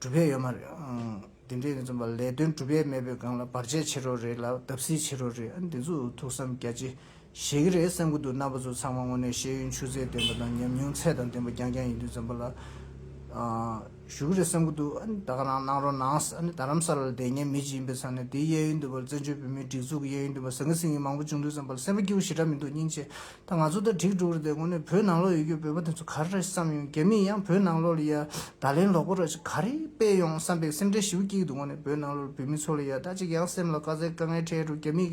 གྲུབ་ཕན་ཡོད་མ་རེད་ཨང། འདི་འདྲའི་ནི་རྩོམ་པ་ལས་དོན་གྲུབ་ཡས་མེད་པའི་སྒང་ལ་བར་ཆད་ཆེ་རོགས་རེད་ལ་བརྡབ་སིལ་ཆེ་རོགས་རེད་ཨང་འདི་ཚོ་ཐུགས་བསམ་རྒྱ་ཆེ་བཞེས་ཀྱི་རེད་བསམ་གྱི་འདུག་རྣམ་པ་ཚོ་ཚང་མ་དངོས་གནས་ཤེས་ཡོན་ཆུ་ཚད་ལྡན་པ་དང་ཉམས་མྱོང་ཚད་དང་ལྡན་པ་རྐྱང་རྐྱང་ཡིན་དུས་འཛམ་པ་ལ་ཞུ་གི་རེད་བསམ་གྱི་འདུག་ཨང་ད་ག་རང་གནང་རོགས་གནངས་ཨང་རྡ་རམ་ས་ལ་ལ་བསྡད་ཉན་མི་ཅིག་ཡིན་པའི་ཚང་ནས་འདིའི་གཡས་གཡོན་དུ་བར་བཙན་བྱོལ་བོད་མིའི་སྒྲིག་འཛུགས་ཀྱི་གཡས་གཡོན་དུ་བ་ཟང་གི་སིང་གི་མང་པོ་བྱུང་དུས་བསམ་པ་ལ་སེམས་པ་སྐྱིད་པོ་ཞེ་དྲག་མི་འདུག་སྙིང་རྗེ་ད་ང་ཚོ་ད་དྲིག་འགྲོ་གི་འདུག་དགོང་ནས་བོད་ནང་ལོག་ཡོད་རྒྱུ་བོད་པ་དེ་ཚོ་ག་རེ་རེད་བསམ་ཡོང་རྒྱ་མིས་ཡང་བོད་ནང་ལོག་ལ་ཡ་ད་ལན་ལོག་པོ་ར་ཅིག་ག་རེ་སྤེལ་ཡོང་བསམ་པའི་སེམས་ཁྲལ་ཞིབ་སྐྱིད་འདུག་དགོང་ནས་བོད་ནང་ལོག་བོད་མི་ཚོ་ལ་ཡ་ད་ཅིག་ཡང་སེམས་ལ་དཀའ་ཚེགས་དཀའ་ངལ་འཕྲད་འགྲོ་རྒྱ་མིས་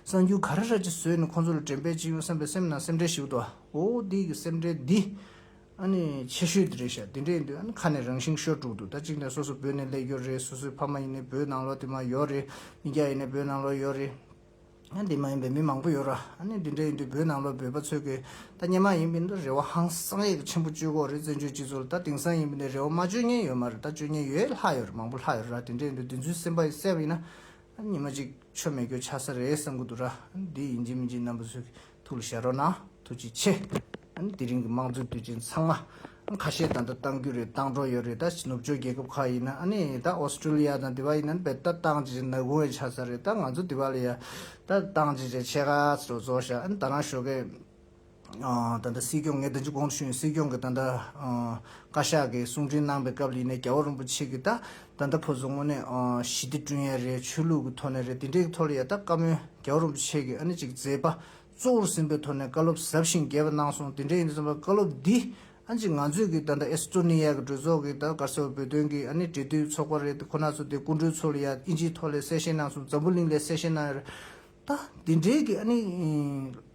གསང་རྒྱུ་ག་རེ་ར་ཅིག་བཟོས་ནས་ཁོང་ཚོ་ལ་དྲན་པས་ཅིག་ཡོང་བསམ་པའི་སེམས་ནང་སེམས་ཁྲལ་ཞིབ་འདུག་ཨོ་འདི་གི་སེམས་ཁྲལ་འདི་ཨ་ནི་ཆེ་ཤོས་དེ་རེད་ཤག་འདི་འདྲས་འདུག་ཨ་ནི་ཁ་ནས་རང་ཤིང་ཤོར་འགྲོ་གི་འདུག་ད་ཅིག་ནས་སོ་སོ་བོད་ནས་སླེབས་ཡོད་རེད་སོ་སོའི་ཕ་མ་ཡིན་ནའི་བོད་ནང་ལོག་དེ་མ་ཡོག་རེད་མི་སྐྱ་ཡིན་ནའི་བོད་ནང་ལོག་ཡོག་རེད། འདི་མ་ཡིན་པའི་མི་མང་པོ་ཡོད་ར་ཨ་ནི་འདི་འདྲ་ཡིན་དུས་བོད་ནང་ལོ་འབོད་པ་ཚོད་དགོས་ད་ཉན་མ་ཡིན་པའི་འདི་རེ་བ་ཧང་སང་ཡག་ཆེན་པོ་བཅོས་གོག་རེད་བཙན་བྱོལ་སྤྱི་ཚོགས་ལ་ད་དེང་སང་ཡིན་པའི་འདི་རེ་བ་མ་བཅོས་ཉན་ཡོད་མ་རེད་ད་བཅོས་ཉན་ཡོད་ལྷག་ཡོད་རེད་མང་པོ་ལྷག་ཡོད་ར་དེ་འདྲ་ཡིན་དུས་བདེན་རྫུན་སེམས་པ་གསལ་བ་ཡིན་ན་ཨ་ནི་ཉིན་མ་གཅིག་ཆོ་མེད་གྱོ་ཆགས་ས་རེད་བསམ་གི་འདུག་ར་ཨ་ནི་འདི་ཡིན་གྱི་མིན་གྱི་རྣམ་པ་ཚོད་ཐུགས་ལ་ཞལ་རོ་ན་ཐུགས་རྗེ་ཆེ། དེ་རིང་གི་དམངས་གཙོའི་དུས་ཆེན་ཚང་མ་ཁ་ཤས་ད་ལྟ་གཏང་རྒྱུ་རེད་གཏང་གྲོགས་ཡོད་རེད་ད་ནུབ་ཕྱོགས་རྒྱལ་ཁབ་ཁག་ཡིན་ན་ནི་ད་ཨོ་སི་ཀྲུ་ལི་ཡ་དང་དེ་བ་ཡིན་ན་ནི་བལ་ད་གཏང་བྱེད་བྱེད་ནག་གུང་བའི་ཆ་ཚ་རེད་ད་ང་ཚོ་དེ་བ་ལ་ཡ་ད་གཏང་བྱེད་བྱེད་ཆད་ག་ཚོད་རྫོགས་བཞག་ད་རང་ཞོགས་གས་ད་ད་སྲིད་སྐྱོང་ངས་ད་ཅི་དགོངས་དུ་ཞུ་ཡིན་སྲིད་སྐྱོང་གི་ད་ད་བཀའ་ཤག་གི་གསུང་འཕྲིན་གནང་པའི་སྐབས་ལ་ཡིན་ན་རྒྱལ་བ་རིན་པོ་ཆེ་གི་ད་ད་ལྟ་བོད་བཟོ་ངོ་ནས་ཞི་བདེ་བསྐྲུན་ཡ་རེད་ཆོས་ལུགས་ཀྱི་ཐོག་ནས་རེད་དེ་འདྲའི་གི་ཐོག་ལ་ཡ་ད་བཀའ་མོལ་རྒྱ་བོ་རིན་པོ་ཆེ་གི་ཨ་ནི་ཅིག་མཛད་པ་གཙོ་བོར་ཟིན་པའི་ཐོག་ནས་བཀའ་སློབ་ཟབ་ཞིང་རྒྱས་པ་གནང་སོང་དེ་འདྲ་ཡིན་དུ་བསམ་པ་བཀའ་སློབ་འདི་ཨ་ནི་ཅིག་ང་ཚོས་གི་ད་ད་ཨེ་སི་ཏྲོ་ནི་ཡ་གི་གྲོས་ཚོགས་གི་ད་གར་ས་བོ་བོད་དོན་གི་ཨ་ནི་འབྲེལ་མཐུད་ཚོགས་པ་རེད་དེ་ཁོ་ན་ཚོ་དེ་སྐུ་མགྲོན་ཚོ་ལ་ཡ་ཨིན་ཇིའི་ཐོག་ལས་གསལ་བཤད་གནང་སོང་འཛམ་བུ་གླིང་ལས་གསལ་བཤད་གནང་ཡ་རེད་ད་དེ་འདྲའི་གི་ཨ་ནི།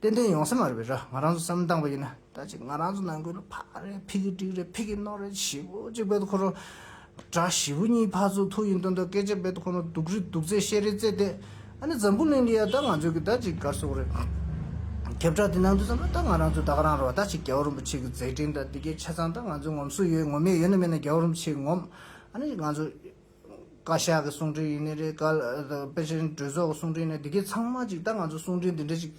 ཏན་ཏན་ཡོང་ས་མ་རེད་པས་ར་ང་རང་ཚོ་བསམ་བློ་བཏང་བ་ཡིན་ན་ད་ཅིག་ང་རང་ཚོ་ནང་ཁུལ་ལ་ཕ་རེད་ཕི་གི་དྲིག་རེད་ཕི་གི་རྣོ་རེད་བཞི་བོ་གཅིག་བེད་དུ་འཁོར་རོགས། དགྲ་བཞི་བོ་གཉིས་ཕ་ཚོ་ཐུག་ཡིན་སྟོན་ཐོག་སྐད་ཆ་བེད་དུ་འཁོར་རོགས་སྡུག་རི་སྡུག་རྩེ་ཤེས་རེ་རྩེ་དེ་ཨ་ནི་འཛམ་བུ་གླིང་འདི་ཡ་ད་ང་ཚོའི་གི་ད་ཅིག་གར་སོག་རེད། ཁྱབ་བསྒྲགས་འདི་ནང་དུ་བསམ་ན་ད་ང་རང་ཚོ་ད་ག་རང་རོགས་ད་ཅིག་རྒྱལ་བ་རིན་པོ་ཆེ་གི་མཛད་འཕྲིན་ད་འདི་གའི་ཆ་ཚང་ད་ང་ཚོའི་ངོམ་སོ་ཡོད་ངོམ་ཡས་ཡོད་ན་མེད་ན་རྒྱལ་བ་རིན་པོ་ཆེ་གི་ངོམ་ཨ་ནི་ང་ཚོ་བཀའ་ཤག་གི་གསུང་འཕྲིན་ཡིན་ནི་རེད། དཔེ་ཆ་འགྲོས་ཚོགས་ཀྱི་གསུང་འཕྲིན་ཡིན་ནི་རེད། འདི་གས་ཚང་མ་ཅིག་ད་ང་ཚོ་གསུང་འཕྲིན་འདི་འདྲ་ཅིག་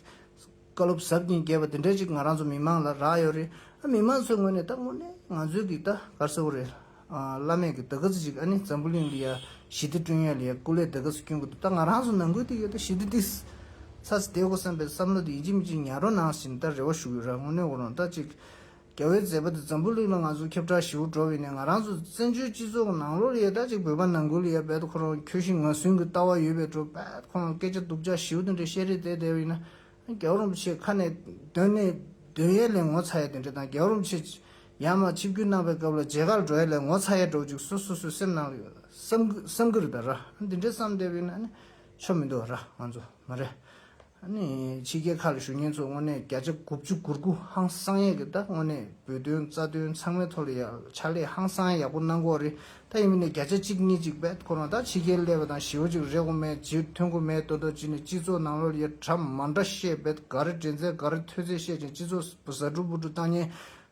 བཀའ་སློབ་ཟབ་ཀྱིན་རྒྱས་པ་འདི་འདྲ་ཅིག་ང་རང་ཚོ་མི་མང་ལ་རག་ཡོད་རེད། མི་མང་ཚོའི་ངོས་ནས་ད་དངོས་གནས་ང་ཚོའི་གིས་ད་གར་སེ་བོ་རེད། བླ་མེད་ཀྱི་ད་གི་ཚེ་ཅིག་ཨ་ནི་འཛམ་བུ་གླིང་ལི་ཡ་ཞི་བདེ་བསྐྲུན་ཡོད་ལི་ཡ་སྐུ་ལས་ད་གི་ཚེ་སྐྱོན་གི་འདུག་ད་ང་རང་ཚོ་ནང་ཁུལ་དུ་ཡོད་ད་ཞི་བདེ་འདི་ཚ་ཚེ་བདེ་གོ་བསམ་པའི་བསམ་བློ་དེ་ཡིན་གཅིག་མི་གཅིག་ཉར་རོ་ནང་བཞིན་ད་རེ་བ་ཞུ་ཡོད་ར་དངོས་གནས་འོ་རོང་ད་ཅིག་རྒྱལ་བོའི་མཛད་པ་འདི་འཛམ་བུ་གླིང་ན་ང་ཚོ་ཁྱབ་བསྒྲགས་ཞི་བོ་འགྲོ་བས་ནས་ང་རང་ཚོ་བཙན་བྱོལ་སྤྱི་ཚོགས་ཀྱི་ནང་ལོ་རེའི་ཟླ་གཅིག་བོད་པ་ནང་ཁུལ་ཡ་རྦད་དུ་ཁོ་རང་ཁྱོད་བཞིན་ང་ཟུན་གྱི་ལྟ་བ་ཡོད་པའི་དྲོ་རྦད་ཁོ་རང་སྐད་ཆ་སྡུག་ཅག་ཞིའུ་དང་འདྲའི་བཤད་རེས་དེ་དེ་བས་ན་རྒྱལ་བོ་རིན་པོ་ཆེ་ཁ་ནས་དོན་ནི་དོན་ཡས་ལས་ངོ་ཚ་ཡས་དེ་འདྲ་དང་རྒྱལ་བོ་རིན་པོ་ཆེ་ཡར་མར་ཆིབས་བསྒྱུར་གནང་བའི་སྐབས་ལ་མཇལ་ཁ་ལ་འགྲོ་ཡས་ལས་ངོ་ཚ་ཡས་འགྲོ་གཅིག་སོ་སོ་སོའི་སེམས་ནང་གི་བསམ་གི་རེད་ར་དེ་འདྲའི་བསམ་དེ་བས་ན་ཆོ་མི་འདུག་ར་ང་ཚོ་མ་རེད། ད་ནི་ཕྱི་རྒྱལ་ཁག་གི་ཞུ་སྙན་ཚོགས་དངོས་གནས་བརྒྱ་ཆ་དགུ་བཅུ་དགུར་དགུ་ཧང་སང་ཡག་གི་ད་དངོས་གནས་འབུད་དོན་རྩ་དོན་ཚང་མའི་ཐོག་ལ་ཡག་ཕྱག་ལས་ཧང་སང་ཡག་པོ་གནང་གོ་རེ་ད་ཡིན་མིན་ནས་བརྒྱ་ཆ་གཅིག་གཉིས་གཅིག་བེད་ཁོ་རང་ད་ཕྱི་རྒྱལ་སླེབས་པ་དང་ཞེའུ་ཅིག་རེག་གོ་མེད་ཇི་ཐོན་གོ་མེད་ལྟོ་ལྟོ་ཅི་ནས་སྤྱི་ཚོགས་ནང་ལོ་ཡ་གྲ་མ་འདྲ་བཤད་བེད་ག་རེ་འདྲེན་ཚད་ག་རེ་ཐོས་ཚད་བཤད་ཅིང་སྤྱི་ཚོགས་ཟ་འབྲུ་འབུ་འབྲུ་བཏང་ཉེན་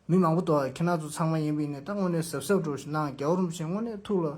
མི་མང་པོ་དོ་ཁྱེད་རང་ཚོ་ཚང་མ་ཡིན་མིན་ནས་ད་དངོས་གནས་གཟབ་གཟབ་འགྲོ་ཞེ་ན་རྒྱ་བོར་མི་བྱེད་དངོས་གནས་ཐུགས་ལ་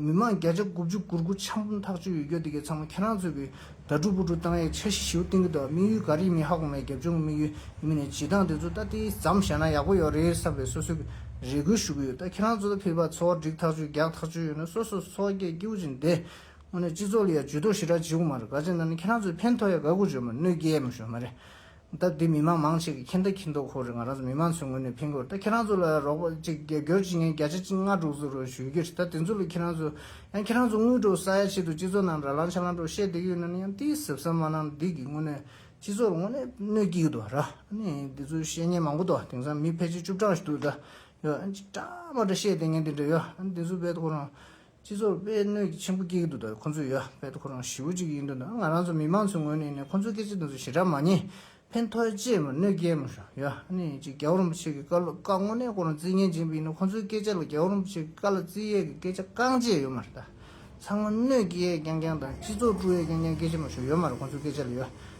མི་མང་བརྒྱ་ཆ་དགུ་བཅུ་གུར་གུར་ཆམ་ཐག་གཅོད་ཡོད་རྒྱུ་དེ་གས་ཚང་མ་ཁྱེད་རང་ཚོས་གི་དགྲ་བཀྲུ་བུ་བཀྲུ་བཏང་ཡས་འཆར་གཞི་ཞིའུ་བཏིང་གི་འདུག་དམིགས་ཡུལ་ག་རེ་ཡིན་མིན་ཧ་གོ་མེད་རྒྱབ་ལྗོངས་ཀི་དམིགས་ཡུལ་ཡིན་མིན་ནས་བྱེད་སྟངས་དེ་ཚོ་ད་ལྟའི་ཟམ་བཞག་ན་ཡག་པོ་ཡོག་རེད་བསམ་པའི་སོ་སོའི་གི་རེ་སྒུག་ཞུ་གི་ཡོད་ད་ཁྱེད་རང་ཚོ་ད་ཕེབས་པ་ཚོ་བསྒྲིགས་ཐག་གཅོད་རྒྱག་ཐག་གཅོད་ཡོད་ན་སོ་སོ་ཚོ་སྐད་སྐྱིའུ་ཅིག་འདེ་སྔོན་ནས་སྤྱི་ཚོགས་ལ་ཡ་ཇུས་དོགས་ཞི་དྲག་བྱེད་གི་མ་རེད་ག་ཅེ་ན་ནི་ཁྱེད་རང་ཚོས་ཕན་ཐོག་ཡ་ག་གུ་བརྗོད་མ་ནུས་ཀྱི་ཡས་མ་ཞོན་མ་རེད། ད་དེ་མི་མང་མང་ཆེ་གི་ཁྱེད་འདྲ་ཁྱི་མདོག་ཁོ་རེ་ང་རང་ཚོ་མི་མང་ཚོའི་ངོས་ནས་ཕན་དགོས་ད་ཁྱེད་རང་ཚོ་ལ་རོགས་པ་ཅིག་རྒྱབ་སྐྱོར་བྱེད་མཁན་བརྒྱ་ཆ་གཅིག་ལྔ་དྲུག་ཚོ་རུ་ཞུས་ཀྱི་རེད་ད་དེ་ཚོ་ལ་ཁྱེད་རང་ཚོ། ཡང་ཁྱེད་རང་ཚོ་དངུལ་སྤྲོད་ས་ཡ་ཆེད་དུ་སྤྱི་ཚོགས་ནང་ར་ལང་ཆ་ལང་སྤྲོ་བཤད་འདི་ཡོད་ན་ནི་ཡང་ཏིས་ཟབ་ཟབ་མ་གནང་ན་འདི་གི་དངོས་གནས་སྤྱི་ཚོགས་ལ་དངོས་གནས་གནོད་ཀྱི་ཡོད་དོ་ར་ནི་འདི་ཚོ་བཤད་ཉན་མང་པོ་འདུག་དེང་སང་མི་ཕལ་ཆེར་བཅུ་གྲངས་ཞིག་འདུག་ད་ཡོད་ཅིག་གྲངས་མ་འདྲ་བཤད་དེ་ངན་དེ་འདྲ་ཡོད་ཨ་ནི་འདི་ཚོ་བས་ཐོག་རང་སྤྱི་ཚོགས་དཔེ་གནོད་ཀྱི་ཆེན་པོ་སྐྱེ་གི་འདུག་ད་ཁོ་ཚོས་ཡོད་དཔེ་ཁོ་རང་ཞི་བོ་ཅིག་ཡིན་འདུག་ང་རང་ཚོ་མི་མང་ཚོའི་ངོས་ནས་ཁོ་ཚོའི་སྐད་ཆ་དེ་ཚོ་ཞེ་དྲག་མ་ཉན་ཕན་ཐོག་ཅེས་མོ་གནོད་སྐྱེལ་མོ་ཞུ་ཡོད་ཨ་ནི་ཅིག་རྒྱལ་བ་རིན་པོ་ཆེ་གི་བཀའ་སློབ་བཀའ་དངོས་གནས་ཁོ་རང་རྩིས་ངན་སྦྱིན་པ་ཡིན་ན་ཁོ་ཚོའི་སྐད་ཆ་ལ་རྒྱལ་བ་རིན་པོ་ཆེ་གི་བཀའ་ལ་རྩིས་ཡས་ཀྱི་སྐད་ཆ་རྐང་རྗེས་ཡོད་མ་རེད་ད་ཚང་མོ་གནོད་སྐྱེལ་ཡས་ཀྱང་ཀྱང་དང་སྤྱི་ཚོགས་དཀྲུག་ཡས་ཀྱང་ཀྱང་སྐད་ཆ་མ་ཞུ་ཡོད་མ་རེད་ཁོ་ཚོའི་སྐད་ཆ་ལ་ཡོད་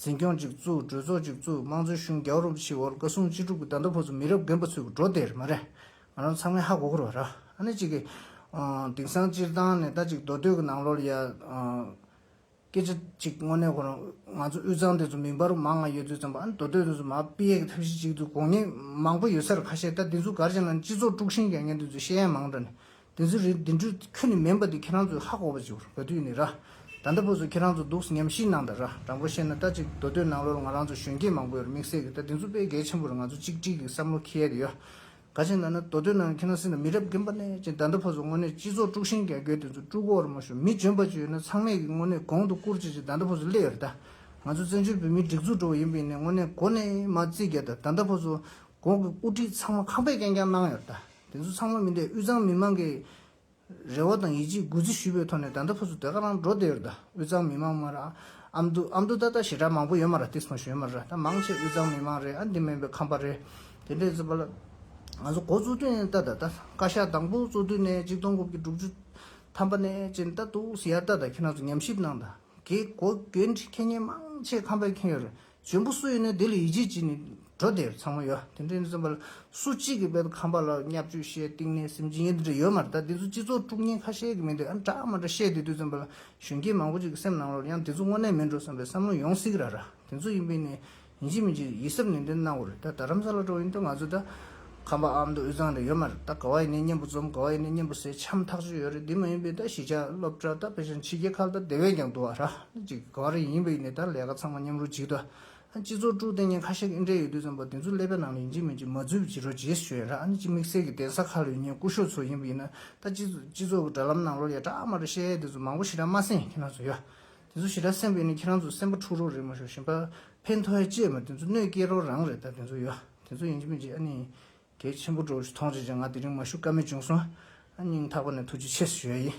འཛིན་སྐྱོང་ཅིག་བཙུགས་གྲོས་ཚོགས་ཅིག་བཙུགས་དམངས་གཙོའི་གཞུང་རྒྱ་བོ་རུམ་བཞི་བོར་བཀའ་སྲུང་སྤྱི་དྲུག་གི་བརྡ་མདོ་ཕོ་ཚོ་མི་རབས་རྒན་པོ་ཚོས་གུ་འགྲོ་དེར་མ་རེད། ང་རང་ཚང་མའི་ཧ་གོ་གོ་རོགས་ར། ཨ་ནེ་ཅིག་གིས། དེང་སང་སྤྱིར་བཏང་ནས་ད་ཅིག་མདོ་སྟོད་ཀྱི་ནང་ལོར་ཡ། སྐད་ཆ་ཅིག་དངོས་གནས་གོ་རང། ང་ཚོ་དབུས་གཙང་དེ་ཚོ་མིང་པར་མ་ང་ཡོད་ཚོད་ཙམ་པ་ཨ་ནེ་མདོ་སྟོད་དེ་ཚོ་མ་དཔེ་ཡས་ཀྱི་ཐབས་ཤེས་ཅིག་འདུག་དགོངས་ཉེས་མང་པོ་ཡོད་སར་ཁ་ཤས་ད་དེ་ཚོ་གར་ཅིག་ན་སྤྱི་ཚོགས་དཀྲུགས་ཤིང་རྒྱག་མཁན་དེ་ཚོས་བཤད་ཡ་མང་དྲགས་ནས་དེ་ཚོ་རེད་དེ་འདྲུ་ཁྱོད་ནི་མེན་པ་དེ་ཁྱེད་རང་ཚོས་ཧ་གོ་བ་ཅིག་རེད་དུས་ནི་ར་ད་ད་པོ་ཚོ་ཁྱེད་རང་ཚོ་སྡུག་ཉམས་ཤིག་གནང་ད་ར་དྲང་པོ་བཤད་ན་ད་ཅིག་མདོ་སྟོད་ནང་ལོར་ང་རང་ཚོ་གཞོན་སྐྱེས་མང་པོས་ར་མིག་སད་གི་ད་དེ་ཚོ་དཔེ་གལ་ཆེན་པོ་ར་ང་ཚོ་གཅིག་སྒྲིལ་གི་བསམ་བློ་ཁེ་ཡ་དེ་ཡོ་ག་ཅིག་གནང་ན་མདོ་སྟོད་ནང་ཁྱེད་རང་སེ་ན་མི་རབས་རྒན་པ་ནས་ཅིག་ད་ད་པོ་ཚོ་དངོས་གནས་སྤྱི་ཚོགས་དཀྲུག་ཤིང་རྒྱ་རྒྱོད་དེ་ཚོ་དཀྲུག་གོ་ར་མ་ཞུ་མི་འཇོན་པ་ཅིག་ཡོད་ན་ཚང་མས་གིས་དངོས་གནས་གོང་དུ་བཀུར་ཅིག་ཅིག་ད་ད་པོ་ཚོ་སླེ་ཡོ་ར་ད་ང་ཚོ་བཙན་བྱོལ་བོད་མིའི་སྒྲིག་འཛུགས་འགྲོ་བ་ཡིན་པའི་ནས་དངོས་གནས་གོ་གནས་མ་བརྩི་གི་ད་ད་ད་ད་པོ་ཚོ་གོང་གི་དབུ་ཁྲིད་ཚང་མ་ཁང་པའི་རྐྱང་རྐྱང་གནང་ཡོ་ར་ད། དེ་ཚོ་ཚང་མ་མི་འདྲའི་དབུས་གཙང་མི་མང་གིས་རེ་བ་དང་ཡིད་ཆེས་དགུ་རྩི་ཞུས་པའི་ཐོག་ནས་ད་ལྟ་ཕུ་ཚུ་དེ་ག་རང་འགྲོ་བསྡད་ཡོད་རེད་ད་དབུས་གཙང་མི་མང་མར་ཨ་མདོ་ཨ་མདོ་ད་ད་ཞེ་དྲག་མང་པོ་ཡོད་མ་རེད་སྟེགས་སོང་ཞུས་ཡོད་མ་རེད་ད་མང་ཆེ་དབུས་གཙང་མི་མང་རེད་ཨ་འདི་མིན་པའི་ཁམས་པ་རེད་དེ་འདྲས་ཚོད་པ་ལ། ང་ཚོ་འགོ་བཙུགས་དུས་ནས་ད་ད་ད་བཀའ་ཤག་དང་པོ་བཙུགས་དུས་ནས་གཅིག་སྟོང་དགུ་བརྒྱ་དྲུག་ཅུ་ཐམ་པ་ནས་ཅིན་ད་དུག་སི་ཡར་ད་ད་ཁྱེད་རང་ཚོ་ཉམས་ཞིབ་གནང་ད་གེ་གོ་གེ་འདྲི་ཁེ་ཉེན་མང་ཆེ་ཁམས་པས་ཁེངས་ཡོད་རེད་འབྱོན་པོ་སུ་ཡིན་ནས་དེ་ལ་ཡིད་ཆེས་བགྱིས་ནས་འགྲོ་དེ་ཚང་མ་ཡོད་དེ་འདྲའི་བཙོན་པ་ལ་སུ་གཅིག་གིས་དཔལ་དུ་ཁམས་པ་ལ་བསྙབ་སྤྱོད་བཤད་གཏིང་ནས་སེམས་ཅི་ཡིན་དེ་འདྲ་ཡོད་མ་རེད་ད་དེ་ཚོ་སྤྱི་ཚོགས་དཀྲུག་ཉེན་ཁ་ཤས་ཀྱི་མི་འདུག་ཨ་འདྲ་མ་འདྲ་བཤད་དེ་དུས་བཙོན་པ་ལ་གཞོན་སྐྱེས་མང་པོ་ཅིག་གི་སེམས་ནང་ལོར་ཡང་དེ་ཚོ་དངོས་གནས་མིན་འགྲོ་བསམ་པའི་བསམ་བློ་ཡོང་སྲིད་ར་ར་དེ་ཚོ་ཡིན་པས་ནས་ཡིན་གཅིག་མིན་གཅིག་ཡིད་གཟབ་ནན་ཏན་གནང་དགོས་རེད་ད་རམ་ས་ལ་འགྲོ་བ་ཡིན་དུས་ང་ཚོས་ད་ཁམས་པ་ཨ་མདོ་དབུས་གཙང་རེད་ཡོད་མ་རེད་ད་ག་བ་ཡིན་ནའི་སྙན་པོ་འཛོམས་ག་བ་ཡིན་ནའི་སྙན་པོ་ཟེར་འཆམ་ཐག་ཆོད་ཡོད་རེད་འདི་མ་ཡིན་པའི་ད་གཞིས་ཆགས་སློབ་གྲྭ་ད་བེ་ཞང་ཕྱི་རྒྱལ་ཁ་ལ་ད་དེ་བས་ཀྱང་དུ་བ་ར་ལ་ཅིག་གི་ག་བ་རེ་ཡིན་པ་ཡིན་ནའི་ད་ལས་ཀ་ཚང་མ་མཉམ་རུ་འཇིག་ད་སྤྱི་ཚོགས་དཀྲུག་ལྟེ་གཉན་ཁ་ཤ་ཨིན་དྲའི་ཡོད་དུས་ཙམ་པ་དེ་ཚོ་ཀླད་པའི་ནང་ལ་ཡིན་གཅིག་མིན་གཅིག་མ་རྫུས་པའི་བྱི་རོ་རྗེས་སུ་ཤོད་ཡོད་ར་ལ་ཅིག་དམིགས་བསལ་གྱི་གདན་ས་ཁ་ལ་ཡོད་ཉེན་རྐུ་ཤོག་ཚོ་ཡིན་པ་ཡིན་ན་ད་སྤྱི་ཚོགས་ཀྱི་དགྲ་ལམ་ནང་ལོར་ཡ་གྲགས་མ་གྲགས་བཤད་ཡས་དེ་ཚོ་མང་པོ་ཞིག་ར་མ་སེང་ཁྱེད་རང་ཚོ་ཡ། དེ་ཚོ་ཞེ་དྲག་སེམས་ཀྱི་ནི་ཁྱེད་རང་ཚོ་སེམས་པ་འཁྲུག་རོགས་རེད་མ་ཤོག་ཞིམ་པ་ཕན་ཐོགས་ཡ་ཅེས་མ་དེ་ཚོ་གནོད་སྐྱེལ་རོགས་རང་རེད་ད་དེ་ཚོ་ཡོ་དེ་ཚོ་ཡིན་གྱི་མིན་གྱི་ཨ་ནི་གལ་ཆེན་པོ་འགྲོ་གི་ཐོངས་རྗེས་ཅན་ང་དེ་རིང་མ་ཞུ་ཀ་མེད་བྱུང་སོང་ཨ་སྙིང་ཐག་པ་ནས་ཐུགས་རྗེ་ཆེ་ཞུ་ཡ་ཡིན།